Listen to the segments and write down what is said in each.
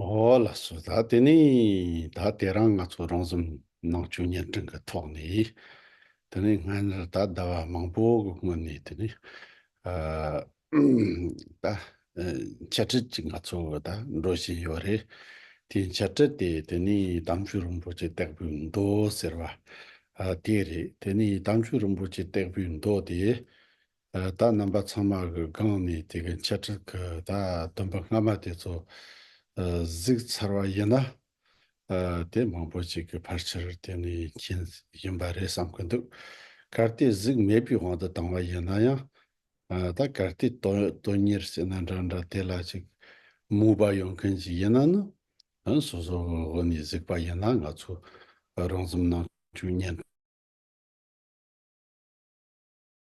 ཨོ་ལ་སོ་ད་དེ་ནི་ད་དེ་རང་ང་ཚོ་རང་གཟུགས་ནང་བཅུད་བརྙན་འཕྲིན་གྱི་ཐོག་ནས་དེ་ནི་སྔ་ཉར་ད་ཟླ་བ་མང་པོ་གི་སྔོན་ནས་དེ་ནི་ཨ་ད་འཆད་ཁྲིད་ཅིག་ང་ཚོ་གི་ད་འགྲོ་བཞིན་ཡོད་རེད། དེའི་འཆད་ཁྲིད་དེ་དེ་ནི་དམ་ཆོས་རིན་པོ་ཆེ་སྟེགས་བུའི་མདོ་ཟེར་བ་དེ་རེད་དེ་ནི་དམ་ཆོས་རིན་པོ་ཆེ་སྟེགས་བུའི་མདོ་དེ་བདག་རྣམ་པ་ཚང་མ་གི་སྒང་ནས་དེ་གི་འཆད་ཁྲིད་གི་ད་དུམ་པ་སྔ་མ་དེ་ཚོ་གཟིགས་ཚར་བ་ཡིན་ན། དེ་མང་པོ་ཅིག་གི་ཕར་ཆེར་དེ་ནས་མཁྱེན་ཡིན་པ་རེད་བསམ་གི་འདུག་གལ་ཏེ་གཟིགས་མེད་པའི་དབང་དུ་བཏང་བ་ཡིན་ན་ཡང། ད་གལ་ཏེ་དོན་གཉེར་ཟེར་ན་འདྲ་འདྲ་དེ་ལ་ཅིག་མོས་པ་ཡོང་མཁན་ཅིག་ཡིན་ན་ནི། སོ་སོ་གི་དབུ་ནས་གཟིགས་པ་ཡིན་ན་ང་ཚོས་རང་རྩོམ་ནང་བཅུག་ཉན།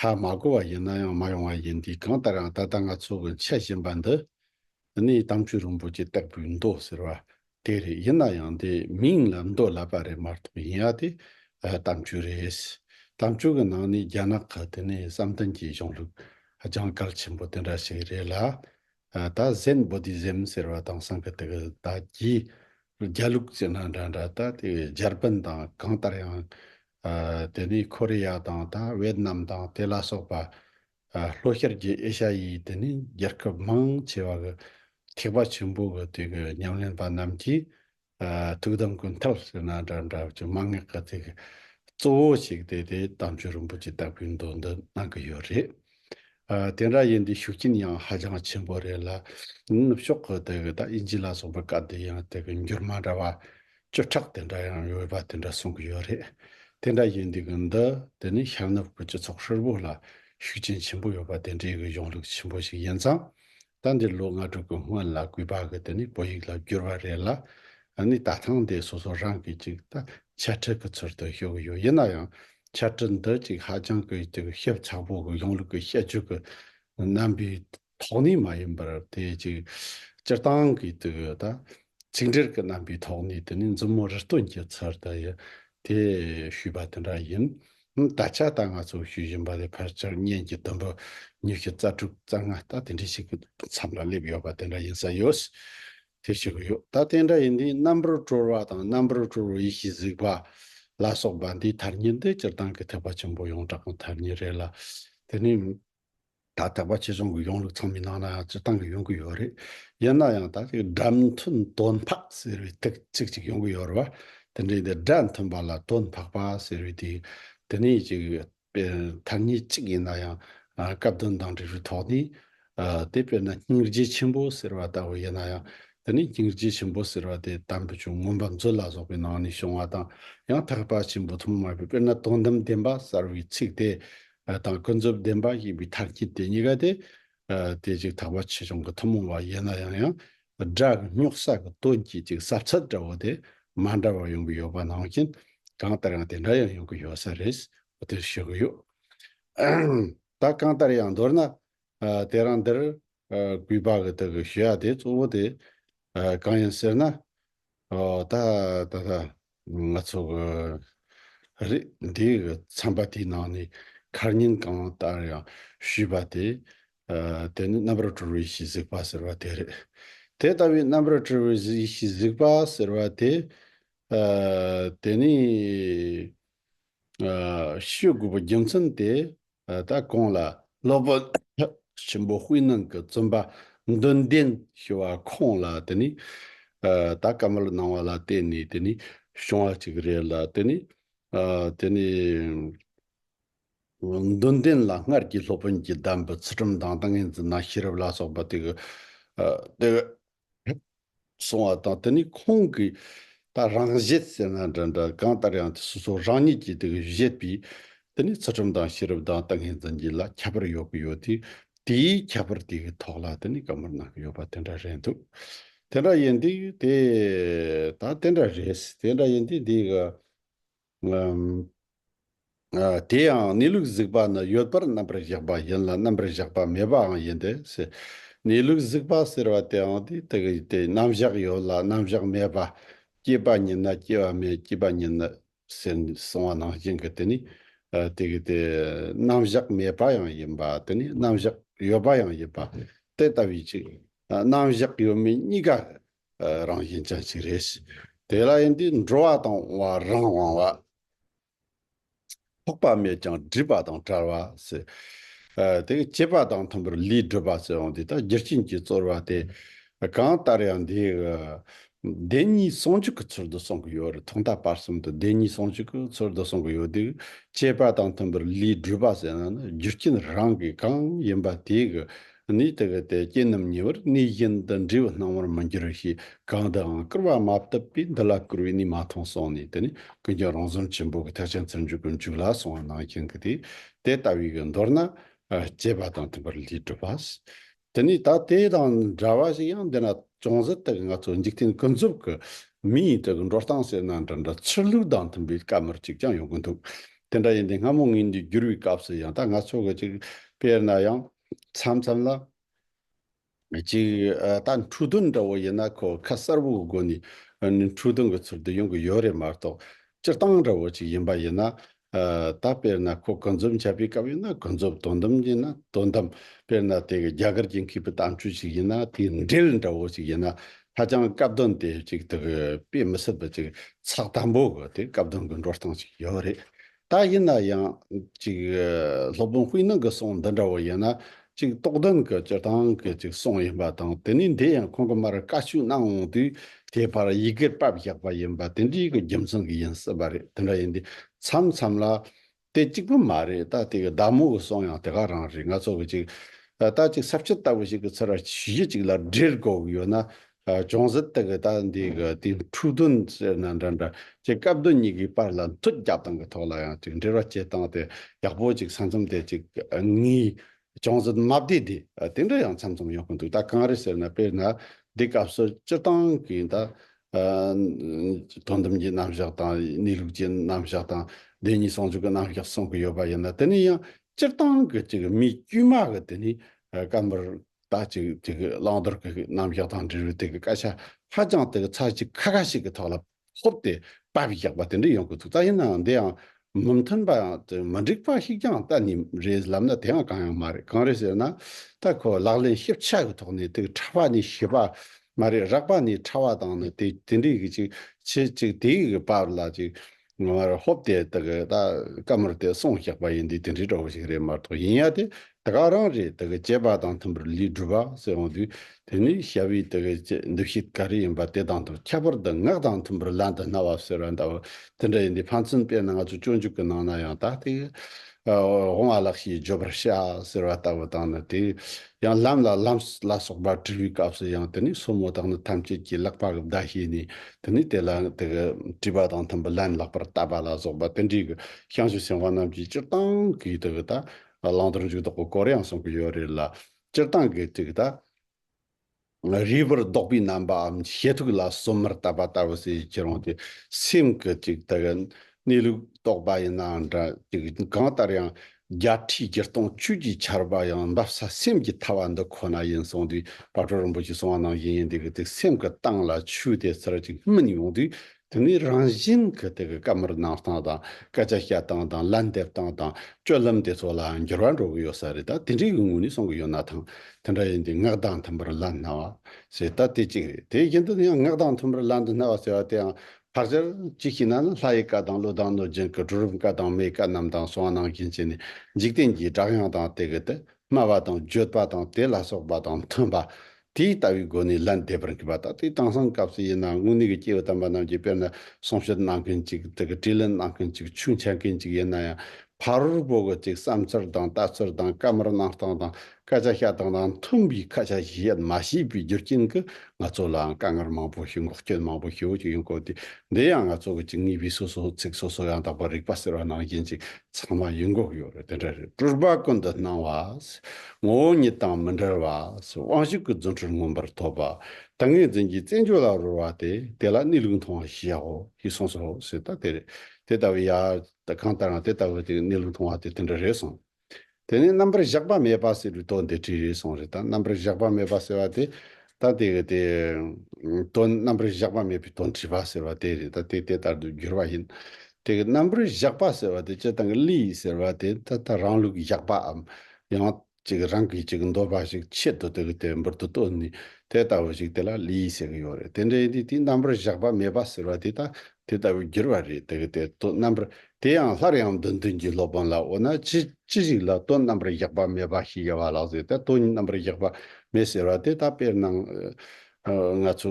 ཧ་མ་གོ་བ་ཡིན་ན་ཡང་མ་ཡོང་བ་ཡིན་དུས་གང་ལྟར་ཡང་ད་ལྟ་ང་ཚོ་གི་འཆད་བཞིན་པ་འདི་ནི་དམ་ཆོས་རིན་པོ་ཆེ་སྟེགས་བུའི་མདོ་ཟེར་བ་དེ་རེད་ཡིན་ན་ཡང་དེ་མིང་ལ་མདོ་ལབ་པ་རེད་མ་གཏོགས་ཡིན་ཡ་དེ་དམ་ཆོས་རེད། དམ་ཆོས་ཀྱི་ནང་ནས་རྒྱ་ནག་གི་དེ་ནི་བསམ་གཏན་གྱི་གཞུང་ལུགས་ལྗང་གར་ཆེན་པོ་དེ་འདྲ་ཞིག་རེད་ལ། ད་གཟན་བོ་དི་ཟེམ་ཟེར་བ་དང་སང་ཁི་ཏི་ཁི་ད་གྱིས། རྒྱ་ལུགས་ཅི་སྣང་འདྲ་འདྲ་ད་དེ་བས་འཇར་པན་དང་གང་ལྟར་ཡང། དེ་ནི་ཁོ་རེ་ཡ་དང་ད་ཝེད་ནམ་དང་དེ་ལ་སོགས་པ། ལྷོ་ཤར་གྱི་ཨེ་ཤ་ཡའི་དེ་ནི་རྒྱལ་ཁབ་མང་ཆེ་བ་གི་ཐེག་པ་ཆེན་པོ་གི་དེ་གི་ཉམས་ལེན་པ་རྣམས་ཀྱིས་ཐུགས་དམ་ཀུན་ཐབས་ཟེར་ན་འདྲ་འདྲ་བ་ཅུང་མ་ངེས་ག་དེ་གི་གཙོ་བོ་ཞིག་དེ་དེ་དམ་ཆོས་རིན་པོ་ཆེ་ལྟ་བུའི་མདོ་འདི་གནང་གི་ཡོད་རེད། དེ་འདྲ་ཡིན་དུས་ཤུགས་རྐྱེན་ཡང་ཧ་ཅང་ཆེན་པོ་རེད་ལ། ནུབ་ཕྱོགས་ཀྱི་དེ་གི་ད་ཨིན་ཇི་ལ་སོགས་པའི་བཀའ་དེ་ཡང་དེ་གི་འགྱུར་མ་འདྲ་བ། བཅུ་ཕྲག་དེ་འདྲ་ཡང་ཡོད་པ་དེ་འདྲ་གསུང་གི་ཡོད་རེད། དེ་འདྲ་ཡིན་དུས་གི་འདི་དེ་ནི་ཤར་ནུབ་ཀྱི་སྤྱི་ཚོགས་ཧྲིལ་བོ་ལ་ཤུགས་རྐྱེན་ཆེན་པོ་ཡོད་པ་དེ་འདྲའི་གི་གཞུང་ལུགས་ཆེན་པོ་ཞིག་ཡིན་ཙང། ད་འདིར་ལོ་ལྔ་དྲུག་གི་སྔོན་ལ་གུས་པ་གི་དེ་ནས་བོད་ཡིག་ལ་བསྒྱུར་བ་རེད་ལ། ནི་ད་ཐང་དེ་སོ་སོ་རང་གིས་ཅིག་ད་འཆད་ཁྲིད་གི་ཚུལ་དུ་ཞུ་གི་ཡོད་ཡིན་ན་ཡང་འཆད་ཁྲིད་འདི་ཅིག་ཧ་ཅང་གི་ཅིག་ཞིབ་ཚགས་པོ་གི་གཞུང་ལུགས་གི་བཤད་རྒྱུད་གི་རྣམ་པའི་ཐོག་ནས་མ་ཡིན་པར་དེ་ཅིག་སྤྱིར་བཏང་གི་དེ་གི་ད་ཚིག་འགྲེལ་གི་རྣམ་པའི་ཐོག་ནས་དེ་ནས་མཛུབ་མོ་རི་སྟོན་གྱི་ཚུལ་དུ་ཡི་དེ་ཞུས་པ་དེ་འདྲ་ཡིན། ད་ཆ་ད་ང་ཚོས་ཞུ་བཞིན་པ་དེ་ཕལ་ཆེར་གཉེན་གྱི་དུམ་བུ་ཉི་ཤུ་རྩ་དྲུག་རྩ་ལྔ་ལྟ་དེ་འདྲ་ཞིག་གི་མཚམས་ལ་སླེབས་ཡོད་པ་དེ་འདྲ་ཡིན་ས་ཡོད། དེ་ཞིག་གི་ཡོད་ད་དེ་འདྲ་ཡིན་དུས་རྣམ་པར་གྲོལ་བ་དང་རྣམ་པར་གྲོལ་བའི་ཡེ་ཤེས་གཟིགས་པ། ལ་སོགས་པ་འདིའི་དར་སྙིང་འདི་སྤྱིར་བཏང་གི་ཐེག་པ་ཆེན་པོ་ཡོངས་གྲགས་ཀྱི་དར་སྙིང་རེད་ལ། དེ་ནི། ད་ལྟ་བར་ཕྱི་ཕྱོགས་ཀྱི་གཞུང་ལུགས་ཚང་མི་ནང་ན་ཡང་སྤྱིར་བཏང་གི་ཡོང་གི་ཡོད་རེད། ཡིན་ན་ཡང་ད་ལྟ་གི་སྒྲ་མཐུན་དོན་འཕག་ཟེར་བའི་ཐིག་ཚིག་ཅིག་ཡོང་གི་ཡོད་རེད་བ། དེ་འདྲའི་དེ་སྒྲ་མཐུན་པ་ལ་དོན་འཕག་པ་ཟེར་བའི་དེ་དེ་ནས་ཀྱི་ཐ་སྙད་གཅིག་ཡིན་ན་ཡང་སྐབས་དོན་དང་འབྲེལ་བའི་ཐོག་ནས། དེ་དཔེར་ན་སྙིང་རྗེ་ཆེན་པོ་ཟེར་བ་ལྟ་བུ་ཡིན་ན་ཡང་དེ་ནས་སྙིང་རྗེ་ཆེན་པོ་ཟེར་བ་དེ་དམ་པའི་ཆོས་མངོན་པར་མཛོད་ལ་སོགས་པའི་ནང་ནས་བྱུང་བ་དང་ཡང་དག་པ་ཆེན་པོ་ཐུན་མོང་མ་ཡིན་པའི་དཔེར་ན་དོན་དམ་བདེན་པ་གསར་བའི་ཚིག་དེ་ལ་དྭགས་ཀུན་རྫོབ་བདེན་པ་ཞེས་པའི་དར་གྱི་དེ་གཉིས་ཀ་དེ། དེ་ཅིག་དག་པ་ཆེ་ཆུང་གི་ཐུན་མོང་བ་ཡིན་ལ་ཡང་ཡང་སྒྲ་རྙོག་ས་གི་དོན་གྱིས་ཅིག་ཟབ་ཚད་འདྲ་བོ་དེ་མ་འདྲ་བ་ཡོང་གི་ཡོད་པ་ནང་བཞིན་གང་ལྟར་ཡང་དེ་འདྲ་ཡང་ཡོང་གི་ཡོད་ས་རེད་དེར་ཞུ་གི་ཡོད། ད་གང་ལྟར་ཡང་མདོར་ན། དེ་རང་འདིར་སྐུད་པ་གི་དག་གི་ཞུ་ཡག་དེ་གཙོ་བོ་དེ་གང་ཡིན་ཟེར་ན། ད་ད་ད་ང་ཚོ་གི་རིགས་འདི་གི་ཚན་པ་དེའི་ནང་ནས་ཁར་ཉིན་གང་ལྟར་ཡང་ཞུས་པ་དེ། དེ་ནི་རྣམ་རབ་གྲོལ་བའི་གཞི་གཟིགས་པ་ཟེར་བ་དེ་རེད། དེ་ལྟ་བུའི་རྣམ་རབ་གྲོལ་བའི་གཞི་གཟིགས་པ་ཟེར་བ་དེ། དེ་ནི། ཤོད་དགོས་པའི་རྒྱུ་མཚན་དེ་ད་གང་ལ་སློབ་དཔོན་ཆེན་པོ་དཔེ་སྣང་གི་བཙུན་པ་མདུན་ལྡན་ཞུ་བ་ཁོང་ལ་དེ་ནས་ད་བཀའ་མོལ་གནང་བ་ལ་བརྟེན་ནས་དེ་ནས་བྱུང་བ་ཅིག་རེད་ལ་དེ་ནས་དེ་ནས་མདུན་ལྡན་ལ་སྔར་གྱི་སློབ་དཔོན་གྱིས་གདམས་པའི་ཚུལ་ཁྲིམས་དང་ཏིང་ངེ་འཛིན་དང་ཤེས་རབ་ལ་སོགས་པ་དེ་དེ་སོང་བ་དང་དེ་ནས་ཁོང་གིས་ད་རང་བཞེད་ཟེར་ན་འདྲ་འདྲ་གང་ལྟར་ཡང་དེ་སོ་སོ་རང་ཉིད་ཀྱིས་དེ་བཞེད་པས་དེ་ནས་ཚུལ་ཁྲིམས་དང་ཤེས་རབ་དང་ཏིང་ངེ་འཛིན་གྱི་ལ་ཁྱད་པར་ཡོད་ཀྱི་ཡོད་དུས་དེའི་ཁྱད་པར་དེའི་ཐོག་ལ་དེ་ནས་བཀའ་མོལ་གནང་གི་ཡོད་པ་དེ་འདྲ་རེད་འདུག་དེ་འདྲ་ཡིན་དུས་དེ་ད་དེ་འདྲ་རེད་དེ་འདྲ་ཡིན་དུས་འདི་ག། ངམ། དེ་ཡང་གནས་ལུགས་གཟིགས་པ་ནི་ཡོད་པར་རྣམ་པར་བཞག་པ་ཡིན་ལ་རྣམ་པར་བཞག་པ་མེད་པའང་ཡིན་ཏེ། གནས་ལུགས་གཟིགས་པ་ཟེར་བ་དེའང་དེའི་དག་ཡིན་ཏེ་རྣམ་བཞག་ཡོད་ལ་རྣམ་བཞག་མེད་པ། སྐྱེས་པ་ཉིད་ན་སྐྱེ་བ་མེད་སྐྱེས་པ་ཉིད་ནི། ཟེར་ནས་གསུང་བ་ནང་བཞིན་གྱི་དེ་ནི། དེ་གི་དེ། རྣམ་བཞག་མེད་པ་ཡང་ཡིན་པ་དེ་ནི་རྣམ་བཞག་ཡོད་པ་ཡང་ཡིན་པ། དེ་ལྟ་བུའི་ཕྱིར། རྣམ་བཞག་ཡོད་མེད་གཉིས་ཀ་རང་བཞིན་ཅན་ཞིག་རེད། དེ་ལ་ཡིན་དུས་འགྲོ་བ་དང་འོང་བ་རང་དབང་བ། ཐོགས་པ་མེད་ཀྱང་སྒྲིབ་པ་དང་བྲལ་བ། དེ་གི་སྐྱེས་པ་དང་མཐུན་པར་ལུས་བསྒྲུབ་པ་སོགས་འོང་དུས་དང་རྒྱུ་རྐྱེན་གྱིས་གཙོར་བ་སྟེ། གང་ལྟར་ཡང་འདིའི་བདེན་གཉིས་ཟུང་འཇུག་གི་ཚུལ་དུ་གསུང་གི་ཡོད་རེད་ཐོག་མཐའ་བར་གསུམ་དུ་བདེན་གཉིས་ཟུང་འཇུག་གི་ཚུལ་དུ་གསུང་གི་ཡོད་དུས་སྐྱེས་པ་དང་མཐུན་པར་ལུས་བསྒྲུབ་པ་ཟེར་ན་ནི་རྒྱུ་རྐྱེན་རང་གིས་གང་ཡིན་པ་དེའི་གནས་དེ་གའི་དད་ཅན་རྣམས་ཉེ་བར་གནས་བཞིན་དུ་འདྲིས་པ་སྣང་བར་མི་འགྱུར་རོ་ཞེས་གང་དུའང་བསྐུར་བ་མ་བཏབ་པས་འདི་ལ་བསྐུར་བའི་གནས་མ་མཐོང་གསུངས་ནས་དེ་ནས་ཀུན་ཀྱང་རང་བཟོ་ཆེན་པོ་གི་ཐེག་ཆེན་ཚུར་འཇུག་གི་མཇུག་ལ་གསུང་བ་ནང་བཞིན་གྱི་དེ་དེ་ལྟ་བུའི་གི་མདོར་ན། སྐྱེས་པ་དང་མཐུན་པར་ལུས་གྲུབ་པ། དེ་ནས་ད་དེ་དང་འདྲ་བ་ཞིག་ཡང་འདི་ན་ཅུང་ཟད་དུ་ང་ཚོ་འཇིག་རྟེན་ཀུན་རྫོབ་ཀྱི་མི་ཡི་དུ་གི་འགྲོ་སྟངས་ཟེར་ན་འདྲ་འདྲ་ཕྱིར་ལུགས་དང་མཐུན་པའི་སྐབས་མར་ཅིག་ཀྱང་ཡོང་གི་འདུག་དེ་འདྲ་ཡིན་ཏེ་སྔ་མོ་ངེས་འབྱེད་བསྒྱུར་བའི་སྐབས་སུ་ཡང་ད་ང་ཚོ་གི་ཅིག་དཔེར་ན་ཡང། མཚམས་མཚམས་ལ། གཅིག་ད་འཕྲུལ་སྡོམ་འདྲ་བོ་ཡིན་ན་ཁོ་ཁ་གསར་བུའི་སྒོ་ནས་འཕྲུལ་སྡོམ་གྱི་ཚུལ་དུ་ཡོང་གི་ཡོད་རེད་མ་གཏོགས་སྤྱིར་བཏང་འདྲ་བོ་ཅིག་ཡིན་པ་ཡིན་ན། ད་དཔེར་ན་ཁོ་གུན་རྫོབ་འཆལ་པའི་སྐབས་ཡིན་ན་གུན་རྫོབ་དོན་དམ་ཡིན་ན་དོན་དམ་དཔེར་ན་དེ་གི་རྒྱ་གར་གྱི་མཁས་པའི་གཏམ་སྤྱོད་ཅིག་ཡིན་ན་དེའི་འགྲེལ་འདྲ་བོ་ཅིག་ཡིན་ན་ཧ་ཅང་སྐབས་དོན་དེ་ཅིག་དགོས་པས་མི་སྲིད་པ་ཅིག་ཚགས་དམ་པོ་དགོས་ཏེ་སྐབས་དོན་གྱི་འགྲོ་སྟངས་ཅིག་ཡོད་རེད། ད་ཡིན་ན་ཡང། ཅིག། སློབ་དཔོན་དབུས་ནང་གི་གསུང་འདི་འདྲ་བོ་ཡིན་ན། ཅིག་རྟོགས་ལྡན་གྱི་སྤྱིར་བཏང་གི་ཅིག་གསུང་ཡིན་པ་དང་དེ་ནས་འདི་ཡང་ཁོང་གི་མར་བཀའ་བཅུ་གནང་འོང་དུས་དེའི་བར་ཡི་གེར་བབས་བཞག་པ་ཡིན་པ་དེ་འདྲའི་གི་རྒྱུ་མཚན་གྱི་ཡིན་སྲིད་པ་རེད་དེ་འདྲ་ཡིན་དུས་མཚམས་མཚམས་ལ། དེ་གཅིག་པུ་མ་རེད་ད་དེ་གི་བདག་མོ་གི་གསུང་ཡང་དེ་ག་རང་རེད་ང་ཚོ་གི་ཅིག། ད་ཅིག་ཟབ་ཁྱད་ལྟ་བུ་ཞིག་གི་ཚོད་ར་བྱེད་གཞི་ཅིག་ལ་འབྲེལ་དགོས་ཀྱི་ཡོད་ན་ཅུང་ཟད་དེ་གི་སྟབས་འདི་གི་དེའི་འཁྲུག་དོན་ཟེར་ན་འདྲ་འདྲ་ཅེས་སྐབས་དོན་གཉིས་ཀྱི་བར་ལ་མཐུད་རྒྱག་སྟངས་ཀྱི་ཐོག་ལ་ཡང་ཅིག་འབྲེལ་བ་བཅད་སྟངས་དེ་ཡག་པོ་ཅིག་ས་མཚམས་དེ་ཅིག་ངའི་ཅུང་ཟད་དམའ་བདེ་དེ་དེ་འདྲ་ཡང་མཚམས་མཚམས་ཡོང་གི་འདུག་ད་གང་རེད་ཟེར་ན་དཔེར་ན་འདི་སྐབས་སུ་སྤྱིར་བཏང་གི་ད་དོན་དམ་གྱི་རྣམ་གཞག་དང་གནས་ལུགས་ཀྱི་རྣམ་གཞག་དང་བདེན་གཉིས་ཟུང་འཇུག་གི་རྣམ་གཞག་གསུང་གི་ཡོད་པ་ཡིན་ན་དེ་ནི་ཡང་སྤྱིར་བཏང་གི་ཅིག་མི་དཀྱུས་མ་གི་དེ་ནི་སྐབས་འདིར་ད་ཅིག་དེ་གི་བླང་དོར་གི་རྣམ་གཞག་དང་འབྲེལ་བའི་དེ་གི་བཀའ་ཤག་ཧ་ཅང་དེ་གི་ཚར་གཅིག་ཁ་ཁ་ཞིག་གི་ཐོག་ལ་ཕོབ་ཏེ་པར་བཞག་པ་དེ་འདྲ་ཡོང་གི་འདུག་ད་ཡིན་ནའང་འདི་ཡང་མི་མཐུན་པ་དང་མི་འགྲིག་པ་ཞིག་ཀྱང་གཏན་ནས་རེད་ལབ་ན་དེའང་གང་ཡང་མ་རེད་གང་རེད་ཟེར་ན་ད་ཁོ་ལག་ལེན་ཞིབ་ཆ་གི་ཐོག་ནས་དེ་གི་ཕྲ་བ་ནས་ཞིབ་པ་མ་རེད་རགས་པ་ནས་ཕྲ་བ་དང་ནི་དེ་དེ་འདྲའི་གི་ཅིག་བྱེད་ཅིག་དེའི་གི་པར་ལ་ཅིག་ང་མར་ཧོབ་སྟེ་ད་གི་ད་ཀ་མུར་དེ་སོང་བཞག་པ་ཡིན་དུས་དེ་འདྲའི་གྲོགས་པོ་ཞིག་རེད་མ་གཏོགས་ཡིན་ཡ་དེ་ད་ག་རང་རེད་ད་གི་ཅེས་པ་དང་མཐུན་པར་ལིས་སྒྲུབ་པ་སེ་འོང་དུས་དེ་ནི་ཞབས་བི་ད་གི་ཅེས་འདུ་ཤེས་ག་རེ་ཡིན་པ་དེ་དང་དུ་ཁྱད་པར་དུ་ངག་དང་མཐུན་པར་ལན་དུ་རྣ་བ་གསོལ་བ་འདྲ་བོ་དེ་འདྲ་ཡིན་དུས་ཕན་ཚུན་དཔེར་ན་ང་ཚོ་སྤྱོད་འཇུག་གི་ནང་ན་ཡང་ད་དེ་གི་འོང་བ་ལགས་ཞེས་བརྗོད་པར་བྱ་ཟེར་བ་ལྟ་བུ་དང་ནི་དེ། ཡང་ལམ་ལ་ལམ་ལ་སོགས་པ་དྲི་བའི་སྐབས་སུ་ཡང་དེ་ནི་སོར་མོ་དག་ནི་ཐམས་ཅད་ཀྱིས་བརླག་པ་གི་བརྡ་ཤེས་ནས་དེ་ནི་དེ་ལ་དེ་གི་དྲི་བ་དང་མཐུན་པར་ལན་བརླག་པར་བལྟ་བ་ལ་སོགས་པ་དེ་འདྲའི་གི་བྱང་ཆུབ་སེམས་དཔའ་རྣམས་ཀྱིས་སྤྱིར་བཏང་གིས་དེ་གི་ད་ལང་དུར་འཇུག་དོགས་པའི་སྐོར་ཡང་གསུངས་ཀྱི་ཡོད་རེད་ལ། སྤྱིར་བཏང་གིས་དེ་གི་ད། རིལ་བུར་བཟློག་པའི་རྣམ་པའམ་ཞེ་ཐུགས་ལ་གསོལ་མར་བཏབ་པ་ལྟ་བུ་བྱས་ཀྱི་རུང་སྟེ་སེམས་ཀྱི་ཅིག་དག་གནས་ལུགས་རྟོགས་པ་ཡིན་ནའང་འདྲ་ཅིག་གང་ལྟར་ཡང་བརྒྱད་ཁྲིའི་བགྱི་སྟངས་བཅུད་ཀྱི་ཆར་པ་ཡང་འབབ་ས་སེམས་ཀྱི་ཐར་བ་འདི་ཁོ་ན་ཡིན་གསུངས་དུས་བག་གྲོ་རིན་པོ་ཆེ་གསུང་བ་ནང་བཞིན་ཡིན་འདི་གི་དུས་སེམས་ཀྱི་སྟངས་ལ་ཆུ་དེ་ཚུར་ཅིག་སྨིན་ཡོང་དུས་དེ་ནི་རང་བཞིན་གྱི་དེ་གི་བཀའ་མར་གནང་སྟངས་དང་སྐད་ཆ་བཤད་སྟངས་དང་ལན་འདེབས་སྟངས་དང་སྤྱོད་ལམ་དེ་ཚོ་ལའང་འགྱུར་བ་འགྲོ་གི་ཡོད་ས་རེད་ད་དེ་འདྲའི་གི་ངོས་ནས་སོང་གི་ཡོད་ན་ཐང་དེ་འདྲ་ཡིན་དུས་ངག་གདངས་མཐུན་པར་ལན་སྣ་བ་ཞེས་ད་དེ་གཅིག་རེད་དེ་བཞིན་དུ་ཡང་ངག་གདངས་མཐུན་པར་ལན་དུ་སྣ་བ་ཟེར་བ་དེའང་བར་ཆད་ཅིག་ཤི་ན་ནི་ལྷ་ཡི་བཀའ་དང་ཀླུ་དང་གནོད་སྦྱིན་གྱི་གྲུ་རུམ་བཀའ་དང་མའི་བཀའ་རྣམས་དང་སོང་གནང་གིན་བྱས་ནས་འཇིག་རྟེན་གྱི་བསྒྲགས་དབྱངས་དང་དེ་གི་དེ་སྨྲ་བ་དང་བརྗོད་པ་དང་དེ་ལ་སོགས་པ་དང་མཐུན་པ་དེ་ལྟ་བུའི་སྒོ་ནས་ལན་འདེབས་པར་འགྱུར་བ་དང་དེ་དེང་སང་སྐབས་སུ་ཡིན་ནའང་དངོས་གནས་ཀྱི་སྐྱེ་བོ་དམ་པ་རྣམས་ཀྱི་དཔེར་ན་གསུང་བཤད་གནང་མཁན་གཅིག་དག་གིས་དྲིས་ལན་གནང་མཁན་གཅིག་ཆུང་འཆལ་མཁན་གཅིག་ཡིན་ན་ཡང་ཕ་རོལ་པོ་དག་ཅིག་བསམ་ཚུལ་དང་ལྟ་ཚུལ་དང་བཀའ་མར་གནང་སྟངས་དང་སྐད་ཆ་བཤད་སྟངས་དང་མཐུན་པའི་ཁ་ཆ་ཞིག་བཤད་མ་ཤེས་པའི་རྒྱུ་རྐྱེན་གྱིས་ང་ཚོ་ལའང་དཀའ་ངལ་མང་པོ་ཞིག་འགོག་རྐྱེན་མང་པོ་ཞིག་ཞིག་ཡོང་དགོས་ཏེ་འདི་ཡང་ང་ཚོ་གཅིག་གཉིས་པའི་སོ་སོ་ཚིག་སོ་སོ་ཡང་དག་པར་རིག་པ་ཟེར་བ་ནང་བཞིན་ཅིག་ཚང་མ་ཡིད་འགོག་ཡོད་རེད་དེ་འདྲ་རེད་སྤྲུལ་པ་ཀུན་ཏུ་སྣང་བ། ངོ་བོ་ཉིད་དང་མི་འབྲལ་བ། དབང་ཤུགས་ཀྱི་རྫུ་འཕྲུལ་མངོན་པར་ཐོབ་པ། ཏིང་ངེ་འཛིན་གྱི་རྩེ་འཇོ་ལ་རོལ་བ་སྟེ་དེ་ལ་གནས་ལུགས་མཐོང་བ་ཞེས་བྱའོ་ཞེས་གསུངས་སོ་ཞེས་ལྟ་དེ་རེད། དེ་ལྟ་བུའི་ཡ། གང་ལྟར་ཡང་དེ་ལྟ་བུའི་གནས་ལུགས་མཐོང་བ་དེ་དེ་འདྲ་རེད་གསུངས། དེ་ནས་རྣམ་པར་གཞག་པ་མེད་པ་ཟེར་བའི་དོགས་འདི་དྲིས་ཟུང་རེད་ད་རྣམ་པར་གཞག་པ་མེད་པ་ཟེར་བ་དེ་ད་ལྟའི་གི་དེ། དོན་རྣམ་པར་གཞག་པ་མེད་པའི་དོན་དྲིས་པ་ཟེར་བ་དེ་རེད་ད་དེ་དེ་ལྟར་དུ་འགྱུར་བ་ཡིན། དེ་གི་རྣམ་པར་གཞག་པ་ཟེར་བ་དེ་སྤྱི་དང་གི་ལུས་ཟེར་བ་དེ་ད་ལྟ་རང་ལུགས་ཀྱི་གཞག་པའམ། ཡང། ཅིག་རང་གིས་ཅིག་འདོད་པ་ཞིག་ཆེད་དུ་དེ་གི་དེ་འབུར་དུ་བཏོན་ནས་དེ་ལྟ་བུ་ཞིག་དེ་ལ་ལུས་ཟེར་གི་ཡོད་རེད་དེ་འདྲ་ཡིན་དུས་དེའི་རྣམ་པར་གཞག་པ་མེད་པ་ཟེར་བ་དེ་ད་དེ་ལྟ་བུ་འགྱུར་བ་རེད་དེ་གི་དེ་དོན་རྣམ་པར་དེ་ཡང་སླར་ཡང་འདོན་བདུན་གྱི་སློབ་དཔོན་ལ་འོ་ན་ཅི་ཅི་ཞིག་ལ་དོན་རྣམ་པར་བཞག་པ་མེད་པ་ཞིག་ཡོད་པ་ལགས་ཟེར་ཏེ་དོན་རྣམ་པར་བཞག་པ་མེད་ཟེར་བ་དེ་ད་དཔེར་ན། ང་ཚོ་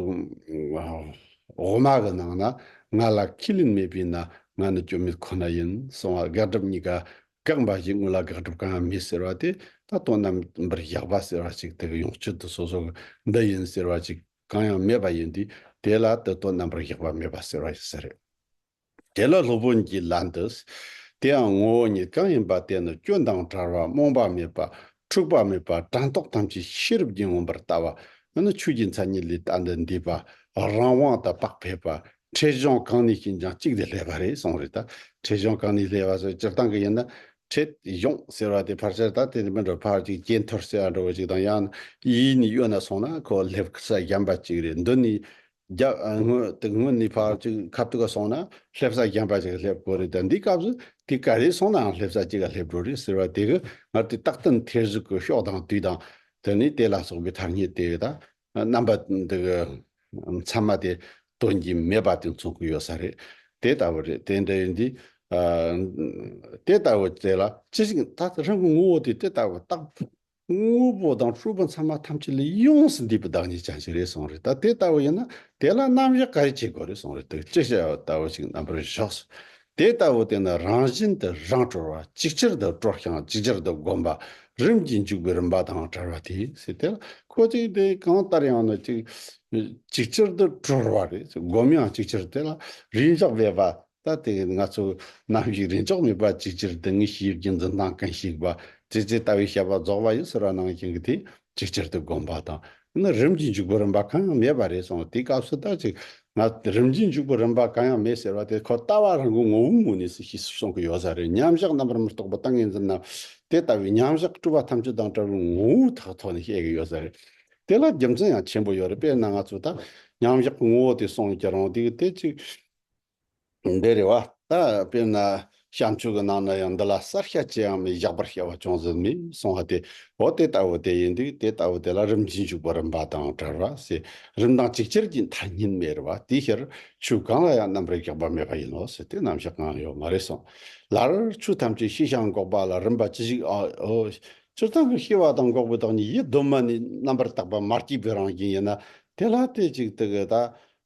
འོག་མ་གི་ནང་ན་ང་ལ་ཁས་ལེན་མེད་པས་ན་ང་ནི་སྐྱོན་མེད་ཁོ་ན་ཡིན་གསུང་བ་དགག་སྒྲུབ་གཉིས་ཀ་བཀག་འབའ་ཞིག་དངོས་ལ་དགག་སྒྲུབ་གང་ཡང་མེད་ཟེར་བ་དེ་ད་དོན་རྣམ་པར་བཞག་པ་ཟེར་བ་ཅིག་དེ་གི་ཡོངས་གཅོད་དུ་སོ་སོ་གི་འདི་ཡིན་ཟེར་བ་ཅིག་གང་ཡང་མེད་པ་ཡིན་དུས་དེ་ལ་དེ་དོན་རྣམ་པར་བཞག་པ་མེད་པ་ཟེར་བ་ཡིན་ས་རེད། དེ་ལ་སློབ་དཔོན་གྱིས་ལན་དུ། དེའང་ངོ་བོ་ཉིད་གང་ཡིན་པ་དེ་ནི་སྐྱོན་དང་བྲལ་བ་རྨོངས་པ་མེད་པ་འཁྲུགས་པ་མེད་པ་དྲན་རྟོག་ཐམས་ཅད་ཤེས་རབ་ཀྱིས་མངོན་པར་ལྟ་བ་འདི་ནི་ཆོས་ཀྱི་མཚན་ཉིད་ལས་ལྟ་འདི་འདས་པ་རང་དབང་དུ་དཔག་ཕེབས་པ་འཕྲལ་བྱུང་གང་ནས་ཤིན་སྦྱངས་གཅིག་དེ་ལྷས་པ་རེད་གསུངས་རེད་ད་འཕྲལ་བྱུང་གང་ནས་ལྷས་པ་སོགས་སྤྱིར་བཏང་གི་ཡིན་ན། འཕྲལ་བྱུང་ཟེར་བ་དེ་ཕར་ཆེར་དང་དེ་ནས་མི་འགྲོ་ཕར་ཅིག་ཇེ་མཐོར་སེ་བ་འགྲོ་བ་ཅིག་དང་ཡང་ན་ཡིད་ནི་གཡོ་ན་སོང་ན་ཁོ་ལྷས་པ་ས་གཞན་པ་ཅིག་རེད་འདི་ནི་རྒྱ་དངོས་དེ་དངོས་ནས་ཕར་ཅིག་ཁ་བཏུག་ག་སོང་ན་སླེབས་ས་རྒན་པ་ཞིག་ག་སླེབས་དགོས་རེད་ད་འདི་སྐབས་སུ་དེ་ག་རེ་སོང་ནའང་སླེབས་ས་གཅིག་ག་སླེབས་འགྲོ་རེད་ཟེར་བ་དེ་གི་ངར་དེ་རྟག་ཏུ་མཐའི་གཟུགས་ཀྱི་གཤོག་དང་དུས་དང་དེ་ནས་དེ་ལ་སོགས་པའི་ཐ་སྙད་དེ་བས་ད་རྣམ་པ་འདི་གི་མཚན་མ་དེ་སྟོན་གྱིན་མེད་པ་དེ་མཚོན་གི་ཡོད་ས་རེད་དེ་ལྟ་བུ་རེད་དེ་འདྲ་ཡིན་དུས་དེ་ལྟ་བུ་དེ་ལ་ཅི་ཞིག་ད་རང་གི་ངོ་བོ་དེ་དེ་ལྟ་བུ་རྟག་དངོས་པོ་དང་སྤྲུལ་པ་ཚང་མ་ཐམས་ཅད་ལས་ཡོངས་སུ་འདས་པའི་བདག་ཉིད་ཅན་ཞིག་རེད་གསུངས་རེད་ད་དེ་ལྟ་བུ་ཡིན་ན་དེ་ལ་རྣམ་གཞག་ག་རེ་བྱེད་དགོས་རེད་གསུངས་རེད་འདུག་ཅི་བྱ་བ་ལྟ་བུ་ཞིག་རྣམ་པར་གཞག་སོ། དེ་ལྟ་བུ་དེ་ནི་རང་བཞིན་དུ་རང་གྲོལ་བ་ཅིག་ཆར་དུ་སྤྲོ་ཞིང་ཅིག་ཆར་དུ་བསྒོམ་པ་རིམ་གྱིས་འཇུག་པའི་རིམ་པ་དང་བྲལ་བ་དེ་སྲིད་དེ་ལ་ཁོ་ཅིག་དེ་གང་ལྟར་ཡང་ནི་ཅིག། ཅིག་ཆར་དུ་གྲོལ་བ་རེད་བསྒོམ་ཡང་ཅིག་ཆར་དེ་ལ་རིམ་བཞག་མེད་པ་ད་དེ་ང་ཚོས་ནམ་ཞིག་རེ་འཇོག་མེད་པར་ཅིའི་ཕྱིར་དེ་ངས་ཤེས་ཡོད་ཀྱི་འཛིན་སྟངས་གང་ཞིག་བ་ཙེ་ཙེ་ལྟ་བུའི་བཤད་པ་རྫོགས་པ་ཡོད་ཟེར་བ་ནང་བཞིན་གྱི་དེ་ཅིའི་ཕྱིར་དེ་སྒོམ་པ་དང་ནི་རིམ་གྱིས་འཇུག་པའི་རིམ་པ་གང་ཡང་མེད་པ་རེད་སོང་དེའི་སྐབས་སུ་ད་ཅིག་ང་རིམ་གྱིས་འཇུག་པའི་རིམ་པ་གང་ཡང་མེད་ཟེར་བ་དེ་ཁོ་ལྟ་བ་རང་གི་ངོ་བོའི་ངོས་ནས་སུ་ཤེས་སུ་སོང་གི་ཡོད་ས་རེད་མཉམ་བཞག་རྣམ་པར་མི་རྟོག་པ་དང་ངེ་འཛིན་ནམ་དེ་ལྟ་བུའི་མཉམ་བཞག་སྤྲུལ་བ་ཐམས་ཅད་དང་བྲལ་བའི་ངོ་བོའི་ཐག་ཐོག་ནས་བཤད་ཀྱི་ཡོད་ས་རེད། དེ་ལ་རྒྱུ་མཚན་ཡང་ཆེན་པོ་ཡོད་རེད་དཔེར་ན་ང་ཚོས་ད་མཉམ་བཞག་གི་ངོ་བོ་དེ་སོང་ཀྱི་རང་དུས་དེ་ཅིག་འདི་རེ་བ་ད་དཔེར་ན་བྱང་ཆུབ་ཀྱི་ནང་ན་ཡང་འདི་ལ་གསར་ཤ་ཅི་ཡང་མི་བཞག་པར་བཤད་པ་ཅུང་ཟད་མི་གསུང་བ་དེ་འོ་དེ་ལྟ་བུ་དེ་ཡིན་དུས་དེ་ལྟ་བུ་དེ་ལ་རིམ་གྱིས་འཇུག་པ་རིམ་པ་དང་བྲལ་བ་ཟེར་རིམ་དང་གཅིག་ཅར་གྱི་མཐའ་གཉིས་མེད་རེད་པ་དེའི་ཕྱིར་ཆོས་གང་ལ་ཡང་རྣམ་རིག་བཞག་པ་མེད་པ་ཡིན་ནོ་ཟེར་ཏེ་རྣམ་བཞག་གང་ཡོད་མ་རེད་གསུངས། ལར་ཆོས་ཐམས་ཅད་ཤེས་བྱ་འགོག་པ་ལ་རིམ་པ་ཅི་ཞིག་ཨའོ། སྤྱིར་བཏང་གི་ཤེས་པ་དང་འགོག་པའི་བདག་ཉིད་ཡིད་གདོད་མ་ནས་རྣམ་པར་དག་པ་མ་སྐྱེས་པའི་རང་བཞིན་ཡིན་ན་དེ་ལ་དེ་གཅིག་དག་གི་ད་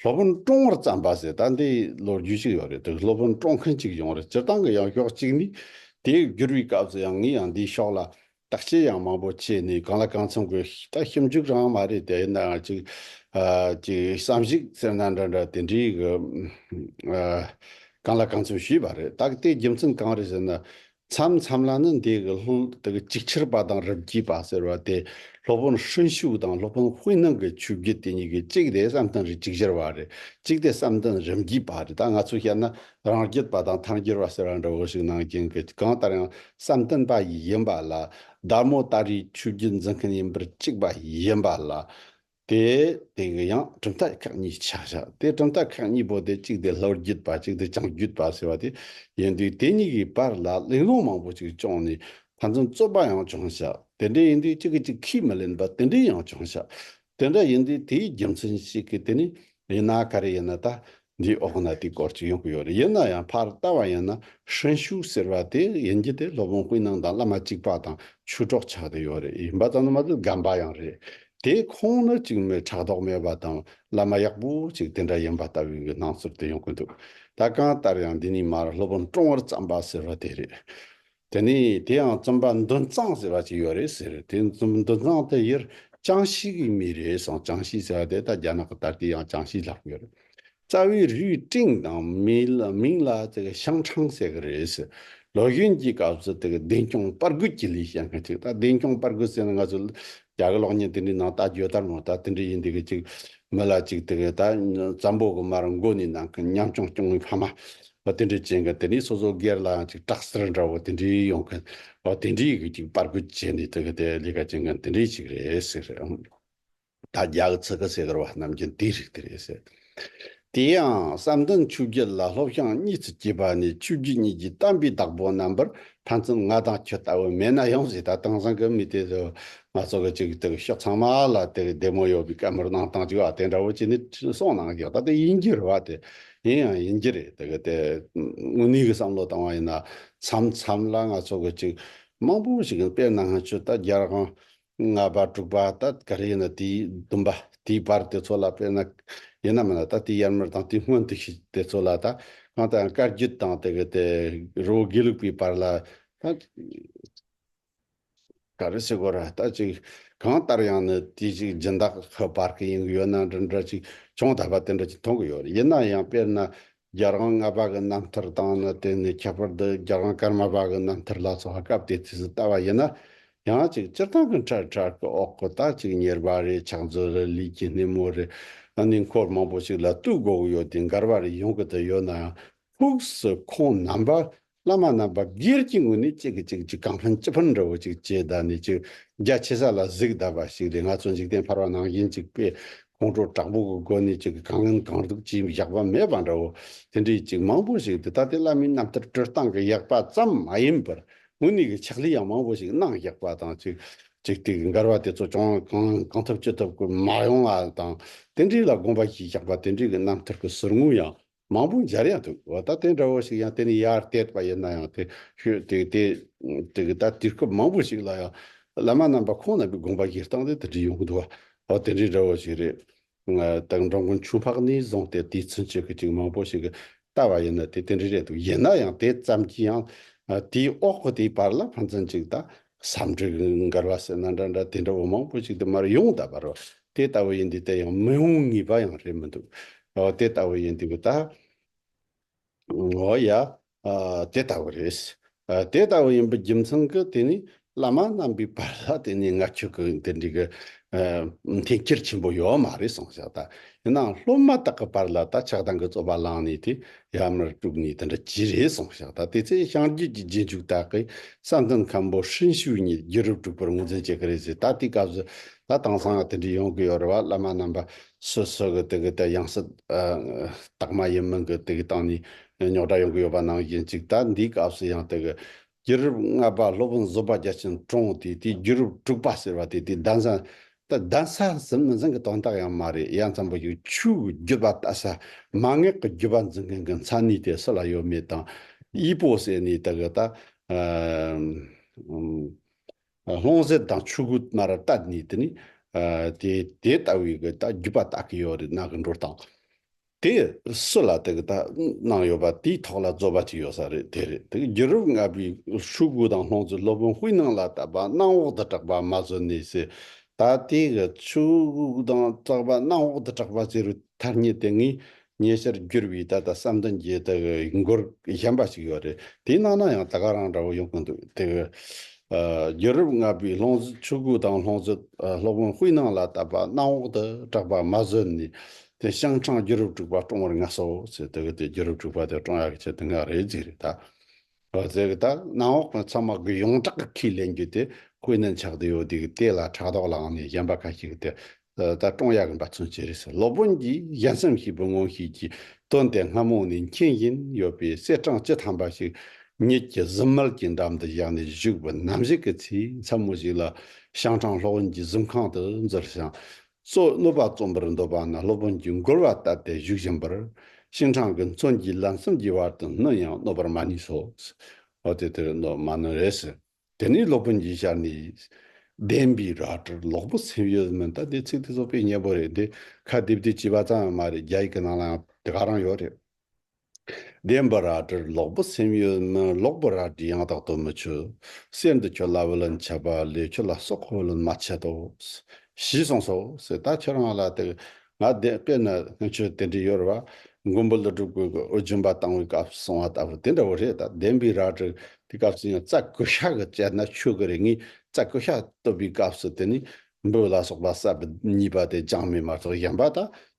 སློབ་དཔོན་བཀྲོང་བར་བརྩམས་པ་ཟེར་ད་འདི་ལོ་རྒྱུས་ཤིག་ཡོད་རེད་འདུག་སློབ་དཔོན་བཀྲོང་མཁན་གཅིག་ཡོང་རེད་སྤྱིར་བཏང་གི་ཡང་ཞོག་གཅིག་ནི། དེ་བསྒྱུར་བའི་སྐབས་སུ་ཡང་ངས་ཡང་འདིའི་ཕྱོགས་ལ་དག་ཆས་ཡང་མང་པོ་བྱས་ནས་གང་ལ་གང་འཚམ་གི་ད་ཞིབ་འཇུག་རང་མ་རེད་དེ་ཡིན་ནའང་ཅིག། ཅིག་བསམ་གཞིགས་ཟེར་ན་འདྲ་འདྲ་དེ་འདྲའི་གི། གང་ལ་གང་འཚམ་ཞུས་པ་རེད་ད་གི་དེའི་རྒྱུ་མཚན་གང་རེད་ཟེར་ན། མཚམས་མཚམས་ལ་ནི་འདས་ཀྱི་ལྷུན་དེ་ཀྱི་ཅིག་ཆར་པ་དང་རིམ་གྱིས་པ་ཟེར་བ་དེ་སློབ་དཔོན་ཧྲིན་ཤུག་དང་སློབ་དཔོན་ཧུའེ་ནང་གི་ཆོས་བརྒྱུད་དེ་གཉིས་ཀྱི་གཅིག་དེ་བསམ་གཏན་རེ་ཅིག་ཆར་པ་རེ་གཅིག་དེ་བསམ་གཏན་རིམ་གྱིས་པ་རེ་ད་ང་ཚོས་བཤད་ན་རང་རྒྱུད་པ་དང་ཐར་འགྱུར་བ་ཟེར་བ་འདྲ་བོ་ཞིག་ནང་རྐྱེན་གྱི་གང་ལྟར་ཡང་བསམ་གཏན་པ་ཡིན་པ་ལ་བདག་མོ་ལྟར་རིའི་ཆོས་བརྒྱུད་འཛིན་མཁན་ཡིན་པར་གཅིག་པ་ཡིན་པ་ལ། དེའི་སྟེང་གི་ཡང་གྲུབ་མཐའ་ཁག་གཉིས་ཆགས་བཞག་དེ་གྲུབ་མཐའ་ཁག་གཉིས་པོ་དེ་གཅིག་དེ་ལྷོ་རྒྱུད་པ་གཅིག་དེ་བྱང་རྒྱུད་པ་ཟེར་བ་དེ་ཡིན་དུས་དེ་གཉིས་ཀྱི་བར་ལ་གླེང་སློང་མང་པོ་ཅིག་བྱུང་ནས་ཕན་ཚུན་རྩོད་པ་ཡང་བྱུང་བཞག་དེ་འདྲ་ཡིན་དུས་གཅིག་གིས་གཅིག་ཁས་མི་ལེན་པ་དེ་འདྲའི་ཡང་བྱུང་བཞག་དེ་འདྲ་ཡིན་དུས་དེའི་རྒྱུ་མཚན་ཞིག་གིས་དེ་ནི་ཡིན་ན་ག་རེ་ཡིན་ན་ད་འདིའི་འོག་ན་དེའི་སྐོར་ཅིག་ཡོང་གི་ཡོད་རེད་ཡིན་ན་ཡང་ཕར་ལྟ་བ་ཡིན་ན་ཧྲན་ཞུའུ་ཟེར་བ་དེ་ཡིན་གྱི་དེ་སློབ་དཔོན་ཧུའེ་ནང་དང་བླ་མ་གཅིག་པ་དང་ཆོས་གྲོགས་ཆགས་ཏེ་ཡོད་རེད་ཡིན་པ་ཙམ་ལ་མ་ཟད་སྒམ་པ་ཡང་རེད་དེ་ཁོང་ནི་གཅིག་མི་ཕྲག་དོག་མེད་པ་དང་བླ་མ་ཡག་པོ་ཅིག་དེ་འདྲ་ཡིན་པ་ལྟ་བུའི་སྣང་ཚུལ་དེ་ཡོང་གི་འདུག་ད་གང་ལྟར་ཡང་འདི་ནས་མར་སློབ་དཔོན་ཀྲོང་བར་བརྩམས་པ་ཟེར་བ་དེ་རེད་དེ་ནས་དེ་ཡང་རྩོམ་པ་འདུན་གཙང་ཟེར་བ་ཅིག་ཡོད་རེད་ཟེར་དེ་འདུན་གཙང་དེ་ཡུལ་ཅང་ཤིས་ཀྱི་མི་རེད་གསུངས་ཅང་ཤིས་ཟེར་བ་དེ་ད་རྒྱ་ནག་གི་ད་ལྟའི་ཡང་ཅང་ཤིས་ལྷག་ཡོད་རེད། རྩ་བའི་རུས་སྤྲིངས་དང་མིང་ལ་ཤང་ཁྲང་ཟེར་གི་རེད་ཟེར། ལོ་གཞོན་གྱི་སྐབས་སུ་བདེན་སྐྱོང་དཔར་རྒོད་ཀྱི་ལས་བྱེད་མཁན་ཅིག་ད་བདེན་སྐྱོང་དཔར་རྒོད་ཟེར་ན་ང་ཚོ་རྒྱ་གི་གློག་བརྙན་དེ་འདྲའི་ནང་ད་བརྗོད་ལྟར་མོ་ད་དེ་འདྲ་ཡིན་འདི་གི་ཅིག་མི་ལ་ཅིག་དེ་གི་ད་ཛམ་བོ་གི་མར་མགོ་ནས་ནང་གི་ཉམས་ཆུང་སྐྱོང་བའི་ཕ་མ་བ་དེ་འདྲའི་ཅན་གི་དེ་ནས་སོ་སོ་སྒེར་ལའང་ཅིག་སྐྲག་སེར་འདྲ་བོ་དེ་འདྲའི་ཡོང་གི་བ་དེ་འདྲའི་གི་ཅིག་པར་རྒོད་བྱས་ནས་དེ་གི་དེ་ལས་ཀ་བྱེད་མཁན་དེ་འདྲའི་ཅིག་རེད་ཟེར། ད་རྒྱ་གི་ཚིག་གི་ཟེ་གར་བ་རྣམས་ཀྱང་དེའི་རིགས་དེ་རེད་ཟེར། དེ་ཡང་བསམ་གཏན་ཆུ་བརྒྱད་ལ་ལྷོ་བྱང་གཉིས་སུ་སྐྱེས་པ་ནི་ཆུ་བརྒྱད་གཉིས་ཀྱི་གཏམ་དཔེའི་བདག་པོ་རྣམ་པར་ཕན་ཚུན་ང་དང་ཁྱོད་ལྟ་བུ་མེད་ན་ཡང་ཟིལ་ཐ་དང་ཟངས་ཀྱི་མི་དེ་ཚོས་ང་ཚོ་གི་ཆུ་དེ་གི་ཕྱོགས་ཚང་མ་ལ་དེ་གི་བདེ་མོ་ཡོད་པའི་སྐད་མོར་གནང་སྟངས་ཅིག་བ་དེ་འདྲ་བོ་བྱས་ནས་ཁྲི་སྲོང་ནང་གི་ད་ལྟ་ཡིན་རྒྱུ་རེད་བ་དེ་ཡིན་ཡང་ཡིན་རྒྱུ་རེད་དེ་གི་དེ་དངོས་གནས་གི་བསམ་བློ་བཏང་བ་ཡིན་ན་མཚམས་མཚམས་ལ་ང་ཚོ་གི་ཅིག་མང་པོ་ཞིག་གི་དཔེ་གནང་ཧ་ཆུ་ད་རྒྱལ་ཁང་ལྔ་པ་དྲུག་པ་ད་ག་རེ་ཡིན་ན་དེའི་བདུན་པ་དེའི་བར་དེ་ཚོ་ལ་དཔེར་ན། ཡིན་ནམ་མིན་ན་ད་དེའི་དབྱར་མར་དང་དེའི་སྔོན་དུ་ཞིག་དེ་ཚོ་ལ་ད་གང་ལྟར་ཡང་དཀར་བརྒྱུད་དང་དེ་གི་དེ་རི་བོ་དགེ་ལུགས་པའི་བར་ལ་ད། ག་རེ་སེ་གོ་ར་ད་ཅིག་གང་ལྟར་ཡང་ནི་དེ་ཅིག་སྦྱིན་བདག་གི་བར་གི་ཡིན་གྱི་ཡོད་ན་འདི་འདྲ་ཅིག་ཅུང་དག་པ་དེ་འདྲ་ཅིག་མཐོང་གི་ཡོད་རེད་ཡིན་ན་ཡང་དཔེར་ན་རྒྱལ་རོང་ལྔ་པ་གི་རྣམ་ཐར་དང་ནི་དེ་ནས་ཁྱད་པར་དུ་རྒྱལ་རོང་སྐར་མ་པ་གི་རྣམ་ཐར་ལ་སོགས་སྐབས་དེ་དུས་སུ་བལྟ་བ་ཡིན་ན་ཡང་གཅིག་སྤྱིར་བཏང་གི་འཕྲལ་བྲལ་གྱི་འོག་གི་རྟགས་གཅིག་གཉེར་པ་རེ་ཆགས་མཛོད་རེ་ལུས་ཀྱི་སྣེ་མོ་རེ་གནས་འཁོར་མང་པོ་ཞིག་ལ་གཏུགས་དགོས་ཀྱི་ཡོད་དེ་མགར་བ་རེ་ཡོང་གི་དུ་ཡོད་ནའང་ཕུགས་སུ་ཁོང་རྣམ་པ་བླ་མ་རྣམས་པ་སྒེར་གྱི་ངོས་ནས་གཅིག་གིས་གཅིག་གཅིག་གང་ཕན་ཅི་ཕན་འདྲ་བོ་ཅིག་ཅེས་བདག་ནི་གཅིག་རྒྱ་ཆེ་ས་ལ་གཟིགས་གདའ་བ་ཞིག་རེད་ང་ཚོ་འཇིག་རྟེན་འཕར་བ་ནང་བཞིན་གཅིག་པས་ཁོང་ཁྲོ་དྲག་པོ་གི་སྒོ་ནས་གཅིག་གིས་གང་ངན་གང་སྡུག་ཅི་ཡིན་བཞག་པ་མེད་པ་འདྲ་བོ་དེ་འདྲའི་གཅིག་མང་པོ་ཞིག་འདི་ལྟ་སྟེ་བླ་མའི་རྣམ་ཐར་བཀྲོལ་སྟངས་ཀྱི་ཡག་པ་ཙམ་མ་ཡིན་པར་དངོས་གནས་ཀྱི་ཕྱག་ལས་ཡང་མང་པོ་ཞིག་གནང་བཞག་པ་དང་གཅིག་གཅིག་དེ་གི་མགར་བ་དེ་ཚོ་ཅུང་གང་ངན་གང་ཐུབ་ཅི་ཐུབ་ཀྱིས་མ་ཡོང་བ་དང་དེ་འདྲའི་ལ་དགོངས་པ་བཞེས་བཞག་པ་དེ་འདྲའི་གི་རྣམ་ཐར་གྱི་ཟུར་ངོ་ཡང་མང་པོ་འབྱར་ཡང་འདུག་ད་ལྟ་དེ་འདྲ་བོ་ཞིག་ཡང་དེ་ནི་ཡར་བལྟས་པ་ཡིན་ན་ཡང་དེ་ཤོད་དེ་དེ་དེ་ད་དུས་སྐབས་མང་པོ་ཞིག་ལ་ཡང་བླ་མ་རྣམ་པ་ཁོང་རྣམ་པའི་དགོངས་པ་གྱི་སྟངས་དེ་དེ་འདྲ་ཡོང་གི་འདུག་བ་དེ་འདྲའི་འདྲ་བོ་ཞིག་རེད། དང་འབྲོང་དགོན་ཆུ་འཕགས་ནས་བཟུང་སྟེ་དེའི་ཚུན་ཆད་ཀྱི་ཅིག་མང་པོ་ཞིག་གི་ལྟ་བ་ཡིན་ན་དེ་དེ་འདྲའི་རེད་འདུག་ཡིན་ན་ཡང་དེ་ཙམ་གྱིས་ཡང་དེའི་འོག་གི་དེའི་བར་ལ་ཕན་ཚུན་ཅིག་ད་བསམ་གྲུབ་མགར་བ་ཟེར་ན་འདྲ་འདྲ་དེ་འདྲ་བོ་མང་པོ་ཞིག་དུ་མར་ཡོང་ད་པར་དེ་ལྟ་བུ་ཡིན་འདི་ལྟ་ཡང་མི་འོང་ངེས་པ་ཡང་རེད་མི་འདུག་ཨོ་དེ་ལྟ་བུ་ཡིན་འདི་གོ་ད། ཨོ་ཡ། དེ་ལྟ་བུ་རེད། དེ་ལྟ་བུ་ཡིན་པའི་རྒྱུ་མཚན་གྱི་དེ་ནི་བླ་མ་རྣམ་པའི་བར་ལ་དེ་ནས་ང་ཁྱོད་ཀྱི་འདི་འདྲའི་གི་འཐེན་འཁྱེར་ཆེན་པོ་ཡོད་མ་རེད་སོང་ཤག་ད་ཡིན་ནའང་སློབ་མ་དག་གི་བར་ལ་ད་ཆགས་སྡང་གི་རྩོད་པ་བསླངས་ནས་དེ་ཡར་མར་དཀྲུགས་ནས་དེ་འདྲ་གྱི་རེད་སོང་ཤག་ད་དེ་ཚེ་བྱང་རྒྱུད་ཀྱི་རྗེས་འཇུག་དག་གིས་བསམ་གཏན་མཁན་པོ་ཧྲིན་ཤུའུ་གཉིས་རྒྱུད་རབས་དཀྲུགས་པར་ངོས་འཛིན་བྱེད་ཀྱི་རེད་ཟེར་ད་དེའི་སྐབས་སུ་ད་དེང་སང་དེ་འདྲའི་ཡོང་གི་ཡོད་རེད་བ་བླ་མ་རྣམ་པ་སོ་སོ་གི་དེ་གི་ད་ཡང་སྲིད་སྟག་མ་ཡིན་མིན་གི་དེ་གི་སྟེང་ནས་རྙོག་དྲ་ཡོང་གི་ཡོད་པ་ནང་བཞིན་ཅིག་ད་འདིའི་སྐབས་སུ་ཡང་དེ་གི་རྒྱུད་རབས་ལྔ་པ་སློབ་དཔོན་བཟོད་པ་རྒྱ་ཆེན་བཀྲོངས་བ་དེ་དེའི་རྒྱུད་རབས་དྲུག་པ་ཟེར་བ་དེ་དེའི་གདན་ས། གདན་ས་ཟིན་མི་ཟིན་གྱི་དོན་དག་ཡང་མ་རེད་ཡ་མཚན་པོ་ཞིག་ཆོས་ཀྱི་རྒྱུད་པ་ལྟ་ས་མ་ངེས་ཀྱི་རྒྱུད་པ་འཛིན་མཁན་གྱི་མཚན་ནུས་དེ་སུ་ལ་ཡོད་མེད་དང་དབྱི་པོ་ཟེར་ནས་དེ་ག་ད། ལྷུང་བཟེད་དང་ཆུ་གུ་དམར་ར་བཏབ་ནས་དེ་ནས་དེ་དེ་ལྟ་བུའི་གི་ད་རྒྱུད་པ་བཏགས་ཀྱི་ཡོད་རེད་ནག་གི་འགྲོ་སྟངས། དེ་སུ་ལ་དེ་གི་ད་གནང་ཡོད་པ་དེའི་ཐོག་ལ་རྫོ་པ་ཅིག་ཡོད་ས་རེད་དེ་རེད་དེ་རྒྱུ་རུབ་ལྔ་པའི་ཧྲུའུ་གུ་དང་ལྷོང་ཙུའི་སློབ་དཔོན་ཧུའི་ནང་ལ་ད་པ་གནང་འོག་ཏུ་གྲགས་པ་མ་བཟོ་ནི་ཟེར་ད་དེ་གི་ཧྲུའུ་གུ་དང་གྲགས་པ་གནང་འོག་ཏུ་གྲགས་པ་ཟེར་བའི་ཐ་སྙད་དེ་ངའི་ཉེ་ཆར་བསྒྱུར་བའི་ད་ད་བསམ་གཏན་གྱི་དེ་གི་མགོར་གཞན་པ་ཞིག་ཡོད་རེད་དེ་གནང་ན་ཡང་ད་ག་རང་འདྲ་བོ་ཡོང་གི་འདུག་དེ་གི་རྒྱུ་རུབ་ལྔ་པའི་ལྷོང་ཙུའི་ཧྲུའུ་གུ་དང་ལྷོང་ཙུའི་སློབ་དཔོན་ཧུའི་ནང་ལ་ད་པ་གནང་འོག་ཏུ་གྲགས་པ་མ་བཟོ་ནི་དེ་ཤང་ཁྲང་རྒྱུད་རབས་དྲུག་པ་ཀྲོང་བར་ངལ་སོ་ཟེར་དེ་གི་དེ་རྒྱུད་རབས་དྲུག་པ་དེ་ཀྲོང་ཡག་གི་ཆེ་དེ་འགའ་རེད་ཟིག་རེད་ད། ཨོ་ཟེར་གི་ད་གནམ་འོག་གི་ཚོང་དམག་གི་ཡོངས་གྲགས་གི་ཁས་ལེན་རྒྱུ་དེ་ཀུན་ནས་འཆག་དུ་ཡོད་དེ་གི་དེ་ལ་ཕྲག་དོག་ལངས་ནས་གཞན་པ་ཁ་ཤིག་གི་དེ་ད་ཀྲོང་ཡག་གི་འབའ་ཚོན་བྱེད་རེད་ཟེར་སློབ་དཔོན་གྱིས་གཞན་སེམས་ཤིག་བུ་ངོ་ཤེས་ཀྱི་དོན་དེ་སྔ་མོ་ནས་མཁྱེན་བཞིན་ཡོད་པའི་གསེར་སྦྲང་སྤྱི་ཐམ་པ་ཞིག་ཉིད་ཀྱི་གཟིམ་མལ་གྱི་འགྲམ་དུ་བཞག་ནས་བཞུགས་པ་ནམ་ཞིག་གི་ཚེས་མཚན་མོ་ཞིག་ལ་ཤང་ཁྲང་སློབ་དཔོན་གྱི་གཟིམ་ཁང་དུ་འཛུལ་ཞིང་སོགས་སློབ་པ་རྩོམ་པར་འདོད་པ་ན་སློབ་དཔོན་གྱིས་མགུར་བ་ལྟ་སྟེ་བཞུགས་བཞིན་པར། ཤིང་ཁྲང་གི་མཚོན་གྱིས་ལམ་གསུམ་གྱི་བར་དུ་སྣུར་ཡང་གནོད་པར་མ་ནུས་སོ། འོ་དེ་དེར་གནོད་མ་ནུས་རེ་ཟེར། དེ་ནས་སློབ་དཔོན་གྱིས་ཤར་ནས། བདེན་པའི་རལ་གྲིར་ལོག་པོ་སེམས་ཡོད་མིན་ལྟ་སྟེ་ཚིག་དེ་སོག་པའི་སྙན་པོ་རེད་འདི་ཁ་བསྡེབས་བསྡེབས་བྱས་པ་ཙམ་ཡང་མ་རེད་རྒྱ་ཡིག་གི་ནང་ལའང་དེ་ག་རང་ཡོད་རེད། བདེན་པ་རལ་གྲིར་ལོག་པོ་སེམས་ཡོད་ན་ལོག་པོ་རལ་གྲི་ཡང་དག་ཏུ་མི་ཆུད། གསེར་འདི་ཁྱོད་ལ་བུ་ལོན་བྱེད་པ་ལས་ཁྱོད་ལ་སྲོག་གི་བུ་ལོན་མ་བྱེད་དོ། ཞེས་གསུངས་སོ། སྲས་དག་ཁྱོད་རང་ལ་དེ་ང་བདེན་པས་ན་ཁྱོད་དེ་འདྲའི་ཡོལ་བ་མགོན་པོ་ལི་སྒྲུབ་དགོས་ཀྱི་ཨོ་རྒྱན་པ་བཏང་བའི་སྐབས་སུ་གསུངས་བ་ལྟ་བུ་དེ་འདྲ་བོ་རེད་ད་བདེན་པའི་རལ་གྲི་དེ་སྐབས་སུ་ཡང་རྩ་ཀུ་ཤ་གི་བཅད་ན་ཆོས་ཀྱི་རིགས་ངས་རྩ་ཀུ་ཤ་བཏུབ་པའི་སྐབས་སུ་དེ་ནས་འབུལ་ལ་སོགས་པ་གསར་པ་གཉིས་པ་དེ་སྦྱང་མེད་མ་གཏོགས་གཞན་པ་དག་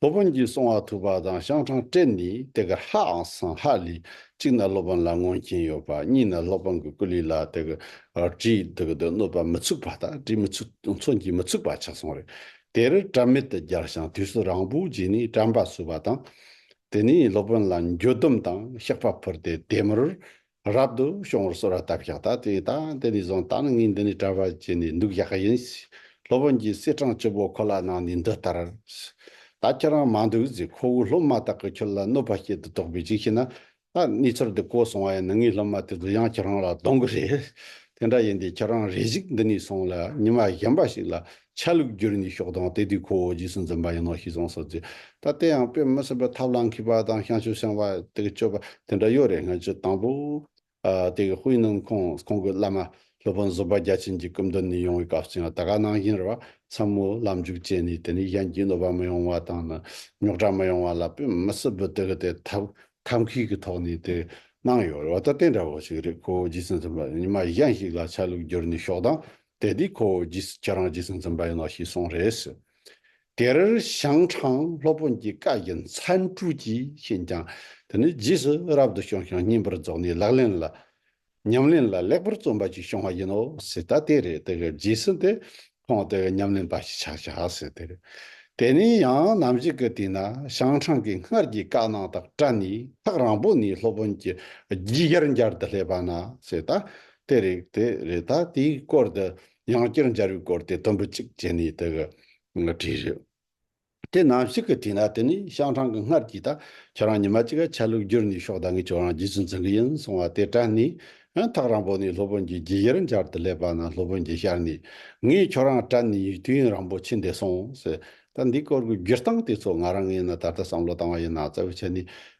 སློབ་དཔོན་གྱིས་གསུང་བ་ཐུབ་པ་དང་ཤང་ཁྲང་སྤྲེལ་ནི་དེ་གར་ཧ་ཨང་སང་ཧ་ལི། གཅིག་ན་སློབ་དཔོན་ལ་མངོན་མཁྱེན་ཡོད་པ་གཉིས་ན་སློབ་དཔོན་གྱི་སྐུ་ལུས་ལ་དེ་གར་དྲིའི་དུག་གིས་གནོད་པ་མི་ཚུགས་པ་དང་དྲིའི་མི་ཚུགས་མཚོན་གྱིས་མི་ཚུགས་པ་ཆགས་སོང་རེད། དེར་དྲ་མེད་དུ་སྦྱར་ཞིང་དུས་སུ་རང་བོའི་རྗེས་ནས་དྲན་པ་བསུ་བ་དང། དེ་ནས་སློབ་དཔོན་ལ་འགྱོད་སྡོམ་དང་གཤེགས་པ་ཕུལ་ཏེ་དད་མོར་རབ་ཏུ་བྱུང་བར་གསོལ་བ་བཏབ་བཞག་ད་དེ་ད་དེ་ནས་བཟུང་ད་ནི་ངས་འདི་ནས་གྲྭ་བར་བྱས་ནས་འདུག་བཞག་གི་ཡིན། སློབ་དཔོན་གྱིས་གསེར་སྦྲང་བཅུ་པོ་ཁོ་ལ་གནང་ནས་འདི་ལྟར། ད་ཁྱེད་རང་མ་འདུག་ཚེ་ཁོ་བོའི་སློབ་མ་དག་གིས་ཁྱོད་ལ་གནོད་པ་བྱེད་དུ་དོགས་པས་ཅིག་བྱས་ན། ད་ནི་ཚུར་འདི་བཀོལ་སོང་བ་ཡིན་ན་ངའི་སློབ་མ་དེ་ཚོ་ཡང་ཁྱེད་རང་ལ་གདོན་གྱི་རེད། དེ་འདྲ་ཡིན་དུས་ཁྱེད་རང་རེ་ཞིག་འདི་ནས་སོང་ལ་ཉི་མ་གཞན་པ་ཞིག་ལ་ཆ་ལུགས་བསྒྱུར་ནས་ཤོག་དང་དེ་དུས་ཁོ་བོ་རྗེས་སུ་འཛིན་པ་ཡིན་ནོ་ཞེས་གསུངས་སོ་ཟེར། ད་ལྟ་ཡང་དཔེ་མི་སྲིད་པར་ཐབས་ལ་མཁས་པ་དང་ཤངས་ཆུ་སྲིང་བ་དེ་གི་སྤྱོད་པ་དེ་འདྲ་ཡོད་རེད་སྔ་ཕྱི་དང་པོ། དེ་གི་དཔོན་སྣུམ་ཁོང་ཁོང་གི་བླ་མ་སློབ་དཔོན་བཟོད་པ་རྒྱ་ཆེན་གྱི་སྐུ་མདུན་ནས་ཡོང་བའི་སྐབས་སུ་ཡང་ད་ག་ནང་བཞིན་རེད་བ་འཚམ་མོ་ལམ་འཇུག་བྱས་ནས་དེ་ནས་གཞན་གྱིས་གནོད་པ་མི་ཡོང་བ་དང་ནི་རྙོག་དྲ་མི་ཡོང་བ་ལ་དཔེ་མི་སྲིད་པར་དེ་གི་དེ་ཐབས་ཐབས་མཁས་ཀྱི་ཐོག་ནས་དེ་གནང་ཡོད་རེད་བ་ད་དེ་འདྲ་བོ་ཞིག་རེད་ཁོ་བོ་རྗེས་སུ་འཛིན་པ་ཉི་མ་གཞན་ཞིག་ལ་ཆ་ལུགས་བསྒྱུར་ནས་ཤོག་དང་དེ་དུས་ཁོ་བོ་རྗེས་སུ་ཁྱེད་རང་རྗེས་སུ་འཛིན་པ་ཡིན་ནོ་ཞེས་གསུངས་རེས། དེར་ཞང་ཁྲང་སློབ་དཔོན་གྱི་བཀའ་བཞིན་མཚན་སྤྲུལ་གྱིས་བྱིན་ཀྱང་དེ་ནི་རྗེས་སུ་རབ་ཏུ་བྱུང་ཞིང་སྙིང་པོར་རྫོགས་ནས་ལག་ལེན་ལ། ཉམས་ལེན་ལ་ལེགས་པར་བརྩོན་པ་ཅིག་བྱུང་བ་ཡིན་ནོ་ཟེར་ད་དེ་རེད་དེ་གི་རྗེས་སུ་དེ་ཁོང་དེ་གི་ཉམས་ལེན་པ་ཞིག་ཆགས་བྱ་ཟེར་དེ་རེད། དེ་ནས་ཡང་ནམ་ཞིག་གི་དུས་ན་ཞང་ཁྲང་གིས་སྔར་གྱི་བཀའ་གནང་དག་སྤྲད་ནས་ཐག་རང་པོ་ནས་སློབ་དཔོན་གྱི་རྒྱུད་ཡར་འགྱར་དུ་སླེབས་པ་ན་ཟེར་ད་དེ་རིགས་དེ་རེ་ད་དེའི་སྐོར་དུ་ཡང་བསྐྱར་འབྱར་བའི་སྐོར་དེ་དུམ་བུ་གཅིག་བྱས་ནས་དེ་གི་བྲིས་རེད། དེ་ནམ་ཞིག་གི་དུས་ན་དེ་ནི་ཤང་ཁྲང་གི་སྔར་གྱི་ད་ཁྱོད་རང་ཉི་མ་གཅིག་ག་ཆ་ལུགས་བསྒྱུར་ནས་ཤོག་ད་ངས་ཁྱོད་རང་རྗེས་སུ་འཛིན་གི་ཡིན་གསུང་བ་དེ་དྲན་ནས་ཐག་རིང་པོ་ནས་སློབ་དཔོན་གྱི་རྒྱུད་ཡེར་འབྱར་དུ་སླེབས་པ་ན་སློབ་དཔོན་གྱིས་ཤར་ནས་ངས་ཁྱོད་རང་དྲན་ནས་ཡིག་དུས་ཡུན་རིང་པོ་ཕྱིན་འདས་སོང་ཟེར། ད་འདིའི་སྐོར་གྱི་བསྒྱུར་སྟངས་དེ་ཚོ་ང་རང་ངས་ནི་ད་ལྟ་བསམ་བློ་བཏང་བ་ཡིན་ན་གཙོ་བོ་བྱས་ནས་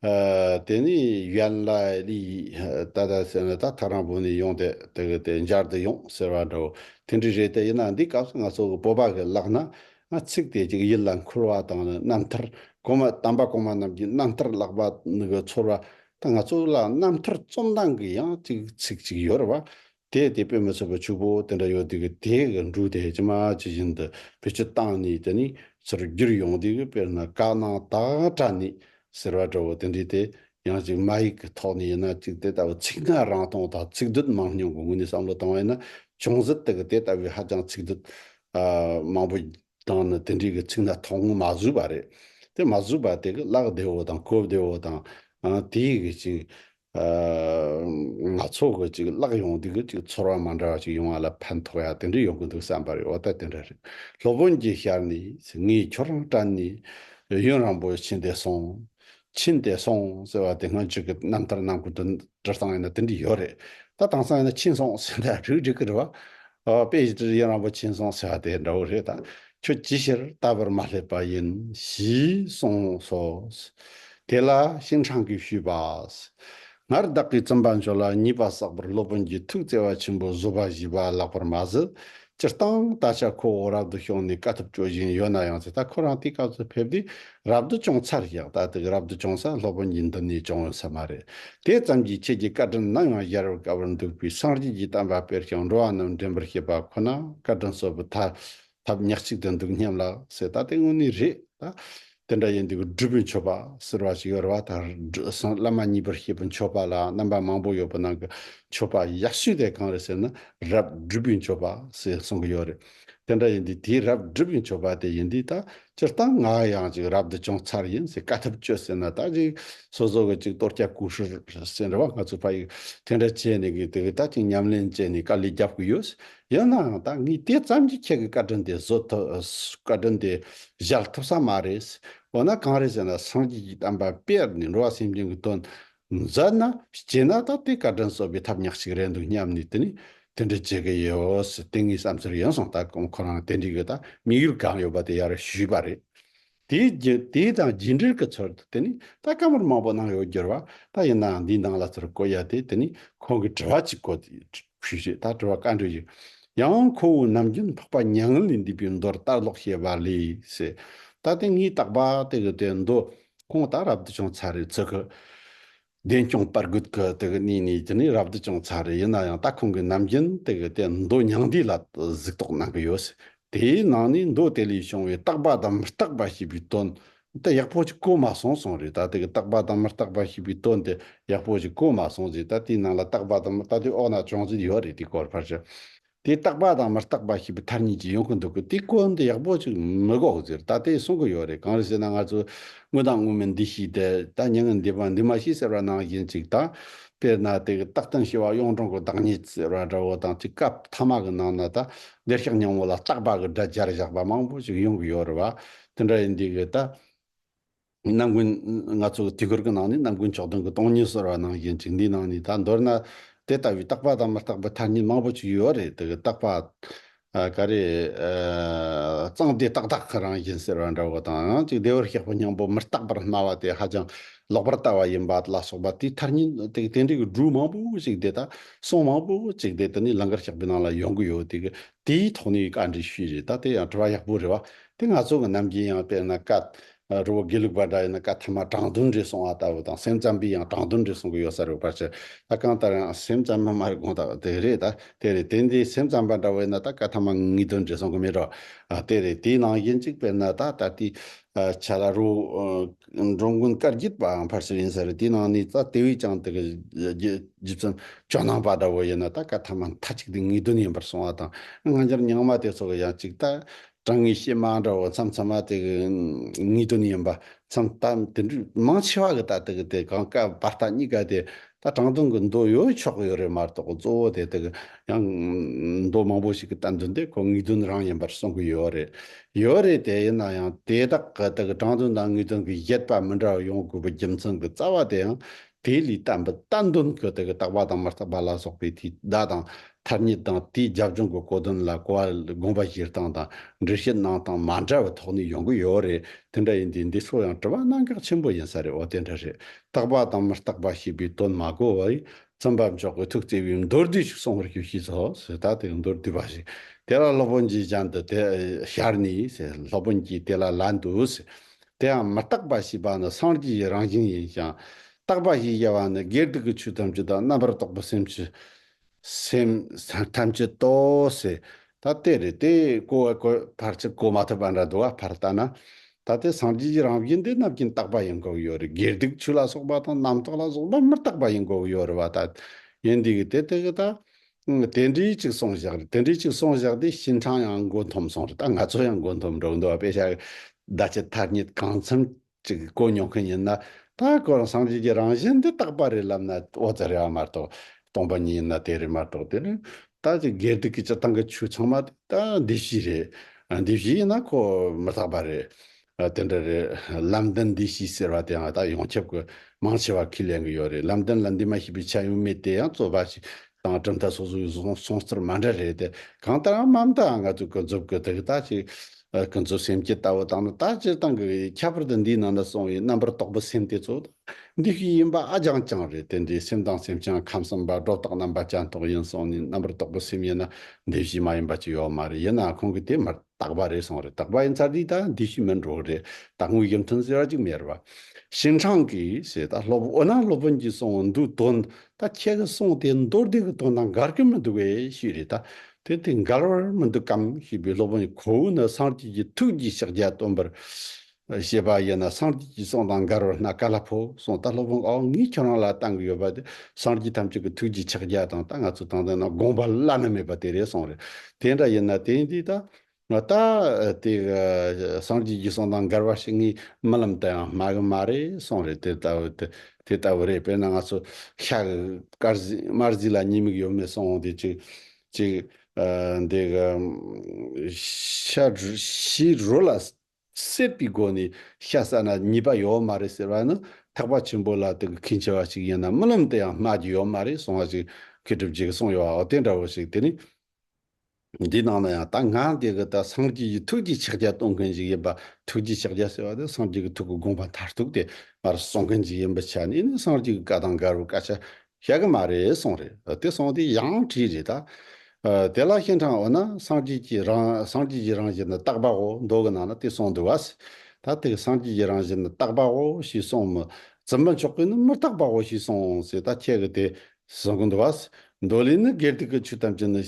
དེ་ནས་ཡན་ལ་ལས་ད་ད་ཟེར་ནས་ད་ཐག་རང་བོད་ནས་ཡོང་སྟེ་དེ་གི་དེ་འབྱར་དུ་ཡོང་ཟེར་བ་འདྲ་བོ་དེ་འདྲས་རེད་དེ་ཡིན་ན་འདིའི་སྐབས་སུ་ང་ཚོ་གི་སྤོབས་པ་གི་ལག་ན་ང་ཚིག་དེ་ཅིག་ཡིད་ལ་འཁོར་བ་དང་ནི་རྣམ་ཐར་གོང་མ་དམ་པ་གོང་མ་རྣམས་ཀྱི་རྣམ་ཐར་བཀླགས་པ་ནི་གི་ཚོར་བ་དང་ང་ཚོ་ལ་རྣམ་ཐར་རྩོམ་སྟངས་གི་ཡང་ཅིག་ཚིག་ཅིག་ཡོད་རེད་བ་དེས་དེ་སྤེལ་མི་ཚུགས་པར་ཕྱུག་པོ་དེ་འདྲ་ཡོད་དུས་ཀྱི་དེའི་གི་འབྲུག་དེ་ཇི་མ་ཇི་བཞིན་དུ་བེད་སྤྱོད་བཏང་ནས་དེ་ནི་ཚུར་བསྒྱུར་ཡོང་དུས་ཀྱི་དཔེར་ན་བཀག་གནང་དག་དྲ་ནི་ཟེར་བ་འདྲ་བོ་དེ་འདྲའི་དེ་ཡང་གཅིག་མ་ཡིག་གི་ཐོག་ནས་ཡིན་ན་གཅིག་དེ་ལྟ་བུ་ཚིག་སྔ་རང་སྟོང་དང་ཚིག་སྡུད་མང་སྙོམས་ཀྱི་ངོས་ནས་བསམ་བློ་བཏང་བ་ཡིན་ན་ཅུང་ཟད་དེ་གི་དེ་ལྟ་བུའི་ཧ་ཅང་ཚིག་སྡུད། མང་པོ། དང་ནི་དེ་འདྲའི་གི་ཚིག་སྣ་ཐོག་ངོ་མ་བཟོས་པ་རེད། དེ་མ་བཟོས་པ་དེ་གི་བཀླགས་བདེ་བོ་དང་གོ་བདེ་བོ་དང། དེའི་གི་གཅིག། ང་ཚོ་གི་ཅིག་བརླག་ཡོང་དུས་ཀྱི་ཅིག་ཚོར་བ་མ་འདྲ་བ་ཅིག་ཡོང་བ་ལ་ཕན་ཐོགས་ཡག་དེ་འདྲ་ཡོང་གི་འདུག་བསམ་པ་རེད་འོ་ད་དེ་འདྲ་རེད་སློབ་དཔོན་གྱིས་ཤར་ནས་ངས་ཁྱོད་རང་བཀྲ་ནས་གཡོན་རང་པོ་ཕྱིན་ཏེ་སོང། ཕྱིན་ཏེ་སོང་ཟེར་བ་དེ་སྔོན་ཅིག་གི་རྣམ་ཐར་རྣམ་ཀུན་ཏུ་བྲི་སྟངས་ཡིན་ན་དེ་འདྲ་ཡོད་རེད་ད་དྭངས་སང་ཡིན་ན་ཕྱིན་སོང་ཟེར་འདྲ་རེད་འགྲིག་གི་རེད་བ། དཔེ་ཡི་གཡོན་རང་པོ་ཕྱིན་སོང་ཟེར་བ་དེ་འདྲ་བོ་རེད་ད་ཁྱོད་ཅིའི་ཕྱིར་ལྟ་བར་མ་སླེབས་པ་ཡིན་ཞེས་གསུངས་སོ། དེ་ལ་གཤེན་འཕྲང་གིས་ཞུས་པ། སྔར་བདག་གིས་བརྩོན་པ་མཆོག་ལ་ཉེས་པ་བསགས་པར་སློབ་དཔོན་གྱིས་ཐུགས་བརྩེ་བ་ཆེན་པོས་བཟོད་པ་བཞེས་པ་ལགས་པར་མ་ཟད། སྤྱིར་བཏང་ད་ཆ་ཁོ་བོ་རབ་ཏུ་ཤོང་ནས་དཀའ་ཐུབ་སྤྱོད་བཞིན་ཡོད་ན་ཡང་ཚེ་ཐར་ཁོ་རང་དེའི་སྐབས་སུ་ཕེབས་ཏེ་རབ་ཏུ་སྐྱོང་ཚར་བཞག་ད་ཐེག་རབ་ཏུ་སྐྱོང་ས་སློབ་དཔོན་གྱིས་འདི་ནས་སྐྱོང་འོས་ས་མ་རེད། དེ་ཙམ་གྱིས་ཁྱེད་ཀྱི་བཀའ་དྲིན་ནམ་ཡང་གཞལ་བར་དཀའ་བར་འདུག་པས་སངས་རྒྱས་ཀྱི་གཏམ་བར་དཔེར་བྱང་འགྲོ་བ་རྣམས་འདྲེན་པར་བྱེད་པ་ཁོ་ན་བཀའ་དྲིན་གསོལ་བུ་ཐ། ཐབས་ཉག་གཅིག་དུ་འདུག་སྙམ་ལགས་ཟེར་ད་ལྟའི་དངོས་གནས་རེད་ད། དེ་འདྲ་ཡིན་དུས་སྒྲུབ་པོའི་མཆོད་པ་ཟེར་བ་ཞིག་ཡོད་རེད་བ་ད། སངས་བླ་མ་གཉིས་པར་ཤེས་པོའི་མཆོད་པ་ལ་རྣམ་པ་མང་པོ་ཡོད་པོ་ནང་གི་མཆོད་པ་ཡག་ཤོས་དེ་གང་རེད་ཟེར་ན་རབ་སྒྲུབ་པོའི་མཆོད་པ་ཟེར་གསུང་གི་ཡོད་རེད། དེ་འདྲ་ཡིན་དུས་དེའི་རབ་སྒྲུབ་པོའི་མཆོད་པ་དེ་ཡིན་དུས་ད་སྤྱིར་བཏང་ང་ཡང་ཅིག་རབ་ཏུ་བྱུང་ཚར་ཡིན་ཟེར་དཀའ་ཐུབ་སྤྱོད་ཟེར་ན་ད་ཅིག་སོ་སོ་གི་ཅིག་གཏོར་སྐྱ་བསྐུར་ཤོར་ཟེར་བ་ང་ཚོ་ཕ་ཡིས་དེ་འདྲ་བྱས་ནས་གི་དེ་གི་ད་ཅིག་ཉམས་ལེན་བྱས་ནས་དཀའ་ལས་རྒྱབ་གི་ཡོད་ཡིན་ནའང་ད་ངས་དེ་ཙམ་གྱིས་ཁྱེད་ཀྱི་བཀའ་དྲིན་དེ་བཟོད་ཐུབ། བཀའ་དྲིན་དེ་བཞག་ཐུབ་ས་མ་རེད། འོ་ན་གང་རེད་ཟེར་ན་སངས་རྒྱས་ཀྱི་གཏམ་པ་དཔེར་ནས་འགྲོ་བ་སེམས་ཅན་གྱི་དོན་མཛད་ན་སྐྱེས་ན་ད་དེ་བཀའ་དྲིན་གསོ་བའི་ཐབས་ཉག་གཅིག་རེད་འདུག་སྙམ་ནས་དེ་ནས་དེ་འདྲ་བྱེད་ཀྱི་ཡོད། དེ་ངའི་བསམ་ཚུལ་ཡིན་སོང་ད་ཁོ་རང་དེ་འདྲའི་གི་ད་དམིགས་ཡུལ་གང་ཡོད་པ་དེ་ཡར་ཞུས་པ་རེད། དེའི་དང་རྗེས་འབྲེལ་གྱི་ཚུལ་དུ་དེ་ནི་ད་སྐབས་མོར་མང་པོ་གནང་ཡོད་འགྱུར་བ་ལྟར་ཡིན་ནའང་འདིའི་ནང་ལ་ཚུར་བཀོད་ཡ་དེ་དེ་ནི་ཁོང་གི་དྲི་བ་གཅིག་གོ། ཞུས་ཞེས་ད་དྲི་བ་བཀའ་འདྲི་ཞིག། ཡང་འོང་ཁོ་བོའི་ནམ་རྒྱུན་འཕགས་པ་མྱ་ངན་ལས་འདས་པའི་མདོར་བལྟར་ལོག་བཤད་པ་ལས། ད་ལྟའི་ངའི་བརྟག་པ་དེ་གི་དོན་མདོ་ཁོང་ད་རབ་ཏུ་བྱུང་ཚར་རེད་ཚུལ་གྱི། བདེ་སྐྱོང་པར་རྒུད་ཀྱི་དེ་གི་གནས་ནས་ཀྱི་ནི་རབ་ཏུ་ཅུང་ཚ་རེ་ཡིན་ན་ཡང་ད་ཁོང་གི་ནམ་རྒྱུན་དེ་གི་དེ་མདོ་མྱང་འདས་ལ་གཟིགས་རྟོག་གནང་གི་ཡོད། དེའི་ནང་ནས་མདོ་དེ་ལས་བྱུང་བའི་རྟག་པ་དང་མི་རྟག་པ་ཞེས་པའི་དོན་དེ་ཡག་པོ་ཅིག་གོ་མ་སོང་གསུངས་རེད་ད་དེ་གི་རྟག་པ་དང་མི་རྟག་པ་ཞེས་པའི་དོན་དེ་ཡག་པོ་ཅིག་གོ་མ་སོང་རྗེས་ད་དེའི་ནང་ལ་རྟག་པ་དང་མི་རྟག་དེ་འོག་ན་ཅུང་ཟད་ཡོད་རེད་དེ་གོ་ཕར་ཞིག་དེ་རྟག་པ་དང་མི་རྟག་པ་ཞེས་པའི་མཐར་གཉིས་ཀྱིས་ཡོང་གི་འདུག་གི་དེ་གོ་འདི་ཡག་པོ་ཅིག་མི་གོ་ཟེར་ད་དེ་གསུང་གི་ཡོད་རེད་གང་རེད་ཟེར་ན་ང་ཚོས་དངོས་དང་དངོས་མིན་འདི་ཤེས་ཏེ་ད་མྱི་ངན་འདི་པ་འདི་མ་ཤེས་ཟེར་བ་ནང་བཞིན་ཅིག་ད། དཔེར་ན་དེ་གི་རྟག་དོན་ཤེས་པ་གཡུང་དྲུང་གི་བདག་ཉིད་ཟེར་བ་འདྲ་བོ་དང་གཅིག་སྐབས་ཐ་མ་གི་ནང་ན་ད་འདིར་ཤག་སྙིང་བོ་ལ་རྟག་པ་གི་སྒྲ་སྦྱར་བཞག་པ་མང་པོ་ཞིག་ཡོང་གི་ཡོད་རེད་བ། དེ་འདྲ་ཡིན་དུས་ཀྱི་ད། རྣམ་ཀུན། ང་ཚོ་གི་དུས་འཁོར་གྱི་ནང་ནས་རྣམ་ཀུན་མཆོག་དོན་གྱི་སྟོང་ཉིད་གསལ་བར་གནང་བཞིན་བཅུག་འདིའི་ནང་ནས་ད་མདོར་ན། དེ་ལྟ་བུའི་རྟག་པ་དང་མི་རྟག་པའི་ཐ་སྙད་མང་པོ་ཞིག་ཡོད་རེད་དེ་གི་རྟག་པ། ག་རེ། གཙང་དེ་ཏག་ཏག་རང་བཞིན་གསལ་བ་འདྲ་བོ་དང་ཡང་ཅིག་བདེ་བར་གཤེགས་པ་སྙིང་པོ་མི་རྟག་པར་སྨྲ་བ་དེ་ཧ་ཅང་ལོག་པར་ལྟ་བ་ཡིན་པ་ལ་སོགས་པ་དེའི་ཐ་སྙད་དེ་གི་དེ་འདྲ་གི་སྒྲུང་མང་པོ་ཞིག་དེ་དག་གསུང་མང་པོ་ཅིག་དེ་ད་ནི་ལང་ཀར་བཤགས་པའི་ནང་ལ་ཡོང་གི་ཡོད་དེ་གི་དེའི་ཐོག་ནས་བཀའ་འདྲི་ཞུས་རེད་ད་དེ་ཡང་དྲི་བ་ཡག་པོ་རེད་བ། དེ་ང་ཚོ་གི་རྣམ་རྒྱལ་ཡང་དཔེར་ན་བཀའ། རི་བོ་དགེ་ལུགས་པ་འདྲ་ཡིན་ན་བཀའ་ཐ་མ་དྲང་བདུན་རེད་གསུང་བ་ལྟ་བུ་དང་སེམས་ཙམ་པས་ཡང་དྲང་བདུན་རེད་གསུང་གི་ཡོད་ས་རེད་བ་ཕར་ཆེར་ད་གང་ལྟར་ཡང་སེམས་ཙམ་མ་མ་རེད་དགོངས་དག་དེ་རེད་ད་དེ་རེད་དེ་འདི་སེམས་ཙམ་པ་འདྲ་བོ་ཡིན་ན་ད་བཀའ་ཐ་མ་ངེས་དོན་རེད་གསུང་གི་མེད་རོགས་དེ་རེད་དེའི་ནང་གཞན་གཅིག་པས་ན་ད་ད་ལྟའི་ཆ་ལ་རི་བོ་འགྲོ་མགོན་བཀའ་བརྒྱུད་པའང་ཕར་ཆེར་ཡིན་ས་རེད་དེའི་ནང་ནས་ད་དེ་བས་ཀྱང་དེ་གི་རྗེ་བཙུན་ཇོ་ནང་པ་འདྲ་བོ་ཡིན་ན་ད་བཀའ་ཐ་མ་མཐའ་གཅིག་དེ་ངེས་དོན་ཡིན་པར་གསུང་བ་དང་སྔ་འགྱུར་ཉང་མ་དེ་ཚོ་གི་ཡང་གཅིག་ད་དྲང་ངེས་བཤད་མ་འདྲ་བ་མཚམས་མཚམས་མ་དེ་གི་ངེས་དོན་ཡིན་པ་མཚམས་ལྟ་དེ་འདྲ་མང་ཆེ་བ་གི་ལྟ་དེ་གི་དེ་གང་སྐབས་བར་ལྟ་གཉིས་ཀ་དེ་ལྟ་དྲང་དོན་གི་མདོ་ཡོད་ཆོག་གི་ཡོད་རེད་མ་གཏོགས་གཙོ་བོ་དེ་དེ་གི་ཡང་མདོ་མང་པོ་ཞིག་གི་ལྟ་འདུན་དེ་ཁོ་ངེས་དོན་རང་ཡིན་པར་གསུང་གི་ཡོད་རེད་ཡོད་རེད་དེ་ཡིན་ན་ཡང་དེ་དག་གི་དེ་གི་དྲང་དོན་དང་ངེས་དོན་གི་བཞེད་པ་མི་འདྲ་བ་ཡོང་དགོས་པའི་རྒྱུ་མཚན་གི་རྩ་བ་དེ་ཡང་དེ་ལས་བརྟན་པའི་ལྟ་འདོམས་ཀྱི་དེ་གའི་རྟག་པ་དང་མི་རྟག་པ་ལ་སོགས་པའི་དེའི་བརྡ་དང་ཐ་སྙད་དང་དེའི་རྒྱབ་ལྗོངས་ཀྱི་གོ་དོན་ལ་གོ་བ་ལ་དགོངས་པ་བཞེས་སྟངས་དང་འགྲེལ་བཤད་གནང་སྟངས་མ་འདྲ་བའི་ཐོག་ནས་ཡོང་གི་ཡོད་རེད་དེ་འདྲ་ཡིན་དུས་འདི་ཚོ་ཡང་དྲི་བ་གནང་གག་ཆེན་པོ་ཡིན་ས་རེད་འོ་དེ་འདྲ་རེད་རྟག་པ་དང་མི་རྟག་པ་ཞེས་པའི་དོན་མ་གོ་བས་བཙུན་པ་མཆོག་གིས་ཐུགས་བརྩེ་བས་མདོར་བསྡུས་ཤིག་གསུང་བར་ཞུ་ཞེས་སོགས་ཟེར་ད་དེ་མདོར་བསྡུས་པ་ཞིག་དེ་ལ་སློབ་དཔོན་གྱིས་གཞན་དུ་དེ་ཤར་ནས་ཟེར་སློབ་དཔོན་གྱིས་དེ་ལ་ལན་དུ་ཟེར་དེའང་མི་རྟག་པ་ཞེས་པ་ནི་སངས་རྒྱས་ཀྱི་རང་བཞིན་ཡིན་ཞིང། རྟག་པ་ཞེས་བྱ་བ་ནི་དགེ་སྡིག་གི་ཆོས་ཐམས་ཅད་དང་རྣམ་པར་རྟོག་པའི་སེམས་ཀྱི་སེམས་ཐམས་ཅད་དོ། ཞེས་ད་དེ་རེད་དེ། གོ་བའི་གོ་བར་ཚིག་གོ་མ་ཐུབ་པ་འདྲ་འདུག་ཨ་ཕར་བལྟ་ན། ད་ལྟའི་སངས་རྒྱས་ཀྱི་རང་བཞིན་དེ་རྣམས་ཀྱི་རྟག་པ་ཡིན་དགོས་ཡོད་རེད་དགེ་སྡིག་ཆོས་ལ་སོགས་པ་དང་རྣམ་རྟོག་ལ་སོགས་པ་མི་རྟག་པ་ཡིན་དགོས་ཡོད་རེད་བ་ད། ཡིན་དུས་ཀྱི་དེ་དེ་གི་ད། དེ་འདྲའི་གཅིག་སོང་བཞག་རེད་དེ་འདྲའི་གཅིག་སོང་བཞག་དེ་ཞིན་ཁྲང་ཡང་མགོ་འཐོམ་སོང་རེད་ད་ང་ཚོ་ཡང་མགོ་འཐོམ་འགྲོ་གི་འདུག་དཔེ་ཆ་ཟླ་ཕྱེད་ཐ་སྙད་གང་འཚམ་ཅིག་གོ་མྱོང་མཁན་ཡིན་ན་ད་ཁོ་རང་བསམ་གཞིག་གི་རང་བཞིན་འདི་རྟག་པ་རེད་ལབ་ན་ཨོ་ཙེ་རེད་བ་མ་གཏོགས་སྟོང་པ་ཉིད་ཡིན་ན་དེ་རེད་མ་གཏོགས་དེ་རེད་ད་ཅིག་སྒེར་སྡིག་གི་སྤྱི་བཏང་གི་ཆོས་ཚང་མ་དེ་ད་འདི་བཞི་རེད་འདི་བཞི་ཡིན་ན་ཁོ་མི་རྟག་པ་རེད་ཨ་དེ་འདྲ་རེད། ལམ་བདེན་འདི་ཤི་ཟེར་བ་དེའང་ད་ཡོངས་ཁྱབ་ཀྱི་མང་ཆེ་བ་ཁས་ལེན་གྱི་ཡོད་རེད་ལམ་བདེན་ལ་འདི་མ་ཤི་པའི་ཆ་ཡང་མེད་དེ་ཡང་རྩོད་པ་ཞིག་དང་གྲུབ་མཐའ་སོ་སོའི་གསུང་རྩོད་མ་འདྲ་རེད་དེ་གང་ལྟར་ཡང་མ་མཐའ་ང་ཚོས་ཀུན་རྫོབ་ཀྱི་དག་ལྟ་ཞིག་ཀུན་རྫོབ་སེམས་ཀྱི་ལྟ་བ་དང་ནི་ད་སྤྱིར་བཏང་གི་ཁྱད་པར་དུ་འདིའི་ནང་ན་གསུངས་བའི་རྣམ་པར་རྟོག་པའི་སེམས་དེ་ཚོ་དང་འདི་ཤི་ཡིན་པ་ཨ་རྐྱང་རྐྱང་རེད་དེ་འདིའི་སེམས་དང་སེམས་ཅན་ཁམས་གསུམ་པ་སྒྲོ་བཏགས་རྣམ་པ་སྤྱན་རྟོག་ཡིན་གསུངས་ནས་རྣམ་པར་རྟོག་པའི་སེམས་ཡིན་ན་འདི་ཤི་མ་ཡིན་པ་ཅི་ཡོད་མ་རེད་ཡིན་ནའང་ཁོང་གིས་དེ་མ་དག་པ་རེད་སོང་རེད་དག་པ་ཡིན་ཚར་དུས་ད་འདི་ཞིག་མིན་འགྲོ་རེད་ད་དངུལ་གྱི་མཐུན་སེ་ར་ཅིག་མེད་རེད་བ། ཞིན་ཁྲང་གིས་ཞེས་ད་སློབ་འོ་ན་སློབ་དཔོན་གྱིས་གསུང་འོ་འདུག་དོན་ད་ཁྱེད་ཀྱིས་གསུང་དེ་མདོར་བསྡུས་ཀྱི་དོན་དང་འགལ་གྱི་མི་འདུག་བས་ཞུས་རེད་ད་དེ་དེ་འགལ་བར་མི་འདུག་གམ་ཞེས་པས་སློབ་དཔོན་གྱིས་ཁོ་བོས་ནི་སངས་རྒྱས་ཀྱི་ཐུགས་ཀྱི་ཕྱག་རྒྱ་སྟོན་པར། ཞེས་པ་ཡིན་ན་སངས་རྒྱས་ཀྱི་གསུང་དང་མགར་བར་སྣ་ཀ་ལ་ཕོ་གསུང་སྟ་ལྷོ་བོང་ཨའོ་ངས་ཁྱོད་རང་ལ་བཏང་གི་ཡོད་པ་དེ་སངས་རྒྱས་ཐམས་ཅད་ཀྱི་ཐུགས་ཀྱི་ཕྱག་རྒྱ་དང་ད་ང་ཚོས་བཏང་དོན་རྣམས་དགོངས་པ་བླ་ན་མེད་པ་དེ་རེད་གསུངས་རེད་དེ་འདྲ་ཡིན་ན་དེ་འདི་ད་ད་དེ་སངས་རྒྱས་ཀྱི་གསུང་དང་མགར་བ་ཞིག་ངའི་རྨི་ལམ་དུ་ཡང་སྨྲ་གི་མ་རེད་གསུངས་རེད་དེ་ལྟ་བུ་དེ་དེ་ལྟ་བུ་རེད་དཔེར་ན་ང་ཚོ་ཤ་གི་དཀར་གཟིགས་དམར་གཟིགས་ལ་ཉེས་དམིགས་ཡོད་མེད་གསུངས་འོང་དེ་ཅིག་ཅིག་འདི་ཤ་ཞེས་རོ་ལ་བསྲེས་པའི་སྒོ་ནས་ཤ་ཟ་ན་ཉེས་པ་ཡོད་མ་རེད་ཟེར་བ་ནི་ཐེག་པ་ཆེན་པོ་ལ་དེ་གི་ཁས་འཆེ་བ་ཞིག་ཡིན་ན་རྨི་ལམ་དུ་ཡང་སྨྲ་རྒྱུ་ཡོད་མ་རེད་གསུང་བ་ཞིག་མཁས་གྲུབ་རྗེས་ཀྱི་གསུང་ཡོད་བའོ་དེ་འདྲ་བོ་ཞིག་དེ་ནི། འདིའི་ནང་ན་ཡང་ད་ང་འདི་གི་ད་སངས་རྒྱས་ཀྱི་ཐུགས་ཀྱི་ཕྱག་རྒྱ་གཏོང་མཁན་ཞིག་ཡིན་པ་ཐུགས་ཀྱི་ཕྱག་རྒྱ་ཟེར་བ་དེ་སངས་རྒྱས་ཀྱི་ཐུགས་ཀྱི་དགོངས་པ་མཐར་ཐུག་དེ་ང་རང་གསུང་མཁན་ཞིག་ཡིན་པའི་ཆ་ནས་ནི་སངས་རྒྱས་ཀྱི་བཀའ་དང་འགལ་བའི་སྐད་ཆ་ཤ་གི་མ་རེད་སོང་རེད་དེ་སོང་དེ་ཡང་བྲིས་རེད་ད། དེ་ལ་གཤེན་འཕྲང་འོ་ན་སངས་རྒྱས་ཀྱི་རང་སངས་རྒྱས་ཀྱི་རང་བཞིན་ནི་རྟག་པའོ་མདོ་གི་ནང་ན་དེ་སོང་འདུག་བ། ད་དེ་གི་སངས་རྒྱས་ཀྱི་རང་བཞིན་ནི་རྟག་པའོ་ཞེས་སོང་མི་ཙི་མ་མཆོག་གིས་ནི་མི་རྟག་པའོ་ཞེས་སོང་ཟེར་ད་ཁྱེད་ཀྱི་དེ་གཟུང་གི་འདུག་བ། མདོ་ལས་ནི་སྒེར་དུ་ཀུ་ཆུ་ཐམས་ཅད་ནི་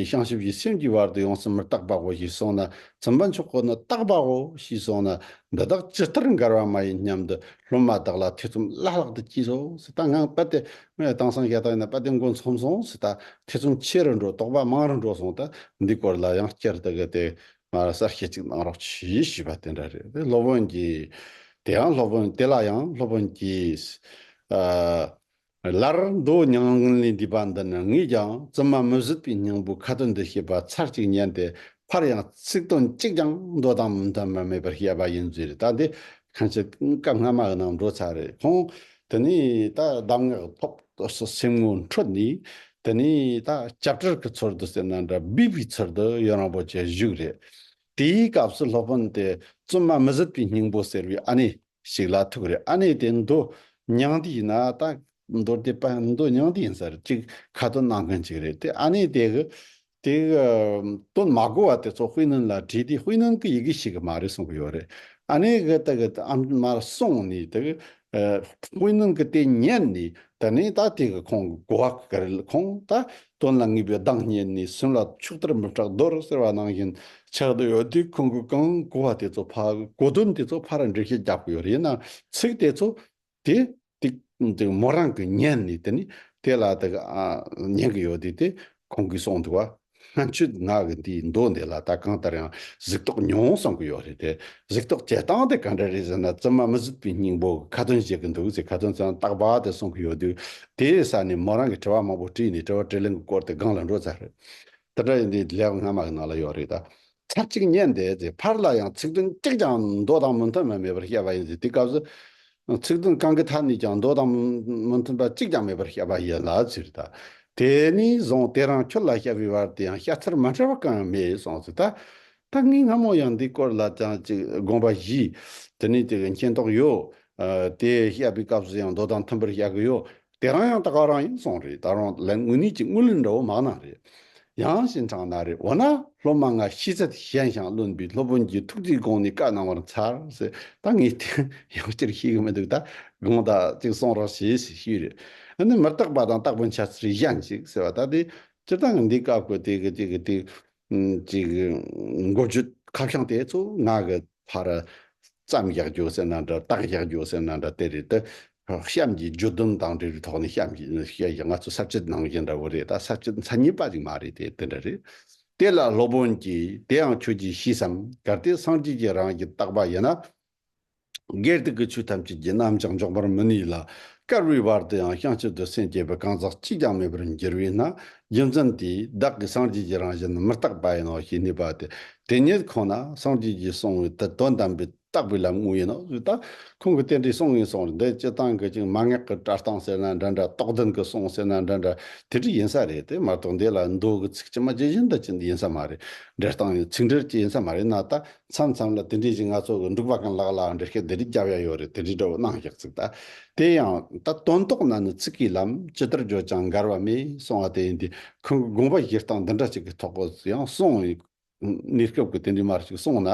བྱང་ཆུབ་ཀྱི་སེམས་ཀྱི་བར་དུ་ཡོངས་སུ་མི་རྟག་པའོ་ཞེས་སོང་ན་ཙི་མ་མཆོག་གིས་ནི་རྟག་པའོ་ཞེས་སོང་ན་འདི་དག་ཇི་ལྟར་འགལ་བ་མ་ཡིན་སྙམ་དུ་སློབ་མ་དག་ལ་ཐེ་ཚོམ་བརླག་བརླག་ཏུ་སྐྱིད་སོང་ཟེར་ད་ངང་དཔལ་ལྡན་མོའི་གཏང་སང་ཞལ་ཐང་ནས་དཔལ་ལྡན་མགོ་འཚོམ་སོང་ཟེར་ད་ཐེ་ཚོམ་ཆེ་རུ་འགྲོ་དོགས་པ་མང་རུ་འགྲོ་སོང་ད་འདི་སྐོར་ལ་ཡང་བསྐྱར་དུ་གི་དེ་ང་ལ་གསར་བཤད་ཅིག་གནང་རོགས་གྱིས་ཞུས་པ་དེ་འདྲ་རེད་དེ་སློབ་དཔོན་གྱིས། དེ་ཡང་སློབ་དཔོན་དེ་ལ་ཡང་སློབ་དཔོན་གྱིས། ལར་མདོ་སྙིང་ལུང་ལས་འདས་པ་འདི་ནི་ངས་ཀྱང་བཙུན་མ་མི་བཟོད་པའི་སྙིང་པོའི་ཁ་དོན་འདི་ཤེས་པ་ཚར་གཅིག་ཉན་ཏེ་ཕར་ཡང་ཚིག་དོན་གཅིག་ཀྱང་མདོ་དང་མི་མཐུན་པ་མེད་པར་བཤད་པ་ཡིན་ཟེར་ད་ལྟའི་གང་ཕྱིར་སྐབས་སྔ་མ་ནང་འགྲོ་ཚར་རེ་ཐོངས་དེ་ནས་ད་གདམས་ངག་ཐོབ་སོགས་སེམས་ངོ་འཕྲོད་ནས་དེ་ནས་ད་སྐྱབས་གྲལ་གྱི་ཚུལ་དུ་སེར་སྣ་འདྲ་འབུས་པའི་ཚུལ་དུ་ཡོན་རིན་པོ་ཆེ་བཞུགས་རེད་དེའི་སྐབས་སུ་སློབ་དཔོན་དེས་བཙུན་མ་མི་བཟོད་པའི་སྙིང་པོ་ཟེར་བའི་ཨ་ནི། ཞིག་ལ་ཐུག་རེ་ཨ་ནེ་དེ་མདོ་མྱང་འདི་ཡིན་ན་ད། མདོར་དེད་པ་མདོ་མྱང་འདི་ཡིན་ས་རེད་ཅིག་ཁ་དོན་གནང་མཁན་ཅིག་རེད་དེ་ཨ་ནེ་དེ་གི། དེ་གི། དོན་མ་གོ་བ་དེ་ཚོ་ཧུའེ་ནན་ལ་དྲིས་དེ་ཧུའེ་ནན་གི་ཡི་གེ་ཞིག་མ་རེད་གསུང་གི་ཡོད་རེད་ཨ་ནེ་གི་ད་གི་ཨ་མར་གསུང་ནས་དེ་གི། ཧུའེ་ནན་གི་དེ་ཉན་ནས་ད་ནས་ད་དེ་གི་ཁོང་གི་གོ་བ་ག་རེ་ལ་ཁོང་ད་དོན་ལ་ངེས་པའི་གདངས་སྙན་ནི་སུན་ལ་ཕྱུགས་ལྟར་མི་སྐྲག་རྡོར་ཟེར་བ་ནང་བཞིན་ཆགས་འདུག་ཡོད་དུས་ཁོང་གིས་གང་གོ་བ་དེ་ཚོ་ཕ་གོ་དོན་དེ་ཚོ་ཕ་ར་འགྲེལ་བཤད་རྒྱག་གི་ཡོད་རེད་ན་ཚིག་དེ་ཚོ་དེ་དེ་མོ་རང་གི་སྙན་ནི་དེ་ནི་དེ་ལ་དེ་ཉན་གི་ཡོད་དུས་དེ་ཁོང་གིས་གསུངས་འདུག་བ་སྔ་འཆི་ངག་གི་འདིའི་མདོ་འདི་ལ་ད་གང་ལྟར་ཡང་གཟིགས་རྟོག་མྱོང་གསུངས་གི་ཡོད་རེད་དེ། གཟིགས་རྟོག་བྱེད་སྟངས་དེ་ག་འདྲ་རེད་ཟེར་ན་བཙུན་མ་མི་གཟིགས་པའི་སྙིང་པོ་ཁ་ཏོན་བྱེད་ཀྱི་འདུག་ཅེས་ཁ་ཏོན་ཙམ་སྟག་ལྤགས་དེ་གསུང་གི་ཡོད་དུས་དེའི་ས་ནས་མོ་རང་གིས་དྲི་བ་མང་པོ་དྲིས་ནས་དྲི་བ་དྲིས་ལན་གྱི་སྐོར་དེ་སྒང་ལ་འགྲོ་ཚར། དེ་འདྲ་ཡིན་དུས་ལེའུ་སྔ་མ་གི་ནང་ལ་ཡོད་རེད་ད། ཚར་གཅིག་ཉན་དེ་ཚེ་ཕར་ལ་ཡང་ཚིག་དོན་གཅིག་ཀྱང་མདོ་དང་མི་མཐུན་པ་མེད་པར་བཤད་པ་ཡིན་ཟེར་དེའི་སྐབས་སུ། ཚིག་དོན་གང་གི་ཐད་ནས་ཀྱང་མདོ་དང་མི་མཐུན་པ་གཅིག་ཀྱང་མེད་པར་བཤད་པ་ཡིན་ལ་ཟེར་ད། དེ་ནས་བཟུང་དེ་རང་ཁྱོད་ལ་བཤད་པའི་བར་དུ་ཡང་བཤད་ཚུལ་མ་འདྲ་བ་གང་ཡང་མེད་སོང་ཟེར་ད། སྟག་སྨིན་སྔ་མོ་ཡང་འདི་སྐོར་ལ་ཀྱང་ཅིག་དགོངས་པ་བཞི། དེ་ནས་ཅིག་མཁྱེན་རྟོགས་ཡོད། དེ་བཤད་པའི་སྐབས་སུ་ཡང་མདོ་དང་མཐུན་པར་བཤད་གི་ཡོད། དེ་རང་ཡང་ད་ག་རང་ཡིན་སོང་རེད་ད་རུང་ལན་དངོས་གནས་ཀྱི་དངུལ་ལེན་འདྲ་བོ་མང་ན་རེད། ཡང་ཞིན་གྲང་ན་རེད་འོ་ན་སློབ་མ་ང་ཤི་ཚད་གཞན་ཞང་བློན་པའི་སློབ་དཔོན་གྱི་ཐུགས་རྗེའི་དགོངས་ནས་བཀའ་གནང་བར་འཚལ་ཟེར་ད་ངས་དེ་ཡང་སྤྱིར་ཤེས་གི་མི་འདུག་ད་དགོངས་དག་ཅིག་གསུང་རོགས་བྱོས་ཞེས་ཞུས་རེད། འོ་ན་མི་རྟག་པ་དང་རྟག་པའི་འཆལ་ཚུལ་གཞན་ཅིག་ཟེར་བ་ད་དེ་སྤྱིར་བཏང་གི་འདི་བཀའ་བཀོད་དེ་གི་ཅིག་གི་དེ་གཅིག། མགོ་བརྗོད་ཁ་བྱང་དེ་ཚོ་ང་གི་ཕར་བརྩམས་བཞག་རྒྱུ་ཟེར་ན་འདྲ་བཏགས་བཞག་རྒྱུ་ཟེར་ན་འདྲ་དེ་རེད་དེ། གཤམ་གྱི་བརྗོད་དོན་དང་འབྲེལ་བའི་ཐོག་ནས་གཤམ་གྱི་བཤད་བཞག་ང་ཚོ་གསར་བརྗེ་གནང་བཞིན་འདྲ་བོ་རེད་ད་གསར་བརྗེ་མཚན་ཉིད་པ་ཞིག་མ་རེད་དེ་དེ་འདྲ་རེད། དེ་ལ་སློབ་དཔོན་གྱིས་དེའང་ཁྱོད་ཀྱིས་ཤེས་སམ་གལ་ཏེ་སངས་རྒྱས་ཀྱིས་རང་གིས་བཏགས་པ་ཡིན་ན་སྒེར་དག་གི་ཆོས་ཐམས་ཅད་ཀྱི་རྣམ་བཞག་འཇོག་པར་མི་ནུས་ལ། དཀར་བོའི་བར་དུ་ཡང་བྱང་ཆུབ་ཏུ་སེམས་བསྐྱེད་པའི་གང་ཟག་གཅིག་ཀྱང་མེད་པར་འགྱུར་བས་ན་རྒྱུ་མཚན་དེས་བདག་གིས་སངས་རྒྱས་ཀྱི་རང་བཞིན་མི་རྟག་པ་ཡིན་ནོ་ཞེས་ངེས་པ་སྟེ་དེ་ཉིད་ཁོ་ན་སངས་རྒྱས་ཀྱིས་གསུངས་པའི་དེ་དོན་དམ་པའི་རྟག་པའི་ལམ་དངོས་ཡིན་ནོ་ཞེས་དང། ཁོང་གིས་དེ་འདྲའི་གསུང་ངན་སོང་བར་འདི་སྤྱི་བཏང་གི་ཅིང་མ་ངག་གི་བཀྲ་བཏང་ཟེར་ན་འདྲ་འདྲ་རྟོགས་ལྡན་གྱི་གསུང་ཟེར་ན་འདྲ་འདྲ་དེ་འདྲ་ཡིན་ས་རེད་དེ་མ་གཏོགས་འདི་ལ་མདོ་གི་ཚིག་ཅི་མ་ཇི་བཞིན་དུ་ཅི་ཡིན་ས་མ་རེད་འབྲི་སྟངས་ཡང་ཚིག་འབྲིར་ཅི་ཡིན་ས་མ་རེད་ན་ད་མཚམས་མཚམས་ལ་དེ་འདྲའི་གཞི་ང་ཚོ་གི་འབྲུག་པ་གང་ལགས་ལའང་འདྲི་སྐད་དེ་འདྲའི་རྒྱབ་ཡ་ཡོད་རེད་དེ་འདྲའི་འདྲ་བོ་གནང་ཞག་ཚིག་ད། དེ་ཡང་ད་དོན་དོགས་ན་ནི་ཚིག་གི་ལམ་ཇི་ལྟར་བརྗོད་ཀྱང་འགལ་བ་མེད་སོང་བ་དེ་ཡིན་དུས་ཁོང་གི་དགོངས་པ་བཞེས་སྟངས་འདི་འདྲ་ཅིག་གི་ཐོག་གོ་ཡང་གསུང་ཡིན། གནས་སྐབས་ཀྱི་དེ་འདྲའི་མར་ཞིག་གསུང་ན་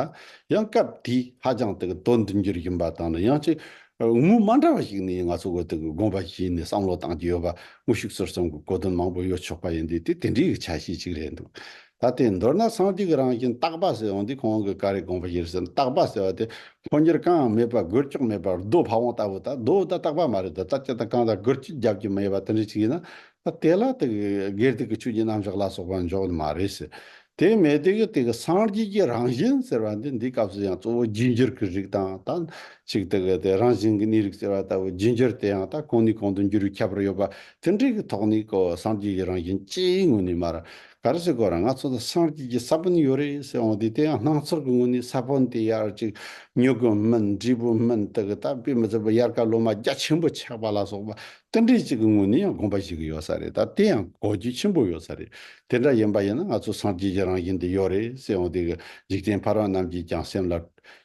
ཡང་སྐབས་དེའི་ཧ་ཅང་དེ་གི་དོན་འདི་འགྱུར་བཞིན་པ་དང་ནི་ཡང་ཅིག་དངོས་མ་འདྲ་བ་ཞིག་ནི་ང་ཚོ་གི་དེ་གི་དགོངས་པ་བཞེས་ནས་བསམ་བློ་བཏང་རྒྱུ་ཡོད་པ་དངོས་ཤུགས་གསོར་བསམ་གི་གོ་དོན་མང་པོ་ཡོད་ཆོག་པ་ཡིན་དུས་དེ་དེ་འདྲའི་གི་ཆ་ཤས་ཅིག་རེད་འདུག་ད་ལྟའི་མདོར་ན་སངས་རྒྱས་ཀྱི་རང་བཞིན་རྟག་པ་ཟེར་འོང་དུས་ཁོང་གི་ཀ་རའི་དགོངས་པ་གཞིར་བཟུང་རྟག་པ་ཟེར་བ་དེ་འཕོ་འགྱུར་གང་ཡང་མེད་པར་སྒུལ་ལྕོག་མེད་པར་རྡོ་ཕ་བོང་ལྟ་བུ་དང་རྡོ་དང་རྟག་པ་མ་རེད་དོ་རྩ་སྐྱ་དང་རྐང་དང་སྒུར་ཁྱི་རྒྱབ་ཀྱི་མ་ཡོད་པ་དེ་འདྲ་ཞིག་ཡིན་ན་ད་དེ་ལ་དེ་གི་སྒེར་སྡིག་གི་ཆོས་ཀྱི་རྣམ་གཞག་ལ་སོགས་པ་འཇོག་ནི་མ་རེད་ཟེར། དེ་མེད་དེ་གི་དེ་གི་སངས་རྒྱས་ཀྱི་རང་བཞིན་ཟེར་བ་འདི་འདིའི་སྐབས་སུ་ཡང་གཙོ་བོ་རྒྱུད་འགྱུར་གྱི་རིགས་དང་ད་ཅིག་དེ་གི་དེ་རང་བཞིན་གྱི་གནས་རིགས་ཟེར་བ་ལྟ་བུ་རྒྱུད་འགྱུར་དེ་ཡང་ད་གང་ནས་གང་དུ་འགྱུར་བའི་ཁྱད་པར་ཡོད་པ་དེ་འདྲའི་གི་ཐོག་ནས་གོ་སངས་རྒྱས་ཀྱི་རང་བཞིན་ཅེས་ངོས་ནས་མ་རེད་ག་རེ་ཟེར་གོ་ར་ང་ཚོ་ལ་སངས་རྒྱས་ཀྱི་ས་བོན་ཡོད་རེད་ཟེར་འོང་དུས་དེ་ཡང་སྣང་ཚོར་གྱི་ངོས་ནས་ས་བོན་དེ་ཡར་ཅིག་ཉོ་གི་མིན་འབྲས་བུ་མིན་དེ་གི་ད་དཔེ་མི་ཚད་པ་ཡར་ཀ་ལོ་མ་རྒྱ་ཆེན་པོ་ཆགས་པ་ལ་སོགས་པ་རྟེན་འབྲེལ་ཅིག་གི་ངོས་ནས་ཡང་དགོངས་པ་ཞིག་ཡོད་ས་རེད་ད་དེ་ཡང་གོ་རྒྱུ་ཆེན་པོ་ཡོད་ས་རེད་དེ་འདྲ་ཡིན་པ་ཡིན་ན་ང་ཚོ་སངས་རྒྱས་ཀྱི་རང་བཞིན་དེ་ཡོད་རེད་ཟེར་འོང་དུས་གི་འཇིག་རྟེན་ཕ་རོལ་རྣམས་ཀྱིས་ཀྱང་སེམས་ལ་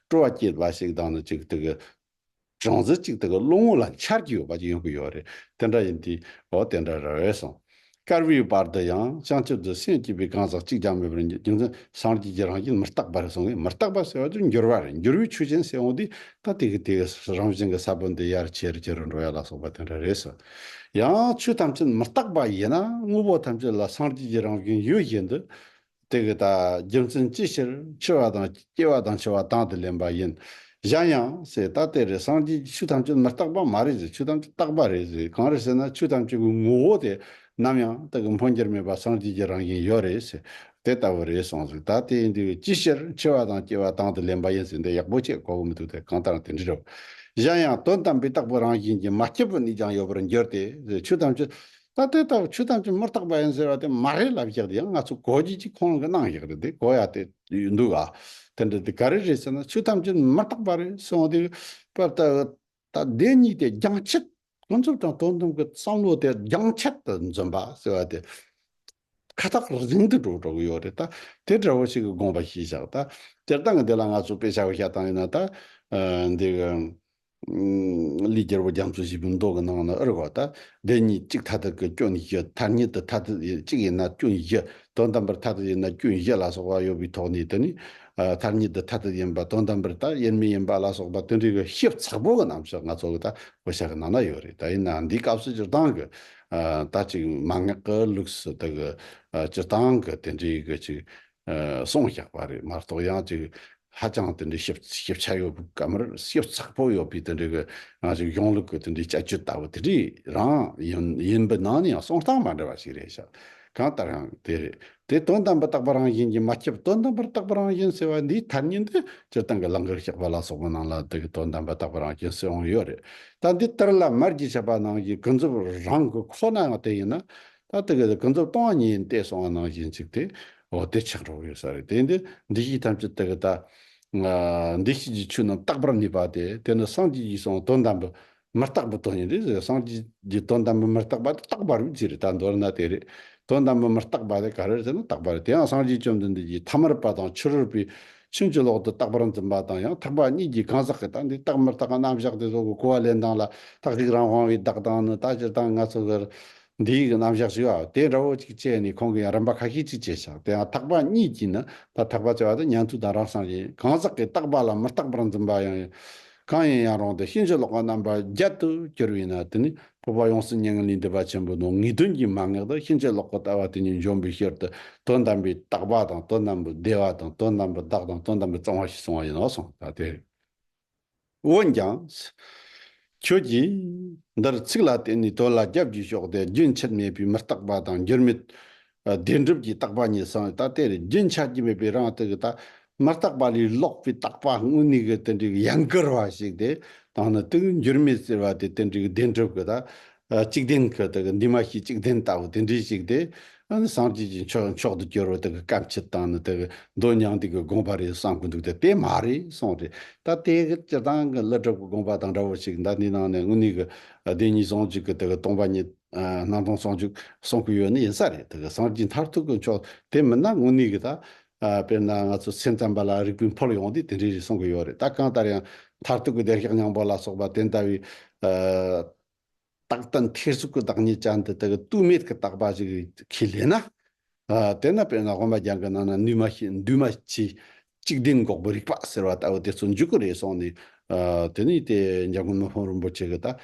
སྤྲོ་བ་སྐྱེད་པ་ཞིག་དང་ནི་ཅིག་དེ་གི་སྦྲང་རྩི་གཅིག་དེ་ག་རླུང་དངུལ་ལ་འཆར་གྱི་ཡོད་པ་ཡོང་གི་ཡོད་རེད་དེ་འདྲ་ཡིན་དུས་འོ་དེ་འདྲ་རེད་བས་སོང། སྐར་བྷིའི་བར་དུ་ཡང་བྱང་ཆུབ་ཏུ་སེམས་སྐྱེས་པའི་གང་ཟག་གཅིག་ཀྱང་མེད་པར་རྒྱུ་མཚན་སངས་རྒྱས་ཀྱི་རང་བཞིན་མི་རྟག་པ་རེད་སོང་ངས་མི་རྟག་པ་ཟེར་བ་དེ་འགྱུར་བ་རེད་འགྱུར་བའི་ཆོས་ཅན་སེལ་འོང་དུས་ད་དེ་གི་དེ་གི་རང་བཞིན་གྱི་ས་བོན་དེ་ཡར་ཆེ་རུ་ཆེ་རུ་འགྲོ་ཡ་ལ་སོགས་པ་དེ་འདྲ་རེད་ཟེར། ཡང་ཆོས་ཐམས་ཅད་མི་རྟག་པ་ཡིན་ན་དངོས་པོ་ཐམས་ཅད་ལ་སངས་རྒྱས་ཀྱི་རང་བཞིན་ཡོད་བཞིན་དུ། དེ་གི་དག་རྒྱུ་མཚན་ཅི་ཕྱིར་འཆི་བ་དང་སྐྱེ་བ་དང་འཆི་བ་དང་དུ་ལེན་པ་ཡིན། གཞན་ཡང། སེ་ད་དེ་རེ་སངས་རྒྱས་ཀྱི་ཆོས་ཐམས་ཅད་མི་རྟག་པ་མ་རེད་ཟེར་ཆོས་ཐམས་ཅད་རྟག་པ་རེད་ཟེར་གང་རེད་ཟེར་ན་ཆོས་ཐམས་ཅད་ཀྱི་ངོ་བོ་དེ་ནམ་ཡང་དག་གི་འཕོ་འགྱུར་མེད་པ་སངས་རྒྱས་ཀྱི་རང་བཞིན་ཡོད་རེད་ཟེར་དེ་ལྟ་བུ་རེད་སོང་ཟེར་ད་དེ་ཡིན་དེ་གི་ཅི་ཕྱིར་འཆི་བ་དང་སྐྱེ་བ་དང་དུ་ལེན་པ་ཡིན་ཟེར་འདི་ཡག་པོ་ཆེ་གོ་གི་མི་འདུག་སྟེ་གང་ལྟར་དེ་འདྲི་རོགས། གཞན་ཡང་དོན་དམ་པའི་རྟག་པའི་རང་བཞིན་གྱི་མ་སྐྱེས་པའི་གནས་ཀྱང་ཡོད་པར་འགྱུར་ཏེ་ཟེར་ཆོས་ཐམས་ཅད་ད་ལྟའི་ལྟ་བ་ཆོས་ཐམས་ཅད་མི་རྟག་པ་ཡིན་ཟེར་བ་དེ་མ་རེད་ལབ་ཞིག་དེ་ཡང་ང་ཚོ་གོ་རྒྱུ་གཅིག་ཁོང་གི་གནང་ཞིག་རེད་དེ་གོ་ཡ་དེ་འདུག་ཨ། དེ་འདྲ་དེ་ག་རེ་རེད་ཟེར་ན་ཆོས་ཐམས་ཅད་མི་རྟག་པ་རེད་སོང་དེ་སྐབས་ད་ད་བདེན་གཉིས་དེ་རྒྱང་ཆད་ཀུན་རྫོབ་དང་དོན་དམ་གྱི་བསམ་བློ་དེ་རྒྱང་ཆད་དུ་འཛིན་པ་ཟེར་བ་དེ་ཁ་ཐག་རིང་དུ་འགྲོ་འགྲོ་གི་ཡོད་རེད་ད། དེ་འདྲ་བོ་ཞིག་གི་དགོངས་པ་ཞིག་བཞག་ད། སྤྱིར་བཏང་གི་འདི་ལ་ང་ཚོ་དཔེ་ཆ་བོ་ཞག་བཏང་ཡོད་ན་ད། འདི་གི། ལི་རྒྱལ་པོ་རྒྱ་མཚོ་བཞི་པོའི་མདོག་གི་ནང་ན་ཨི་རེད་གོ་ད། བདེན་གཉིས་གཅིག་མཐའ་དག་གི་སྐྱོན་བཞི་མཐའ་གཉིས་དུ་མཐའ་དག་གཅིག་ཡིན་ན་སྐྱོན་བཞི་དོན་དམ་པར་མཐའ་དག་ཡིན་ན་སྐྱོན་བཞི་ལ་སོགས་པ་ཡོད་པའི་ཐོག་ནས་དེ་ནི། མཐའ་གཉིས་དུ་མཐའ་དག་ཡིན་པ་དོན་དམ་པར་ད་ཡིན་མི་ཡིན་པ་ལ་སོགས་པ་དེ་འདྲའི་གི་ཞིབ་ཚགས་པོ་གི་རྣམ་བཤད་ང་ཚོ་གི་ད་བོ་ཞག་གི་ནང་ན་ཡོད་རེད་ད་ཡིན་ན་འདིའི་སྐབས་སུ་སྤྱིར་བཏང་གི། ད་ཅིག་མ་ངག་གི་ལུགས་སུ་དེ་གི་སྤྱི་སྟངས་ཀྱི་དེ་འདྲའི་གི་ཅིག་གསུངས་བཞག་པ་རེད་མ་གཏོགས་ཡང་ཅིག་ཧ་ཅང་དེ་འདྲའི་ཞིབ་ཆ་ཡོད་པའི་ག་མེད་ཞིབ་ཚགས་པོ་ཡོད་པའི་དེ་འདྲའི་གི་ང་ཅིག་གཞུང་ལུགས་ཀྱི་དེ་འདྲའི་དཔྱད་བརྗོད་ལྟ་བུ་དེ་འདྲའི་རང་ཡིན་པའི་ནང་ནས་ཡང་གསུང་སྟངས་མ་འདྲ་བ་ཞིག་རེད་ཤག་གང་ལྟར་ཡང་དེ་དེ་དོན་དམ་པར་བརྟགས་པ་རང་བཞིན་གྱིས་མ་སྐྱེས་པ་དོན་དམ་པར་བརྟགས་པ་རང་བཞིན་ཟེར་བ་འདིའི་ཐ་སྙད་འདི་སྤྱིར་བཏང་གི་ལང་ཀར་གཤེགས་པ་ལ་སོགས་པའི་ནང་ལ་དེ་གའི་དོན་དམ་པར་བརྟགས་པ་རང་བཞིན་ཟེར་འོང་ཡོད་རེད། ད་འདི་ལྟར་ལ་མར་གྱི་བཤད་པ་ནང་བཞིན་ཀུན་རྫོབ་རང་གི་ཁོ་ནའང་དེ་ཡིན་ན། ད་དེ་ག་དེ་ཀུན་རྫོབ་སྟོང་བ་ཉིད་ཡིན་ཏེ་གསུང་བ་ནང་བཞིན་གཅིག་དེ། འོ་དེ་ཆགས་རོགས་ཡོད་ས་རེད་དེ། འདི་འདི་བཞིན་ཐམས་ཅད་དེ་ག་ད། འདི་བཞིན་གྱི་ཆོས་རྣམས་རྟག་པར་གནས་པ་དེ་དེ་ནི་སངས་རྒྱས་ཀྱིས་གསུང་བ་དོན་དམ་པའི་མི་རྟག་པའི་དོན་ཡིན་རེད་ཟེར་སངས་རྒྱས་ཀྱི་དོན་དམ་པའི་མི་རྟག་པ་དེ་རྟག་པ་རིག་ཅེས་རེད་ད་མདོར་ན་དེ་རེད། དོན་དམ་པའི་མི་རྟག་པ་དེ་ག་རེ་རེད་ཟེར་ན་རྟག་པ་རེད་དེའང་སངས་རྒྱས་བཅོམ་ལྡན་འདས་ཀྱིས་ཐ་མར་པ་དང་ཕྱི་རོལ་པའི་ཕྱིན་ཅི་ལོག་ཏུ་རྟག་པར་འཛིན་པ་དང་ཡང་དག་པ་གཉིས་ཀྱི་གང་ཟག་གི་རྟག་འདི་རྟག་མི་རྟག་གི་རྣམ་གཞག་དེ་སོགས་ཀྱི་གོ་བ་ལེན་སྟངས་ལ་རྟག་ཅིག་རང་དབང་བའི་བདག་དང་ནི་ད་སྤྱིར་བཏང་ང་ཚོ་གར་འདི་ཡི་གི་རྣམ་གཞག་ཞིག་ཨོ་དེ་འདྲ་བོ་ཅིག་སྤྱད་ནས་ཁོང་གིས་རིམ་པ་ཁ་ཤས་ཅིག་བྱས་ཤིང་དེ་ཡང་ཐག་པ་གཉིས་ཀྱིས་ནི་ད་ཐག་པ་ཅེས་པ་དེ་མྱང་ཚུལ་དང་རང་སངས་རྒྱས་ཡིན་གང་ཟག་གིས་རྟག་པ་ལ་མི་རྟག་པར་འཛིན་པ་ཡང་ཡིན། གང་ཡིན་ཡང་རུང་སྟེ་ཤིང་བྱི་ལོག་པ་རྣམ་པ་བརྒྱད་དུ་གྱུར་བས་ན་དེ་ནི་ཕུར་པ་ཡོངས་སུ་བསྙེན་ངན་ལས་འདས་པ་ཆེན་པོའི་ནོར་ངེས་དོན་གྱི་མ་ངེས་དང་ཤིང་བྱི་ལོག་པ་ལྟ་བ་དེ་གཉིས་འཇོམས་པའི་ཕྱིར་དུ་དོན་དམ་པའི་རྟག་པ་དང་དོན་དམ་པའི་བདེ་བ་དང་དོན་དམ་པའི་བདག་དང་དོན་དམ་པའི་གཙང་བ་ཞེས་གསུང་བ་ཡིན་ནོ་གསུངས་པ་དེ། འོན་ཀྱང། ཁྱོད་ཀྱིས། འདིར་ཚིག་ལ་བརྟེན་ནས་དོན་ལ་རྒྱབ་ཀྱིས་ཞོག་སྟེ་རྒྱུན་ཆད་མེད་པའི་མི་རྟག་པ་དང་འགྱུར་མེད། བདེན་གྲུབ་ཀྱི་རྟག་པ་གཉིས་གསང་བའི་རྟག་དེར་རྒྱུན་ཆད་ཀྱི་མེད་པའི་རང་རྟགས་ཀྱི་རྟག། མི་རྟག་པ་ལས་ལོག་པའི་རྟག་པ་དངོས་གནས་ཀྱི་རྟེན་འབྲེལ་གྱི་ཡན་གར་བ་ཞིག་སྟེ། དང་ནི་དེ་འགྱུར་མེད་ཟེར་བ་དེ་རྟེན་འབྲེལ་གྱི་བདེན་གྲུབ་ཀྱི་རྟག། གཅིག་བདེན་གྱི་དེ་གི་འདུས་མ་བྱས་གཅིག་བདེན་ལྟ་བུ་དེ་འདྲའི་ཞིག་དེ། སངས་རྒྱས་ཀྱི་མཆོག་མཆོག་ཏུ་གྱུར་བའི་དེ་གི་བཀའ་མཆིད་དང་ནི་དེ་གི་མདོ་མྱང་འདས་ཀྱི་དགོངས་པ་རེད་བསམ་གྱི་འདུག་སྟེ་དེ་མ་རེད་གསུངས་རེད། ད་དེ་གི་སྤྱིར་བཏང་གི་ཀླུ་སྒྲུབ་ཀྱི་དགོངས་པ་དང་འདྲ་བོ་ཞིག་ཟླ་འདིའི་ནང་ནས་དངོས་གནས་ཀྱི་བདེན་གཉིས་ཟུང་འཇུག་གི་དེ་གི་སྟོང་པ་ཉིད། སྣང་སྟོང་ཟུང་འཇུག་གསུང་གི་ཡོད་ནི་ཡིན་ས་རེད་དེ་གི་སངས་རྒྱས་མཐར་ཐུག་གི་མཆོག་དེ་མིན་ན་དངོས་གནས་ཀྱི་ད། དཔེར་ན་ང་ཚོ་སེམས་ཙམ་པ་ལ་རིག་པའི་འཕོ་ཡོང་དུས་དེ་འདྲའི་རེད་གསུང་གི་ཡོད་རེད་ད་གང་ལྟར་ཡང་མཐར་ཐུག་གི་བདེ་གཤེགས་སྙིང་པོ་ལ་སོགས་པ་དེ་ལྟ་བུའི། རྟགས་དང་ཐེར་ཟུག་གི་བདག་ཉིད་ཅན་དེ་དག་གི་ལྟོས་མེད་ཀྱི་རྟག་པ་ཞིག་གིས་ལས་ན། དེ་ན་དཔེར་ན་དབེན་པ་རྒྱང་གི་ནང་ན་འདུས་མ་བྱས་འདུས་མ་བྱས་གཅིག་བདེན་འགོག་པའི་རིག་པ་ཟེར་བ་ལྟ་བུ་དེ་ཚོ་འཇུག་གི་རེད་གསུངས་ནས། དེ་ནས་དེ་འཇང་དགོན་མི་ཕམ་རིན་པོ་ཆེ་གི་ད།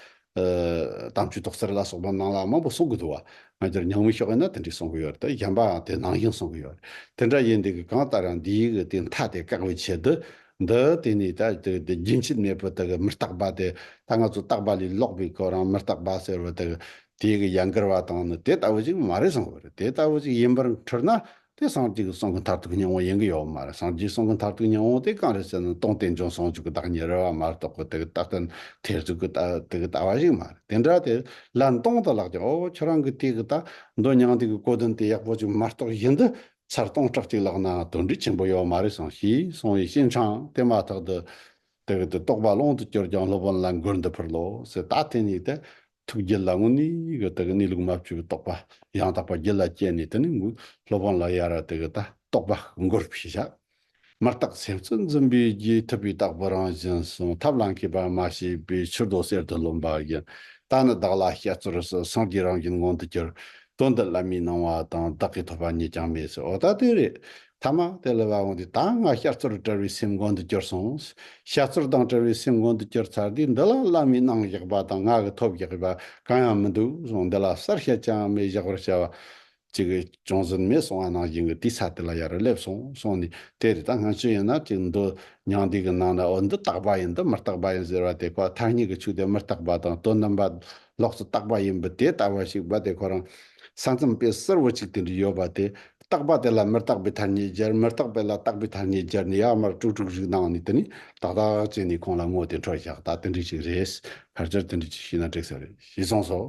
དམ་ཆོས་ཐོག་སེར་ལ་སོགས་པ་ནང་ལ་མང་པོ་གསུང་གི་འདུག་བ། ང་ཚོར་ཉང་མི་ཤོག་ཡིན་ན་དེ་འདྲས་གསུང་གི་ཡོད་རེད་དེ་གཞན་པའང་དེ་ནང་བཞིན་གསུང་གི་ཡོད་རེད། དེ་འདྲ་ཡིན་དུས་ཀྱི་གང་ལྟར་ཡང་འདིའི་གི་དེ་མཐའ་དེ་བཀག་པའི་ཆེད་དུ་འདི་དེ་ནས་ད་དེ་རྒྱུན་མཆིད་མེད་པོ་དག་མི་རྟག་པ་དེ་ད་ང་ཚོ་རྟག་པ་ལས་ལོག་པའི་སྐོར་རང་མི་རྟག་པ་ཟེར་བ་དག་དེ་གི་ཡང་འགལ་བ་དང་ནི་དེ་ལྟ་བུ་ཞིག་མ་རེད་བསམ་བར་དེ་ལྟ་བུ་ཞིག་ཡིན་པར་འཁྲུལ་ན་དེ་སངས་རྒྱས་ཀྱི་གསུང་གི་མཐར་ཐུག་སྙིང་བོ་ཡིན་གྱི་ཡོད་མ་རེད་སངས་རྒྱས་གསུང་གི་མཐར་ཐུག་སྙིང་བོ་དེ་གང་རེད་ཟེར་ན་སྟོང་རྟེན་འབྱུང་ཟུང་འཇུག་གི་བདག་ཉིད་རེད་བ་མ་རེད་རྟོག་གི་དེ་གི་རྟག་གི་ཐེར་ཟུག་གི་དེ་གི་ལྟ་བ་ཞིག་མ་རེད་དེ་འདྲ་དེ་ལན་སྟོང་དུ་ལགས་ཀྱང་ཨོ་ཁྱོད་རང་གི་དེ་གི་ལྟ་འདོད་མྱང་འདས་ཀྱི་གོ་དོན་དེ་ཡག་པོ་ཞིག་མ་རྟོགས་བཞིན་དུ་ཚར་སྟོང་ཕྲག་གཅིག་ལགས་ན་དོན་འགྲུས་ཆེན་པོ་ཡོད་མ་རེད་སོང་ཞེས་གསུང་བའི་གཤེན་ཆང་དེ་མ་ཐག་ཏུ། དེ་གི་དུ་རྟོགས་པ་ཀློང་དུ་བསྐྱུར་ཀྱང་སློབ་དཔོན་ལ་མགུར་འདི་ཕུར་ལོ་ཟེར་ད་དེ་ཉིད་དུ། ཐུགས་རྒྱུད་ལ་དངོས་གནས་གི་དེ་གི་གནས་ལུགས་མ་བཅོས་པའི་རྟོགས་པ་ཡང་དག་པ་རྒྱུད་ལ་སྐྱེས་ནས་དེ་ནི་མགུར་སློབ་དཔོན་ལ་ཡར་ར་དེ་གི་ད་རྟོགས་པ་མགུར་ཞེས་བྱ། མི་རྟག་སེམས་གཙོ་འཛིན་པའི་རྒྱུའི་ཐུབ་པའི་རྟག་པ་རང་བཞིན་གསུང་ཐབས་ལ་མཁས་པ་མ་ཤེས་པའི་ཕྱིར་རྡོ་གསེར་དུ་རློམ་པ་ཡིན། རྟགས་ནི་བདག་ལ་སྐྱེད་ཚོར་སོགས་སངས་རྒྱས་རང་བཞིན་མངོན་དུ་གྱུར། དོན་འདི་བླ་མའི་གནང་བ་དང་བདག་གིས་ཐོབ་པ་གཉིས་ཀྱང་མེད་ཟེར་འོ་ད་དེ་རེད། ཐ་མ་དེ་ལས་བ་འོངས་ཏེ་ད་སྔ་སྐྱེད་ཚོར་བྲལ་བའི་སེམས་མགོན་དུ་གྱུར་སོང། སྐྱེད་ཚོར་དང་བྲལ་བའི་སེམས་མགོན་དུ་གྱུར་ཚར་དུས་འདི་ལ་བླ་མའི་གནང་བཞག་པ་དང་ངག་གི་ཐོབ་བཞག་པ་གང་ཡང་མི་འདུག་གསུངས་འདི་ལ་གསར་བཤད་ཅང་མེད་བཞག་པར་བྱ་བ། ཅིག་གིས་ཅུང་ཟད་མེད་སོང་བ་ནང་བཞིན་གྱི་དུས་ཚ་དེ་ལ་ཡར་སླེབས་སོང་སོང་ནས་དེ་རེད་ད་སྔ་ཅི་ཡིན་ན་ཅིག་འདི་ཉང་བསྡུས་ཀྱི་ནང་ན་འོ་འདི་རྟག་པ་ཡིན་འདི་མི་རྟག་པ་ཡིན་ཟེར་བ་དེ་ཁོ་ཐ་སྙད་ཀྱི་ཆུ་དེ་མི་རྟག་པ་དང་དོན་དམ་པ་ལོག་རྩི་རྟག་པ་ཡིན་པའི་དེ་ལྟ་བ་ཞིག་བ་དེ་ཁོ་རང་ས་མཚམས་དཔེ་གསར་བུ་ཅིག་དེ་འདྲ་ཡོད་པ་དེ་རྟག་པ་དེ་ལ་མི་རྟག་པའི་ཐ་སྙད་སྦྱར་མི་རྟག་པའི་ལ་རྟག་པའི་ཐ་སྙད་སྦྱར་ནས་ཡར་མར་དཀྲུག་དཀྲུག་ཞིག་གནང་ནས་དེ་ནས་ཏག་ཏག་བྱས་ནས་ཁོང་ལ་དངོས་དེ་འཕྲོ་བཞག་ད་དེ་འདྲ་ཞིག་རེད་ཕར་ཆེར་དེ་འདྲ་ཅིག་བྱས་ན་འགྲིག་ས་རེད་ཞེས་གསུངས་སོ།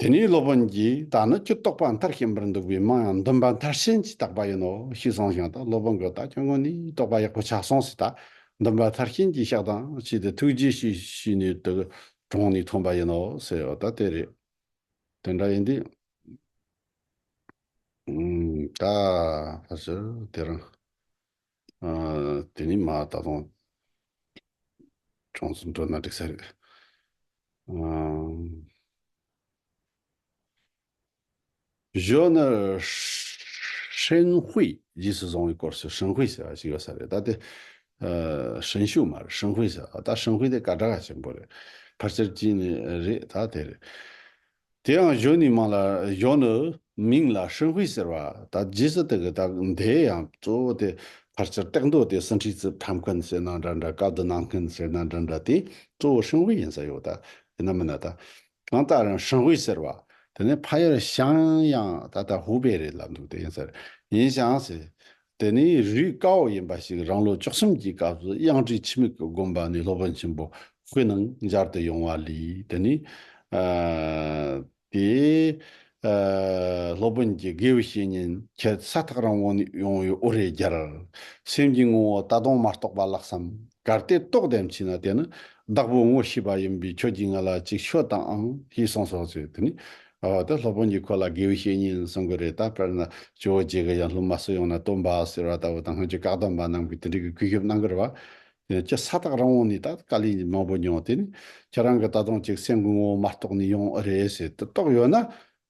དེ་ནས་སློབ་དཔོན་གྱིས་ད་ནི་ཁྱོད་རྟོག་པ་མཐར་ཕྱིན་པར་འདུག་པས་མིང་ཡང་འདུན་པ་མཐར་ཕྱིན་གྱིས་བཏགས་པ་ཡིན་ནོ་ཞེས་གསུངས་ཤིང་ད་སློབ་དཔོན་གྱིས་ད་ཁྱོད་ངོ་ནས་རྟོག་པ་ཡག་པོ་ཆགས་སོང་ཞེས་ད་འདུན་པ་མཐར་ཕྱིན་གྱིས་བཤགས་དང་བྱས་ཏེ་ཐུགས་རྗེ་ཆེ་ཞུས་ནས་དུ་དྲངས་ནས་ཐོན་པ་ཡིན་ནོ་ཟེར་བ་ད་དེ་རེད། དེ་འདྲ་ཡིན་དུས། ད་ཕར་ཕྱིན་དེ་རང། དེ་ནི་མ་ད་དུང་ཅུང་ཟད་འགྲོ་ན་འགྲིག་ས་རེད། གཞོན་ནུ་ཧྲེན་ཧུའེ་རྗེས་སུ་བཟུང་བའི་སྐོར་སུ་ཧྲིན་ཧུའེ་ཟེར་བ་ཞིག་ཡོད་ས་རེད་ད་དེ། ཧྲེན་ཞུའུ་མ་རེད་ཧྲིན་ཧུའེ་ཟེར་བ་ད་ཧྲིན་ཧུའེ་དེ་ག་དྲ་ག་ཆེན་པོ་རེད། ཕར་ཆེར་གྱིས་ནི་རེད་ད་དེ་རེད། དེའང་གཞོན་ནུའི་མིང་ལ་གཞོན་ནུ། མིང་ལ་ཧྲིན་ཧུའེ་ཟེར་བ་དང་རྗེས་སུ་དེ་གི་དག་མདའི་ཡང་གཙོ་བོ་དེ་ཕར་ཆེར་བཏེགས་མདོ་དེ་སུ་འཁྲིག་རྩིབས་ཁྲམ་མཁན་ཟེར་ན་འདྲ་འདྲ་ཀ་བདུད་ནང་མཁན་ཟེར་ན་འདྲ་འདྲ་དེ་གཙོ་བོ་ཧྲིན་ཧུའེ་ཡིན་ས་ཡོད་ད་ཡིན་ན་མིན་ན་ད། གང་ལྟར་རང་ཧྲིན་ཧུའེ་ཟེར་བ་དེ་ནི་ཕ་ཡུལ་ཞང་ཡང་ད་ལྟ་ཧུའུ་པེ་རེད་ལབ་འདུག་དེ་ཡིན་ཟེར་ཡིན་ཞང་ཟེར་དེ་ནི་རུས་བཀའ་འོག་ཡིན་པ་ཞིག་རང་ལོ་བཅུ་གསུམ་གྱི་སྐབས་སུ་དབྱངས་ཁྲིད་འཆི་མེད་ཀྱི་དགོན་པ་ནས་སློབ་དཔོན་ཆེན་པོ་ཁོའི་ནང་འབྱར་དུ་ཡོང་བ་ལས་དེ་ནི། དེ། སློབ་དཔོན་གྱི་དགེ་བའི་བཤེས་གཉེན་ཁྱེད་ས་ཐག་རིང་བོ་ནས་ཡོང་བའི་འུར་རེ་རྒྱར། སེམས་ཀྱི་ངོ་བོ་ད་དུང་མ་རྟོགས་པ་ལགས་སམ། གལ་ཏེ་རྟོགས་དེ་མཆིས་ན་དེ་ནི་བདག་པོའི་ངོ་ཤེས་པ་ཡིན་པས་ཁྱོད་ཀྱིས་ང་ལ་ཅིག་ཤོད་དང་ཨང་ཞེས་གསུངས་སོ་ཅེས་དེ་ནས་འོ་དེ་སློབ་དཔོན་གྱིས་ཁོ་ལ་དགེ་བའི་བཤེས་གཉེན་གསུང་གི་རེད་ད་དཔེར་ན་ཇོ་བོ་རྗེ་གི་ཡང་སློབ་མ་བསུ་ཡང་ན་སྟོན་པ་ཟེར་བ་ལྟ་བུ་དང་སྔོན་གྱི་བཀའ་གདམས་པ་རྣམས་ཀྱི་དེ་འབྲེལ་གྱི་གུས་ཞབས་གནང་གི་རེད་བ། ཁྱེད་ས་ཐག་རིང་བོ་ནས་ད་བཀའ་ལན་མང་པོ་མྱོང་དེ་ནི་ཁྱེད་རང་གི་ད་དུང་གཅིག་སེམས་ཀྱི་ངོ་བོ་མ་རྟོགས་ནས་ཡོང་ཨེ་རེད་ཟེར་དུ་རྟོགས་ཡོད་ན།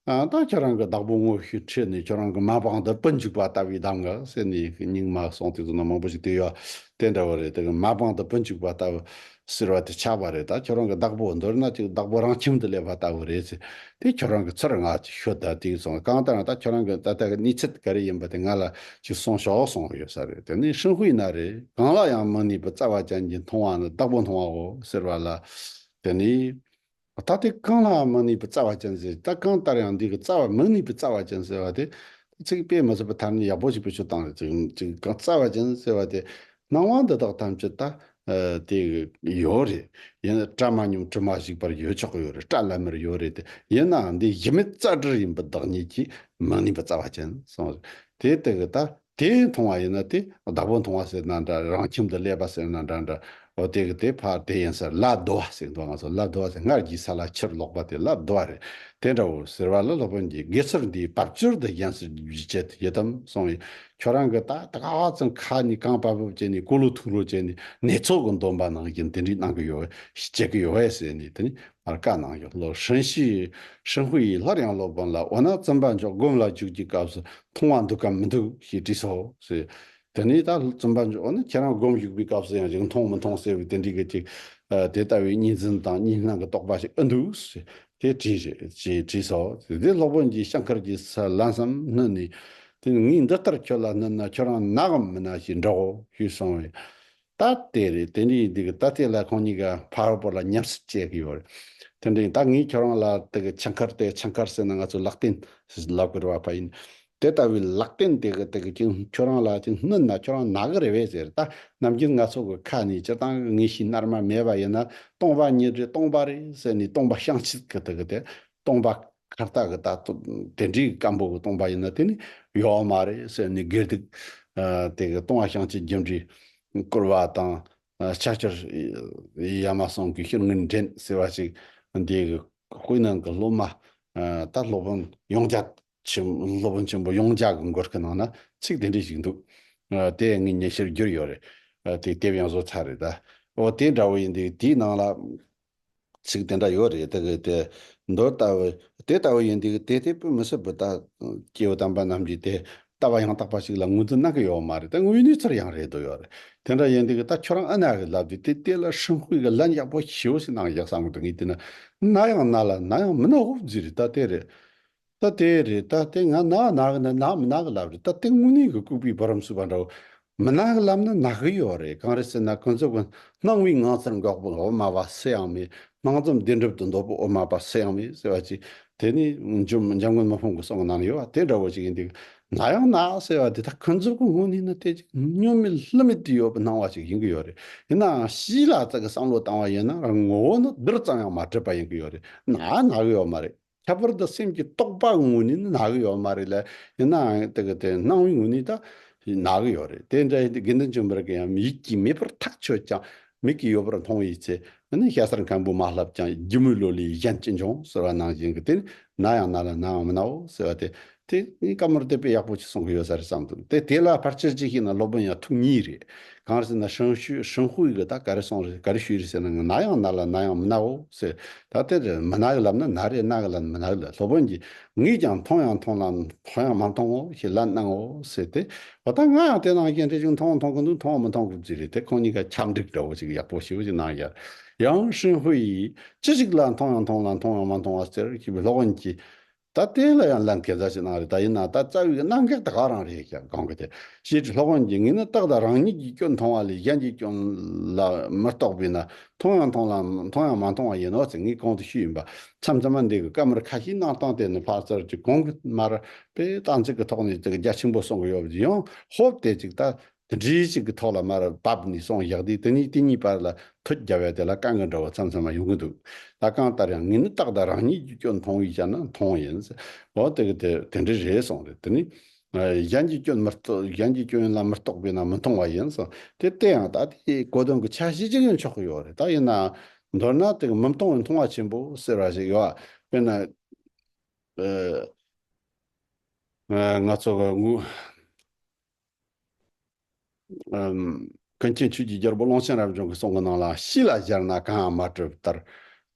ད་ཁྱེད་རང་གི་བདག་པོ་དངོས་གཞིའི་ཁྲིད་ནི་ཁྱེད་རང་གི་མ་པང་དུ་སྤུ་འཇུག་པ་ལྟ་བུའི་གདམ་ག་ཟེར་ནས་སྙིང་མ་སངས་དུས་ཚོད་ནང་མང་པོ་ཞིག་བལྟས་ཡོད་བ་དེ་འདྲ་བོ་རེད་དེ་གི་མ་པང་དུ་སྤུ་འཇུག་པ་ལྟ་བུ་ཟེར་བ་དེ་ཆགས་པ་རེད་ད་ཁྱོད་རང་གི་བདག་པོ་འདོད་ན་ཅིག་བདག་པོ་རང་ཁྱིམ་དུ་སླེབས་པ་ལྟ་བུ་རེད་ཟེར་དེ་ཁྱོད་རང་གི་ཚུར་ང་ཅིག་ཤོད་ད་དེང་སང་གང་ལྟར་ན་ད་ཁྱོད་རང་གི་ད་ལྟ་གི་གནས་ཚུལ་ག་རེ་ཡིན་པ་དེ་ང་ལ་ཅིག་གསུང་ཤོག་གསུང་ཡོད་ས་རེད་དེ་ནས་ཧྲིན་ཧུའེ་ན་རེ་གང་ལ་ཡང་མི་གནས་པའི་རྩ་བ་ཅན་གྱི་མཐོང་བ་ནི་བདག་པོ་མཐོང་བའོ་ཟེར་བ་ལ་དེ་ནས། ད་ལྟའི་རྐང་ལྷའམ་མི་ནུས་པའི་རྩ་བ་ཅན་ཟེར། ད་གང་ལྟར་ཡང་འདིའི་རྩ་བ་མི་ནུས་པའི་རྩ་བ་ཅན་ཟེར་བ་དེ། ཚིག་དཔེ་མི་བཟོད་པའི་ཐབས་ནི་ཡག་པོ་ཞིག་པའི་ཆོས་དང་རེད། རྩ་བ་ཅན་ཟེར་བ་དེ། སྣང་བ་འདི་དག་ཐམས་ཅད་ད། དེ། ཡོད་རེད། ཡིན། སྐྲ་མ་སྙོམས་དྲི་མ་བཤིག་པར་ཡོད་ཆོག་གི་ཡོད་རེད་སྐྲ་ལམ་མེར་ཡོད་རེད་དེ། ཡིན་ནའང་འདི་གཞི་མེད་རྩ་འདྲིར་ཡིན་པའི་བདག་ཉིད་ཀྱིས་མི་ནུས་པའི་རྩ་བ་ཅན་གསུངས། དེའི་སྟེང་གི་ད། དེ་མཐོང་བ་ཡིན་ན་དེ་བདག་པོ་མཐོང་བ་ཟེར་ན་འདྲ་རང་ཁྱིམ་དུ་སླེབས་པ་ཟེར་ན་འདྲ་འདྲ་འོ་དེ་གི་དེ་ཕར་དེ་ཡིན་ཟེར་སླར་བསྡུ་བ་ཟེར་འདུག་ང་ཚོ་སླར་བསྡུ་བ་ཟེར་སྔར་གྱི་ས་ལ་ཕྱིར་ལོག་པ་དེ་སླར་བསྡུ་བ་རེད་དེ་འདྲ་བོ་ཟེར་བ་ལ་སློབ་དཔོན་གྱིས་དགེ་ཚུལ་འདིའི་བབ་ཅོལ་དུ་གཞན་སུ་བརྗོད་བྱེད་དུ་ཡོད་དམ་གསུངས་ཡོད་ཁྱོད་རང་གི་ད་ལྟ་ག་བ་ཙམ་ཁ་ནས་རྐང་པ་བབ་བྱས་ནས་སྐུ་ལུ་ཐུག་ལུ་བྱས་ནས་ནེ་ཚོགས་ཀྱི་འདོམས་པ་ནང་བཞིན་དེ་འདྲའི་གནང་གི་ཡོད་བས་བྱེད་ཀྱི་ཡོད་བས་ཟེར་ནས་དེ་ནས་མར་བཀའ་གནང་ཡོད་ལོ་ཧྲིན་ཧྲིན་ཧུའེ་ཡིས་སླར་ཡང་སློབ་དཔོན་ལ་འོ་ན་བཙུན་པ་མཆོག་སྒོམ་ལ་འཇུག་རྒྱུའི་སྐབས་སུ་མཐོང་བ་འདུག་གམ་མི་འདུག་ཞེས་དྲིས་སོ། དེ་ནས་ད་རྩོམ་པ་པོ་ནི་ཁྱེད་རང་སྒོམ་བཞུགས་པའི་སྐབས་སུ་ཡང་རིག་མཐོང་མི་མཐོང་ཟེར་བའི་དེ་འདྲའི་གཅིག་དེ་ལྟ་བུའི་གཉིས་འཛིན་དང་གཉིས་སྣང་གི་རྟོག་པ་ཞིག་ཨི་འདུག། དེ་དྲིས། ཞེས་དྲིས་སོ། དེ་ནས་སློབ་དཔོན་གྱིས་ཤ་མཁར་གྱི་ས་བླ་མཚམས་བསྣུན་ནས། དེ་ནས་ངས་འདི་ལྟར་ཁྱོད་ལ་བསྣུན་ན་ཁྱོད་རང་ན་གམ་མི་ན་ཞེས་འདྲའོ་ཞེས་གསུངས་པས། ད་དེ་རེད་དེ་འདྲའི་དུས་ཀྱི་ད་ལྟའི་ལས་ཁང་གཉིས་ཀ་ཕ་རོལ་པོ་ལ་ཉམས་སད་བྱེད་ཀྱི་ཡོད་རེད་དེ་འདྲའི་ད་ངས་ཁྱོད་རང་ལ་དེ་གི་ཆང་ཁར་དེ་ཆང་ཁར་ཟེར་ན་ང་ཚོས་ལག་རྟེན་ལབ་ཀྱི་རེད་བ་ཕ་ཡིན་དེ་ལྟ་བུའི་ལག་རྟེན་དེ་གི་དེ་གི་ཅིང་ཁྱོད་རང་ལ་ཅིང་བསྣུན་ན་ཁྱོད་རང་ནག་གི་རེད་བས་ཟེར་ད་ནམ་རྒྱུན་ང་ཚོ་གི་ཁ་ནས་སྤྱིར་བཏང་གི་ངེས་ཤེས་རྣལ་མ་མེད་པ་ཡིན་ན་སྟོང་པ་ཉིད་རེད་སྟོང་པ་རེད་ཟེར་ནས་སྟོང་པ་བཤང་གཅི་གི་དེ་གི་དེ་སྟོང་པ། ཁ་བཏགས་ཀྱི་ལྟ་སྟོབས་དེ་འདྲའི་སྐམ་པོ་གཏོང་པ་ཡིན་ན་དེ་ནི་ཡོད་མ་རེད་ཟེར་ནས་སྒེར་སྡིག་དེ་ག་ཏུང་བ་ཤང་གཅིག་རྒྱུ་འབྲས་བསྐུར་བ་དང་ཕྱག་འཁྱེར་ཡ་མ་ཟུང་གི་ཤེར་དངུལ་འདྲེན་ཟེར་བ་ཞིག་འདི་གི་དབུས་ནང་གི་སློབ་མ་ད་སློབ་དཔོན་ཡོངས་རྒྱ་ཆེན་སློབ་དཔོན་ཆེན་པོ་ཡོངས་རྒྱ་གི་མགོ་སྐེ་ནང་ན་ཚིག་དེ་འདྲའི་ཞིག་འདུག་དེ་ངའི་ཉན་ཤེར་བསྒྱུར་ཡོད་རེད་དེ་དེབ་ཡང་བཟོ་ཚར་རེད་ད་ཨོ་དེ་འདྲ་བོ་ཡིན་དུས་དེའི་ནང་ལ་ཚིག་དེ་འདྲ་ཡོད་རེད་དགོས་ཏེ། མདོ་ལྟ་བུ། དེ་ལྟ་བུ་ཡིན་དུས་དེ་དེ་བོད་མི་སིལ་བུ་དག་སྐྱེ་བོ་དམ་པ་རྣམས་ཀྱིས་དེ་ལྟ་བ་ཡང་དག་པ་ཞིག་ལ་ངོས་འཛིན་གནང་གི་ཡོད་མ་རེད་དེ་དངོས་གནས་ཚུར་ཡང་རེད་དོ་ཡོད་རེད་དེ་འདྲ་ཡིན་དུས་ད་ཁྱོད་རང་ཨ་ནག་གི་ལབ་དུས་དེ་དེ་ལ་ཧྲིན་ཧུའི་གི་ལན་ཡག་པོ་ཞེ་བོ་ཞིག་གནང་ཡག་བསམ་གི་འདུག་ངས་དེ་ནི་ན་ཡང་ན་ལ་ན་ཡང་མི་ན་ཧོབ་རྫི་རེད་ད་དེ་རེད། ད་དེ་རེད་ད་དེ་ང་ནག་ནག་གི་ནི་ནག་མི་ནག་གི་ལབ་རེད་ད་དེ་དངོས་གནས་གི་ལྐུགས་པའི་བུ་རམ་གསུས་པ་འདྲ་མི་ནག་གི་ལབ་ན་ནག་གི་ཡོད་རེད་གང་རེད་ཟེར་ན་གོན་ཚོད་གོན་སྣང་བའི་ངང་ཚེར་འགག་པོ་འོ་མ་པ་སུ་ཡང་མེད་སྣང་ཙམ་བདེན་གྲུབ་ཏུ་འདོད་པོ་འོ་མ་པ་སུ་ཡང་མེད་ཟེར་བ་ཅིག་དེ་ནི་འཇུ་འཇམ་མགོན་མ་ཕུང་གི་གསུང་གི་ནང་ན་ཡོད་པ་དེ་འདྲ་བོ་ཅིག་ཡིན་འདུག་ནག་ཡང་ནག་ཟེར་བ་འདི་ད་གོན་ཚོད་གོན་དངོས་གནས་ན་དེ་ཅིག་སྨྱོན་མེད་ལྷུ་མེད་དུ་ཡོད་པའི་སྣང་བ་ཅིག་ཡིན་གི་ཡོད་རེད་ཡིན་ནའང་ཞིས་ལ་ཙག་གི་བསམ་བློ་བཏང་བ་ཡིན་ན་རང་ངོ་བོ་ནི་བདུད་ཙམ་ཡང་མ་འདྲེས་པ་ཡིན་གི་ཡོད་རེད་ནག་ནག་གི་ཡོད་མ་རེད། ཁྱད་པར་དུ་སེམས་ཀྱི་རྟོག་པ་དངོས་ནི་ནག་ཡོད་མ་རེད་ལ་ཡིན་ནའང་དེ་གི་དེ་སྣང་བའི་དངོས་ནི་ད་ནག་ཡོད་རེད་དེ་འདྲ་ཡིན་དུས་དགེ་འདུན་ཆེན་པོ་རིགས་ཡང་མིག་གིས་མེད་པར་ཐག་ཆོད་ཀྱང་མིག་གིས་ཡོད་པར་མཐོང་ཡོད་ཚེ་འདི་ནི་ཤ་སར་མཁན་པོ་མ་ལྷབ་ཀྱང་སྒྱིད་མོའི་ལོ་ལས་གཞན་ཅི་འབྱུང་ཟེར་བ་ནང་བཞིན་གྱི་དེ་ནི་ན་ཡང་ན་ལ་ནའང་མི་ནའོ་ཟེར་བ་དེ་དེ་ངས་བཀའ་མོལ་དེ་དཔེ་ཡག་པོ་ཞིག་གསུང་གི་ཡོད་ས་རེད་བསམ་འདུག་དེ་དེ་ལ་ཕར་ཆེར་ཅིག་ཤེས་ན་སློབ་དཔོན་ཡང་ཐུགས་ཉིད་རེད། གང་ཟེར་ན་ཧྲེང་ཤུས་ཧྲེང་ཧུའེ་གིས་ད་ག་རེ་གསུངས་རེད་ག་རེ་ཞུས་རེད་ཟེར་ན་ང་ན་ཡང་ན་ལ་ན་ཡང་མི་ནའོ་ཟེར། ད་དེར་མི་ན་གི་ལབ་ན་ན་རེད་ན་གི་ལབ་ན་མི་ན་གི་ལབ་སློབ་དཔོན་གྱིས་ངས་ཀྱང་མཐོང་ཡང་མཐོང་ལ་མཐོང་ཡང་མ་མཐོང་ངོ་ཞེས་ལན་གནང་ངོ་ཟེར་ཏེ་འོ་ད་ང་ཡང་དེ་ནང་བཞིན་རེ་ཞུ་མཐོང་མཐོང་གི་འདུག་མཐོང་མི་མཐོང་གི་ཅི་རེད་དེ་ཁོང་གཉིས་ཀ་ཁྱབ་འདྲིག་འདྲ་བོ་ཞིག་ཡག་པོ་ཞེ་བོ་ཞིག་གནང་ཡར། ཡང་ཧྲེང་ཧུའེ་ཡིས་ཅི་ཞིག་ལ་མཐོང་ཡང་མཐོང་ལ་མཐོང་ཡང་མ་མཐོང་བ་ཟེར་ཞེས་པའི་སློབ་དཔོན་གྱིས། ད་གཏན་ལ་ཡང་ལན་གེ་མཛད་ཅིག་གནང་རེ་ད་ཡིན་ན་ད་རྩ་བའི་གནང་སྐལ་དེ་ག་རང་རེད་ཀྱང་གང་གི་དེ་ཤེས་ཀྱི་ལྷག་དབང་གྱིས་ངས་ནི་ཏག་ཏག་རང་ཉིད་ཀྱི་སྐྱོན་མཐོང་བ་ལས་གཞན་གྱི་སྐྱོན་ལ་མི་རྟོག་པས་ན་མཐོང་ཡང་མཐོང་ལ་མཐོང་ཡང་མ་མཐོང་བ་ཡིན་ནོ་ཟེར་ངེས་གང་དུ་ཤེས་ཡིན་པ་མཚམས་མཚམས་མ་འདས་ཀྱི་སྐབས་མར་ཁ་ཤས་གནང་སྟངས་དེ་ནི་ཕག་རྩལ་གྱི་གོང་གི་མར་པས་གཏམ་ཚིག་གི་ཐོག་ནས་ཀྱང་རྒྱ་ཆེན་པོ་གསུང་གི་ཡོད་པ་དེ་ཡང་ཧོབ་སྟེ་ཅིག་ད་དེ་འདྲའི་ཞིག་གི་ཐོག་ལ་མར་བབས་ནས་སོང་བཞག་དུས་དེ་གཉིས་དེ་གཉིས་བར་ལ་ཐུད་རྒྱ་བས་དེ་ལ་རྐང་གི་འདྲ་བོ་ཚང་ཚང་མ་ཡོང་གི་འདུག་ད་གང་ལྟར་ཡང་ངས་ནི་ཏག་ཏག་རང་ཉིད་ཀྱི་སྐྱོན་མཐོང་བའི་ཤ་ན་མཐོང་ཡིན། འོ་དེ་གི་དེ་དེ་འདྲའི་རེད་སོང་རེད་དེ་ནི། གཞན་གྱི་སྐྱོན་མི་རྟོགས་གཞན་གྱི་སྐྱོན་ལ་མི་རྟོགས་པས་ན་མི་མཐོང་བ་ཡིན། དེ་ལྟས་ཡང་ད་ལྟའི་གོ་དོན་གྱི་ཆ་ཤས་གཅིག་ཡང་ཆོག་གི་ཡོད་རེད་ད་ཡིན་ནའང། མདོར་ན་དེ་གི་མི་མཐོང་བའི་མཐོང་བ་ཆེན་པོ་ཟེར་བ་ཞིག་ཡོད། དཔེར་ན། ང་ཚོ། ཀུན་མཁྱེན་ཆོས་ཀྱི་རྒྱལ་པོ་ཀློང་ཆེན་རབ་བྱུང་གི་གསུང་གི་ནང་ལ་གཤིས་ལ་གཞར་ན་གང་ཡང་མ་གྲུབ་ལྟར།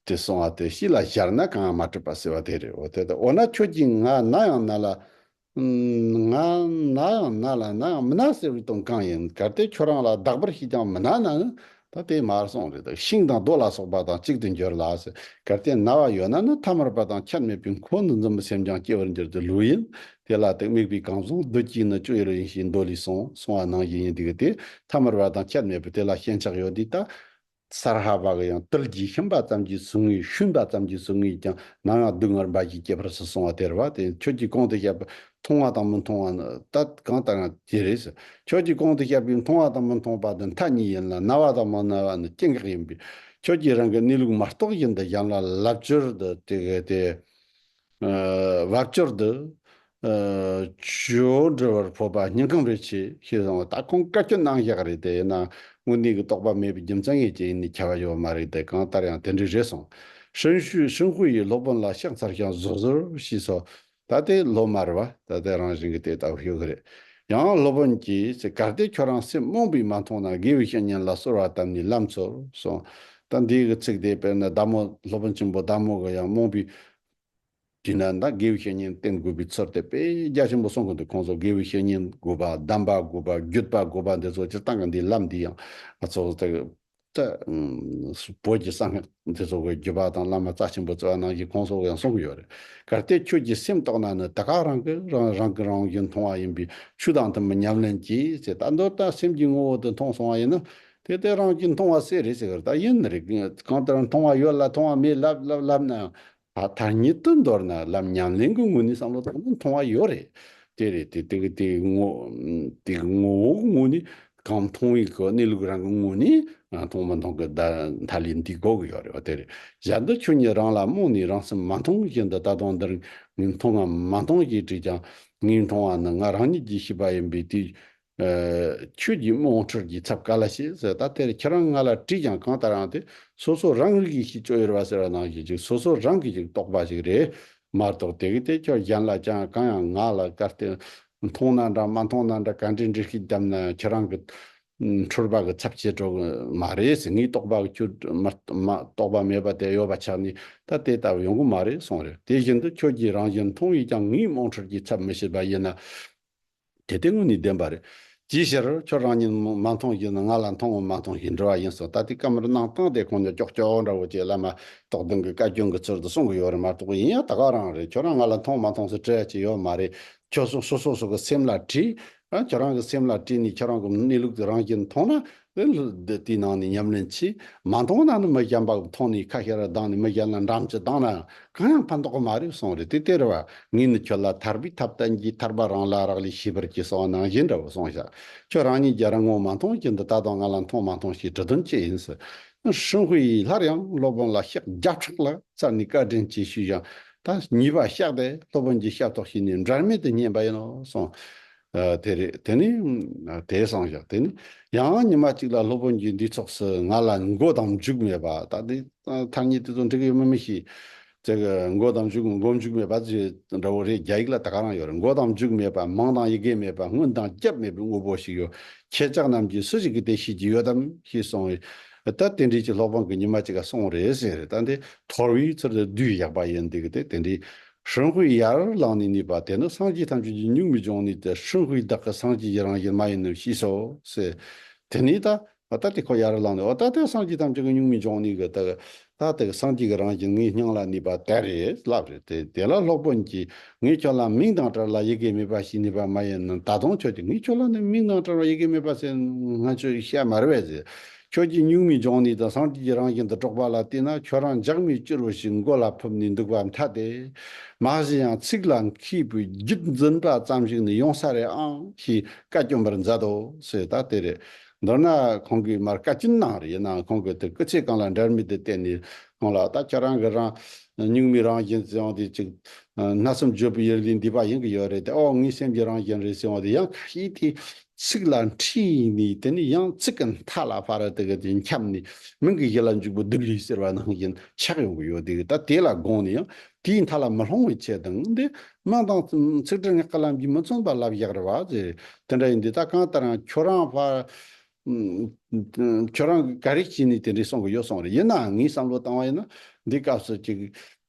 ཅེས་གསུང་བ་དེ་གཤིས་ལ་གཞར་ན་གང་ཡང་མ་གྲུབ་པ་ཟེར་བ་དེ་རེད་འོ་དེ་ལྟར་འོ་ན་ཁྱོད་ཀྱིས་ང་ན་ཡང་ན་ལ། ང་ན་ཡང་ན་ལ་ན་ཡང་མི་ན་ཟེར་བའི་དོན་གང་ཡིན་གལ་ཏེ་ཁྱོད་རང་ལ་བདག་པར་ཤེས་ཀྱང་མི་ན་ནའང་ད་ལྟའི་མར་སོང་རེད་འདུག་ཤིང་དང་རྡོ་ལ་སོགས་པ་དང་གཅིག་ཏུ་འགྱུར་ལ། གལ་ཏེ་རྣ་བ་ཡོད་ན་ནི་ཐ་མར་པ་དང་ཁྱད་མེད་པའི་འཁོར་འདི་འཛིན་པའི་སེམས་ཀྱང་སྐྱེ་བར་འགྱུར་ཏེ་ལུས་ཡིན། དེ་ལ་དེ་དམིགས་པའི་གང་ཟུང་བདུད་ཀྱིས་ནི་སྤྱོད་ཡུལ་ཡིན་ཞེས་མདོ་ལས་གསུངས། གསུང་བ་ནང་བཞིན་ཡིན་འདུག་སྟེ། ཐ་མར་པ་དང་ཁྱད་མེད་པའི་དེ་ལ་ཞེན་ཆགས་ཡོད་དུས་ད། སྭ་ར་ཧ་བ་ཀ་ཡང་ཏིལ་གྱིས་ཤིང་པ་ཙམ་གྱིས་ཟུག་ངེས་ཤུན་པ་ཙམ་གྱིས་ཟུག་ངེས་ཀྱང་ནམ་ཡང་སྡུག་བསྔལ་འབའ་ཞིག་སྐྱེད་པར་སོ་གསུང་བ་དེར་བ་དེ་ཁྱོད་ཀྱིས་གོང་དུ་བཤད་པ་མཐོང་བ་དང་མི་མཐོང་བ་ནི་ད་གང་ལྟར་ཡང་དེ་རེད། ཁྱོད་ཀྱིས་གོང་དུ་བཤད་པའི་མཐོང་བ་དང་མི་མཐོང་བ་འདི་མཐའ་གཉིས་ཡིན་ལ་རྣ་བ་དང་མ་རྣ་བ་ནི་སྐྱེ་འགག་ཡིན་པས། ཁྱོད་ཀྱིས་རང་གི་གནས་ལུགས་མ་རྟོགས་བཞིན་དུ་གཞན་ལ་ལབ་ཅོལ་དུ་དེ་གའི་དེ། བབ་ཅོལ་དུ། ཅོལ་འདྲི་བར་ཕོད་པ་སྙིང་ཁམས་རེ་ཆེ་ཞེས་གསུངས་བ་ད་ཁོང་བཀའ་བཀྱོན་གནང་བཞག་རེད་དེ་ཡིན་ནའང་དངོས་གནས་ཀྱི་རྟོགས་པ་མེད་པའི་རྒྱུ་མཚན་ངེས་ཅན་ཡིན་ནའི་ཁྱབ་པ་ཡོད་མ་རེད་དེ་གང་ལྟར་ཡང་དེ་འདྲས་རེད་སོང། ཧྲིན་ཧུའེ་ཧྲིན་ཧུའེ་ཡིས་སློབ་དཔོན་ལ་ཤག་འཚར་ཤིང་བཟོ་བཟོ་ཞེས་སོ། ད་ལྟའི་སློབ་མར་བ་ད་ལྟའི་རང་བཞིན་གྱི་དེ་ལྟ་བུ་ཤོད་ཀྱི་རེད། ཡང་སློབ་དཔོན་གྱིས་ཚེ་གར་དེ་ཁྱོད་རང་སེམས་རྨོངས་པས་མ་མཐོང་ན་དགེ་བའི་བཤེས་གཉེན་ལ་གསོལ་བ་བཏབ་ནས་ལམ་ཚོལ་གསུངས། ད་འདིའི་གི་ཚིག་དེ་དཔེར་ན་བདག་མོ་སློབ་དཔོན་ཆེན་པོ་བདག་མོ་གི་ཡང་རྨོངས་པའི། དུས་ན་ད་དགེ་བའི་བཤེས་གཉེན་བསྟེན་དགོས་པའི་ཚོར་དེ་དཔེ་རྒྱ་ཆེན་པོ་གསུངས་གི་འདུག་ཁོང་ཚོ་དགེ་བའི་བཤེས་གཉེན་དགོས་པ་གདམས་པ་དགོས་པ་བརྒྱུད་པ་དགོས་པ་འདི་ཚོ་སྤྱིར་བཏང་གི་འདིའི་ལམ་འདི་ཡང་ང་ཚོ་དག་ལྟ་བུ་ཀྱི་གསང་སྔགས་འདི་ཚོགས་པའི་བརྒྱུད་པ་དང་བླ་མ་རྩ་ཆེན་པོ་རྩ་བ་ནང་གི་ཁོང་སོགས་ཡང་གསུངས་ཀྱི་ཡོད་རེད། གལ་ཏེ་ཁྱོད་ཀྱིས་སེམས་རྟོགས་ན་ནི་དེ་ཁག་རང་གི་རང་གིས་རང་གིས་མཐོང་བ་ཡིན་པས་ཆོས་དང་དུ་མི་མཉམ་ལེན་གྱིས་ཅེས་ད་མདོར་དང་སེམས་ཀྱི་ངོ་བོ་དུ་མཐོང་སོང་བ་ཡིན་ན། དེ་ལྟའི་རང་གིས་མཐོང་བ་སེ་རེད་ཟེར་གི་རེད་ད་ཡིན་ནི་རེད་གང་ལྟར་མཐོང་བ་ཡོད་ལ་མཐོང་བ་མེད་ལབ་ལབ་ལབ་ནའང་དག་ཉིད་དུ་མདོར་ན་ལམ་ཉམས་ལེན་གྱི་ངོ་ནི་བསམ་བློ་དང་ནི་མཐོང་བ་ཡོད་རེད། དེ་རེད་དེ་དེ་གི་དེའི་ངོ། དེ་གི་ངོ་བོ་གི་ངོ་ནི་གང་མཐོང་བའི་གོ་གནས་ལུགས་རང་གི་ངོ་ནི་མཐོང་མི་མཐོང་གི་བརྡ་མཐའ་ལས་འདི་གོ་གི་ཡོད་རེད་བ་དེ་རེད། གཞན་དུ་ཁྱོད་ཉིད་རང་ལ་རྨོངས་ནས་རང་སེམས་མ་མཐོང་གི་ཞིང་འདི་ལྟ་སྟངས་འདིར་ངས་མཐོང་ངམ་མ་མཐོང་ཞེས་དྲིས་ཀྱང་ངས་མཐོང་བ་ནི་ང་རང་ཉིད་ཀྱིས་ཤེས་པ་ཡིན་པས་དེའི་ཁྱོད་ཀྱིས་རྨོངས་ཁྲོལ་གྱི་ཚབ་ག་ལ་བྱེད་ཟེར་ད་དེར་ཁྱེད་རང་ང་ལ་དྲིས་ཀྱང་གང་ལྟར་ཨང་དེ་སོ་སོ་རང་རིགས་ཀྱི་ཞིག་བཅོ་ཡུར་བ་ཟེར་བ་ནང་བཞིན་ཅིག་སོ་སོ་རང་གི་ཞིག་རྟོགས་པ་ཞིག་རེད་མ་གཏོགས་དེ་གི་དེ་ཁྱོད་གཞན་ལ་ཅང་གང་ཡང་ང་ལ་ག་ལྟེ་མཐོང་ན་འདྲ་མ་མཐོང་ན་འདྲ་ག་འདྲེ་འདྲེ་ཞིག་བརྒྱབ་ན་ཁྱེད་རང་གི་ཁྲོལ་བ་གི་ཚབ་བྱེད་འགྲོ་གི་མ་རེད་ཟེར་ངས་རྟོགས་པ་གི་ཁྱོད་རྟོགས་པ་མེད་པ་དེ་ཡོད་པ་ཆགས་ནས་ད་དེ་ལྟ་བུ་ཡོང་གི་མ་རེད་གསུངས་རེད་དེ་བཞིན་དུ་ཁྱོད་ཀྱིས་རང་བཞིན་མཐོང་ཡིས་ཀྱང་ངའི་རྨོངས་ཁྲོལ་གྱི་ཚབ་མི་བྱེད་པ་ཡིན་ན། གལ་ཏེ་དངོས་ནི་བདེན་པ་རེད། ཅིའི་ཕྱིར། ཁྱོད་རང་ཉིད་མ་མཐོང་བཞིན་དུ་ང་ལ་མཐོང་ངོ་མ་མཐོང་བཞིན་འདྲི་བ་ཡིན་སྲིད་ད་ལྟའི་སྐབས་མར་སྣང་སྟངས་དེ་ཁོང་ཉིད་ཀྱོག་ཀྱོག་འདྲ་བོ་ཅིག་ལ་མ་གཏོགས་དེང་གི་བཀའ་བཀྱོན་གྱི་ཚུལ་དུ་གསུང་གི་ཡོད་རེད་མ་གཏོགས་ཡིན་ཡང་ད་ག་རང་རེད་ཁྱོད་རང་ང་ལ་མཐོང་མ་མཐོང་སུས་དྲི་ཅི་ཡོད་མ་རེད། ཁྱོད་སོ་སོ་སོ་སོ་གི་སེམས་ལ་དྲི། ཁྱོད་རང་གི་སེམས་ལ་དྲི་ནས་ཁྱོད་རང་གི་གནས་ལུགས་དེ་རང་བཞིན་མཐོང་ན་དེ་ལ་དེ་དེའི་ནང་ནས་ཉམས་ལེན་གྱིས་མ་མཐོང་ན་ནི་མི་བྱམས་པ་གི་མཐོང་ནས་ཁ་ཤས་ར་གདངས་ནས་མི་གཞན་ལ་འགྲམ་གྱི་གདངས་ནའང་གང་ཡང་ཕན་ཐོགས་མ་རེད་གསུངས་རེད་དེ་སྟེར་བ་ངས་ནི་ཁྱོད་ལ་ཐར་པའི་ཐབས་བསྟན་གྱིས་ཐར་པ་རང་ལ་རག་ལས་ཤེས་པར་གྱིས་གསང་བ་ནང་བཞིན་འདྲ་བོ་གསུངས་བཞག་ཁྱོད་རང་ཉིད་ཀྱི་རང་ངོ་མ་མཐོང་གིན་འདི་ད་དུང་ང་ལ་མཐོང་མ་མཐོང་ཞེས་དྲི་དོན་ཅི་ཡིན་ཟེར། ཧྲིན་ཧུའེ་ཡིས་སླར་ཡང་སློབ་དཔོན་ལ་ཤག་རྒྱབ་ཕྲག་ལ་བཙལ་ནས་བཀའ་དྲིན་ཆེ་ཞུས་ཀྱང་ད་གཉིས་པ་བཤགས་ཏེ་སློབ་དཔོན་གྱི་ཞབས་ཏོག་བྱས་ནས་འབྲལ་མེད་དུ་བསྙེན་པ་ཡིན་ནོ་གསུངས། དེ་རེད་དེ་ནི། དེའི་སང་ཞག་དེ་ནི། ཡང་ཉི་མ་གཅིག་ལ་སློབ་དཔོན་གྱིས་འདི་ཚོགས་སུ་ང་ལ་མགོ་དང་མཇུག་མེད་པ་ད་ལྟའི་མཐར་ཉིད་དེ་ཚོ་འགྲིག་གི་ཡོད་མོད་མི་ཤེས། ཅེས་མགོ་དང་མཇུག་མགོ་མཇུག་མེད་པ་ཞེས་འདྲ་བོ་རེད་རྒྱ་ཡིག་ལ་ད་ག་རང་ཡོད་རེད་མགོ་དང་མཇུག་མེད་པ་མང་དང་ཡི་གེ་མེད་པ་སྔོན་དང་སྐྱབས་མེད་པའི་དངོས་པོ་ཞིག་ཡོད་ཁྱེད་ཅག་རྣམས་ཀྱིས་སུ་ཞིག་གིས་དེ་ཤེས་ཀྱི་ཡོད་དམ་ཞེས་གསུངས། ད་དེ་འདྲིས་ཀྱི་སློབ་དཔོན་གྱིས་ཉི་མ་གཅིག་ལ་སོང་རེད་ཟེར། ད་འདི་དོར་བའི་ཚུལ་དུ་བསྡུས་ཡག་པ་ཡིན་འདུག་སྟེ་དེ་འདྲིས་ཧྲིན་ཧུའེ་ཡར་བླངས་ནས་གནས་པ་དེ་ནི་སངས་རྒྱས་ཐམས་ཅད་ཀྱི་གཉུག་མའི་འབྱུང་གནས་ཏེ་ཧྲིན་ཧུའེ་བདག་གི་སངས་རྒྱས་ཀྱི་རང་བཞིན་མ་ཡིན་ནོ་ཞེས་སོ། དེ་ནས་ད་ལྟ་དེ་ཁོ་ཡར་བླངས་ནས་འོ་ད་དེ་སངས་རྒྱས་ཐམས་ཅད་ཀྱི་གཉུག་མའི་འབྱུང་གནས་ཀྱི་དག་ད་ད་གི་སངས་རྒྱས་ཀྱི་རང་བཞིན་ངའི་སྙིང་ལ་གནས་པ་དེ་རེད་ལབ་རེད་དེ་དེ་ལ་སློབ་དཔོན་གྱིས་ངས་ཁྱོད་ལ་མིག་མདངས་བཀྲ་ལ་ཡི་གེ་མེད་པ་ཞིག་གནས་པ་མ་ཡིན་ནམ་ད་དུང་ཁྱོད་ཀྱིས་ངས་ཁྱོད་ལ་ནི་མིག་མདངས་བཀྲ་བ་ཡི་གེ་མེད་པ་ཟེར་ང་ཚོས་བཤད་མ་རེད་བས་ཟེར་ཁྱོད་ཀྱིས་སྨྱུག་མིང་སྦྱོང་ནས་དེང་སང་ཁྱོད་ཀྱི་རང་བཞིན་དུ་དཀྲོགས་པ་ལ་བལྟས་ན་ཁྱོད་རང་ལྗགས་མི་བསྐྱུར་བ་ཞིག་མགོ་ལ་ཕུབ་ནས་འདུག་པ་མཐའ་སྟེ། མ་གཞི་ཡང་ཚིག་ལ་མཁས་པའི་རྒྱུད་འཛིན་པ་ཙམ་ཞིག་ནི་ཡོང་ས་རེད་ཨང་ཞེས་བཀའ་བཀྱོན་པར་མཛད་དོ་ཟེར་ད་དེ་རེད། མདོར་ན་ཁོང་གིས་མར་བཀའ་བཀྱོན་གནང་རེ་གནང་ཁོང་གིས་དེ་སྐུ་ཚེ་གང་ལ་འདྲར་མི་དེ་བལྟས་ནས་ཁོང་ལ་ད་ཁྱོད་རང་གི་རང་སྨྱུག་མིང་རང་བཞིན་ཟེར་བ་དེ་ཅིག། སྣ་གསུམ་བརྗོད་པའི་ཡུལ་འདི་འདི་པ་ཡིན་གྱི་ཡོད་རེད་དེ་ཨོ་ངའི་སེམས་ཀྱི་རང་བཞིན་རེད་ཟེར་བ་དེ་ཡང་ཁ་ཤས་དེ་ཚིག་ལ་འཁྲིས་ཡིག་ནི་དེ་ནི་ཡང་ཚིག་གི་མཐའ་ལ་བྷ་ར་ཏི་ག་དེ་འཁྱམས་ནས་མིང་གི་གཞི་ལ་འཇུག་པའི་སྡུད་ལུས་ཟེར་བ་ནང་བཞིན་ཆགས་ཡོང་གི་ཡོད་དེ་ད་དེ་ལ་དགོངས་ནས་ཡང་དེའི་མཐའ་ལ་མི་ལྷུང་བའི་ཆེད་དང་འདི་སྨྲ་དང། ཚིག་སྒྲིལ་ངག་གི་ལམ་གྱིས་མི་མཚོན་པ་ལབ་བཞག་རེད་བ། དེ་འདྲ་ཡིན་དུས་ད་གང་ལྟར་ཡང་ཁྱོད་རང་བྷ། ཁྱོད་རང་གིས་ག་རེ་བྱས་ནས་དེ་འདྲས་གསུངས་གི་ཡོད་གསུངས་རེད་ཡིན་ནའང་ངས་བསམ་བློ་བཏང་བ་ཡིན་ན་འདིའི་སྐབས་སུ་གཅིག་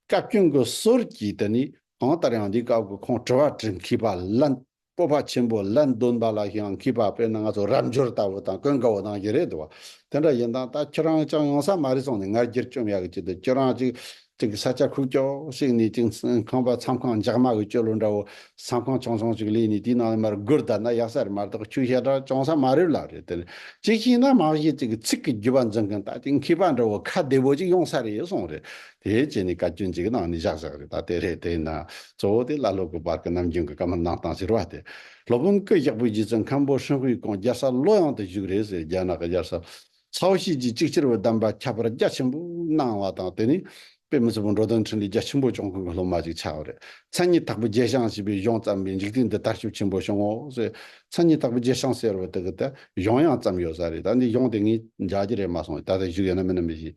བཀའ་བཀྱོན་གྱི་ཟོལ་གྱིས་དེ་ནི་གང་ལྟར་ཡང་འདིའི་སྐབས་ཀྱི་ཁོང་དྲི་བ་དྲི་མཁས་པ་ལ། སྤོབས་པ་ཆེན་པོ་ལ་འདོན་པ་ལ་ཡང་གུས་པ་དཔེར་ན་ང་ཚོ་རབ་འབྱོར་ལྟ་བུ་དང་ཀུན་དགའ་བོ་དང་བཞི་རེད་འདུག་དེ་འདྲ་ཡིན་དང་ད་ཁྱེད་རང་ཅག་ཡོང་ས་མ་རེད་སོང་ནས་ང་རྒྱལ་བཅོམ་ཡག་གི་བྱེད་དུ་ཁྱེད་རང་ཅིག་ཅིག་ས་ཆ་ཁུག་ཀྱོག་ཞིག་ནས་ཅིག་ཁང་པ་མཚམས་ཁང་འཇག་མ་གི་སྐྱོ་ལོ་འདྲ་བོ་ས་ཁང་ཆུང་ཆུང་ཅིག་གླས་ནས་དེའི་ནང་ནས་མར་སྒུར་བསྡད་ན་ཡག་ས་རེད་མ་གཏོགས་ཁྱོད་ཤ་ཁྲག་བྱུང་ས་མ་རེད་ལབ་རེད་དེ་ཅིག་བྱས་ན་མ་གཞི་ཅིག་ཚིག་གི་རྒྱུ་བ་འཛིན་མཁན་ད་ཅིག་མཁས་པ་འདྲ་བོ་ཁ་བདེ་བོ་ཅིག་ཡོང་ས་རེད་སོང་རེད་དེའི་རྗེས་ནས་བཀའ་བཀྱོན་བྱེད་ཀྱི་ནང་ནས་བཞག་བཞག་རེད་ད་ལྟའི་རེ་བལྟས་ན། གཙོ་བོ་དེ་བླ་སློབ་ཀྱི་བར་གྱི་ནམ་རྒྱུན་གྱི་བཀའ་མོལ་གནང་སྟངས་ཟེར་བ་དེ། སློབ་དཔོན་སྐུ་གཤེགས་པོ་རྗེ་བཙུན་མཁན་པོ་ཧྲིན་ཧུའེ་ཀོང་རྒྱལ་སར་བློ་ཡང་དུ་བཞུགས་རེད་ཟེར་རྒྱ་ནག་གི་དབྱར་ས། ཚའོ་ཤིས་ཀྱིས་གཅིག་ཕྱིར་བའི་གདམས་པ་ཁྱབ་པར་རྒྱ་ཆེན་པོ་གནང་བ་དང་དེ་ནས། དཔེ་མི་ཚུལ་བུ་འགྲོ་དོན་འཕྲིན་ལས་རྒྱ་ཆེན་པོ་བྱུང་ཁུངས་ཀྱི་སློབ་མ་ཅིག་ཆགས་པ་རེད། མཚན་ཉིད་དྭགས་པོ་རྒྱལ་ཞང་ཞེས་པའི་གཞུང་བརྩམས་པས་འཇིག་རྟེན་འདི་དར་ཤུགས་ཆེན་པོ་བྱུང་ངོ་ཟེར། མཚན་ཉིད་དྭགས་པོ་རྒྱལ་ཞང་ཟེར་བ་དེ་གི་ད་གཞུང་ཡང་བརྩམས་ཡོད་ས་རེད་ད་འདི་གཞུང་དེ་ངས་འཇགས་ཀྱི་རེད་མ་སོང་ད་ལྟ་བཞུགས་ཡོད་ན་མིན་ན་མི་ཤེས།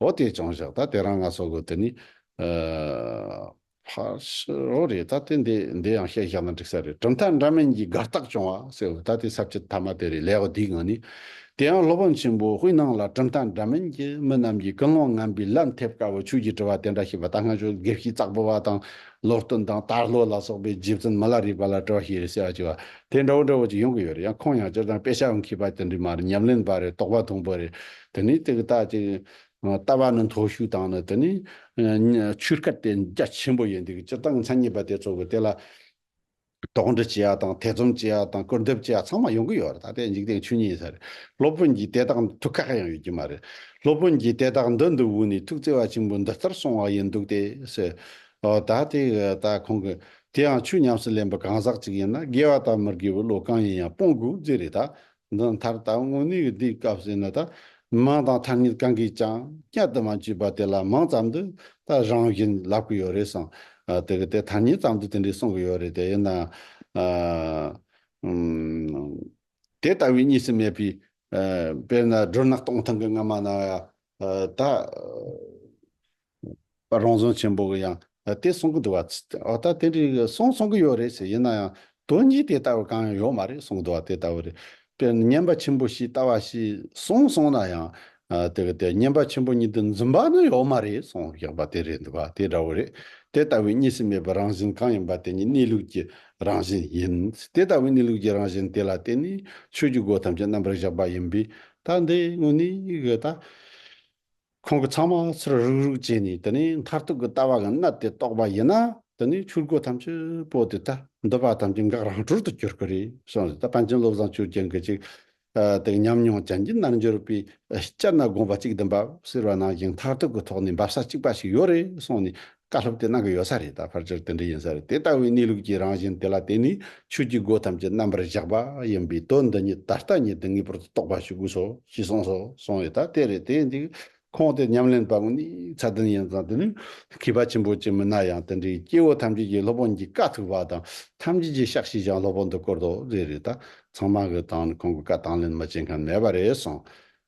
ཨོ་དེས་ཀྱང་བཞག་ད་དེ་རང་ང་སོགས་གོ་དེ་ནི། ཕར་ཕྱི་རོ་རེད་ད་དེ་འདི་འདི་ཡང་བཤད་བཞག་ན་འགྲིག་ས་རེད་གྲུབ་མཐའ་འདྲ་མིན་གྱི་དགར་རྟགས་བྱུང་བ་སེ་འོ་ད་དེ་ཚབ་བྱེད་ཐ་མ་དེ་རེད་ལེའོ་དེའི་ངང་ནས། དེ་ཡང་སློབ་དཔོན་ཆེན་པོ་དབུས་ནང་ལ་གྲུབ་མཐའ་འདྲ་མིན་གྱི་མི་རྣམས་ཀྱིས་ཀུན་སློང་ངན་པའི་ལན་ཐེབས་དཀའ་བའི་ཆོས་ཀྱི་དྲི་བ་དེ་འདྲ་ཞིག་བ་ད་སྔ་ཆོས་དགེ་བཤེས་ཙག་པོ་བ་དང་ལོ་སྟོན་དང་དར་ལྷོ་ལ་སོགས་པའི་རྗེ་བཙུན་མི་ལ་རིགས་པ་ལ་དྲི་བ་ཞིག་རེད་ཟེར་བ་ཅིག་བ་དེ་འདྲ་བོ་འདྲ་བོ་ཅིག་ཡོང་གི་ཡོད་རེད་ཡང་ཁོང་ཡང་སྤྱིར་བཏང་དཔེ་ཆ་འཁྱིལ་པ་དེ་འདྲའི་མ་རེད་ཉམས་ལེན་པ་རེད་དོགས་པ་ཐུང་པོ་རེད་དེ་ནས་དེ་གི་ལྟ་ཅིག། ལྟ་བ་ནི་མཐོ་ཤོས་དང་ནི་དེ་ནི། ཆོས་སྐལ་ཏེ་རྒྱ་ཆེན་པོ་ཡིན་འདི་གི་སྤྱིར་བཏང་མཚན་ཉིད་པ་དེ་ཚོགས་ཀྱི་དེ་ལ། དོགས་འདྲི་བྱེད་ཡ་དང་ཐེ་ཚོམ་བྱེད་ཡ་དང་བཀུར་འདེབས་བྱེད་ཡ་ཚང་མ་ཡོང་གི་ཡོད་རེད་ད་ལྟའི་འཇིག་རྟེན་ཆོས་ཉིད་ས་རེད་སློབ་དཔོན་གྱིས་དེ་དག་ཐུགས་ཁག་ཡང་ཡོད་ཀྱི་མ་རེད་སློབ་དཔོན་གྱིས་དེ་དག་འདི་འདི་དབུས་ནས་ཐུགས་བརྩེ་བ་ཆེན་པོས་འདི་ལྟར་གསུང་བ་ཡིན་འདུག་སྟེ་ཟེར། འོ་ད་དེ་གི་ལྟ་ཁོང་གི་དེའང་ཆོས་ཉམས་སུ་ལེན་པའི་གང་ཟག་ཅིག་ཡིན་ན་དགེ་བ་དང་མི་དགེ་བའི་བློ་གང་ཡིན་ཡང་སྤོང་དགོས་རྒྱུ་རེད་ད་འདི་མཐར་ལྟ་དངོས་གནས་ཀྱི་དེའི་སྐབས་ཟེར་ནི་ད་མིང་དང་ཐ་སྙད་གང་གིས་ཀྱང་བསྐྱར་དུ་མ་བརྗོད་པ་དེ་ལ་མིང་ཙམ་དུ་ད་རང་བཞིན་ལབ་གི་ཡོད་རེད་གསུངས། དེ་གི་དེ་ཐ་སྙད་ཙམ་དུ་དེ་འདྲས་གསུངས་གི་ཡོད་རེད་དེ་ཡིན་ནའང། དེ་ལྟ་བུའི་གཉིས་སུ་མེད་པའི། དཔེར་ན་སྦྲུལ་ནག་སྟོང་ཐུང་གི་རྔ་མ་ནང་ཡང་ད་བར་རང་བྱུང་ཆེན་པོ་གི་ཡང་དེ་གསུང་གི་འདུག་བ། འོ་ད་དེ་འདྲའི་གསུང་གསུང་གི་ཡོད་རེད་ཟེར་ཡིན་ན་ཡང་དོན་གཉིས་དེ་ལྟ་བུ་གང་ཡང་ཡོད་མ་རེད་གསུང་གི་འདུག་བ་དེ་ལྟ་བུ་རེད། དཔེར་ན་བསྙེན་པ་ཆེན་པོ་ཞིག་ལྟ་བ་ཞིག་གསུང་གསུང་ན་ཡང་དེ་གི་དེ་བསྙེན་པ་ཆེན་པོ་གཉིས་དེ་འཛིན་པ་ནི་ཡོད་མ་རེད་གསུང་གི་བ་དེ་རེད་འདུག་བ་དེ་འདྲ་བུ་རེད། དེ་ལྟ་བུའི་གཉིས་སུ་མེད་པའི་རང་བཞིན་གང་ཡིན་པ་དེ་ཉིད་གནས་ལུགས་ཀྱི་རང་བཞིན་ཡིན། དེ་ལྟ་བུའི་གནས་ལུགས་ཀྱི་རང་བཞིན་དེ་ལ་བརྟེན་ནས་ཆོས་ཀྱི་སྒོ་ཐམས་ཅད་རྣམ་པར་བཞག་པ་ཡིན་པས་སྐབས་འདིའི་དངོས་གནས་ཀྱི་ལྟ་ཁོང་གི་ཚང་མ་ཚུར་རུག་རུག་བྱས་ནས་དེ་ནས་མཐར་ཐུག་གི་ལྟ་བ་གི་གནད་དེ་རྟོགས་པ་ཡིན་ན་དེ་ནས་ཆོས་སྒོ་ཐམས་ཅད་པོ་དེ་ལྟ་འདོད་པ་ཐམས་ཅད་འགག་རང་གྲོལ་དུ་གྱུར་གི་རེད་གསུངས་རེད་ད་པཎ་ཆེན་བློ་བཟང་ཆོས་རྒྱལ་འགའ་ཞིག་དེ་ཉམས་མྱོང་ཅན་གྱི་རྣལ་འབྱོར་པས་སྤྱིར་ན་དགོངས་པ་གཅིག་དུ་འབབ་ཟེར་བ་ནང་བཞིན་མཐར་ཐུག་གི་ཐོག་ནས་འབབ་ས་གཅིག་པ་ཞིག་ཡོད་རེད་གསུངས་ནས་བཀའ་སློབ་དེ་གནང་གི་ཡོད་ས་རེད་ད་ཕར་ཆེར་དེ་འདྲ་ཡིན་ས་རེད་དེ་ལྟ་བུའི་གནས་ལུགས་ཀྱི་རང་བཞིན་དེ་ལ་བརྟེན་ནས་ཆོས་ཀྱི་སྒོ་ཐམས་ཅད་རྣམ་པར་བཞག་པ་ཡིན་པས་དོན་འདི་ཉིད་ད་ལྟ་ཉིད་དུ་ངེས་པར་དུ་རྟོགས་པ་ཞུ་དགོས་སོ་ཞེས་གསུངས་སོ་གསུངས་ཡོད་ད་དེ་རེད་དེ་འདི་ཁོང་དེ་ཉམས་ལེན་པ་ནི་ཚད་ལྡན་ཡིན་ཙང་དེ་ནི་མཁས་པ་ཆེན་པོ་ཅིག་མིན་ན་ཡང་དེ་འདྲའི་སྐྱེ་བོ་ཐམས་ཅད་ཀྱི་སློབ་དཔོན་གྱི་བཀའ་ཐུབ་པ་དང་ཐམས་ཅད་ཀྱི་བཤགས་ཤིས་ཀྱང་སློབ་དཔོན་དུ་བསྐུར་དོ་རེད་རེད་ད་ཚང་མ་གི་དང་ནི་ཁོང་གི་བཀའ་དང་ལེན་མི་བྱེད་མཁན་མེད་པ་རེད་གསུངས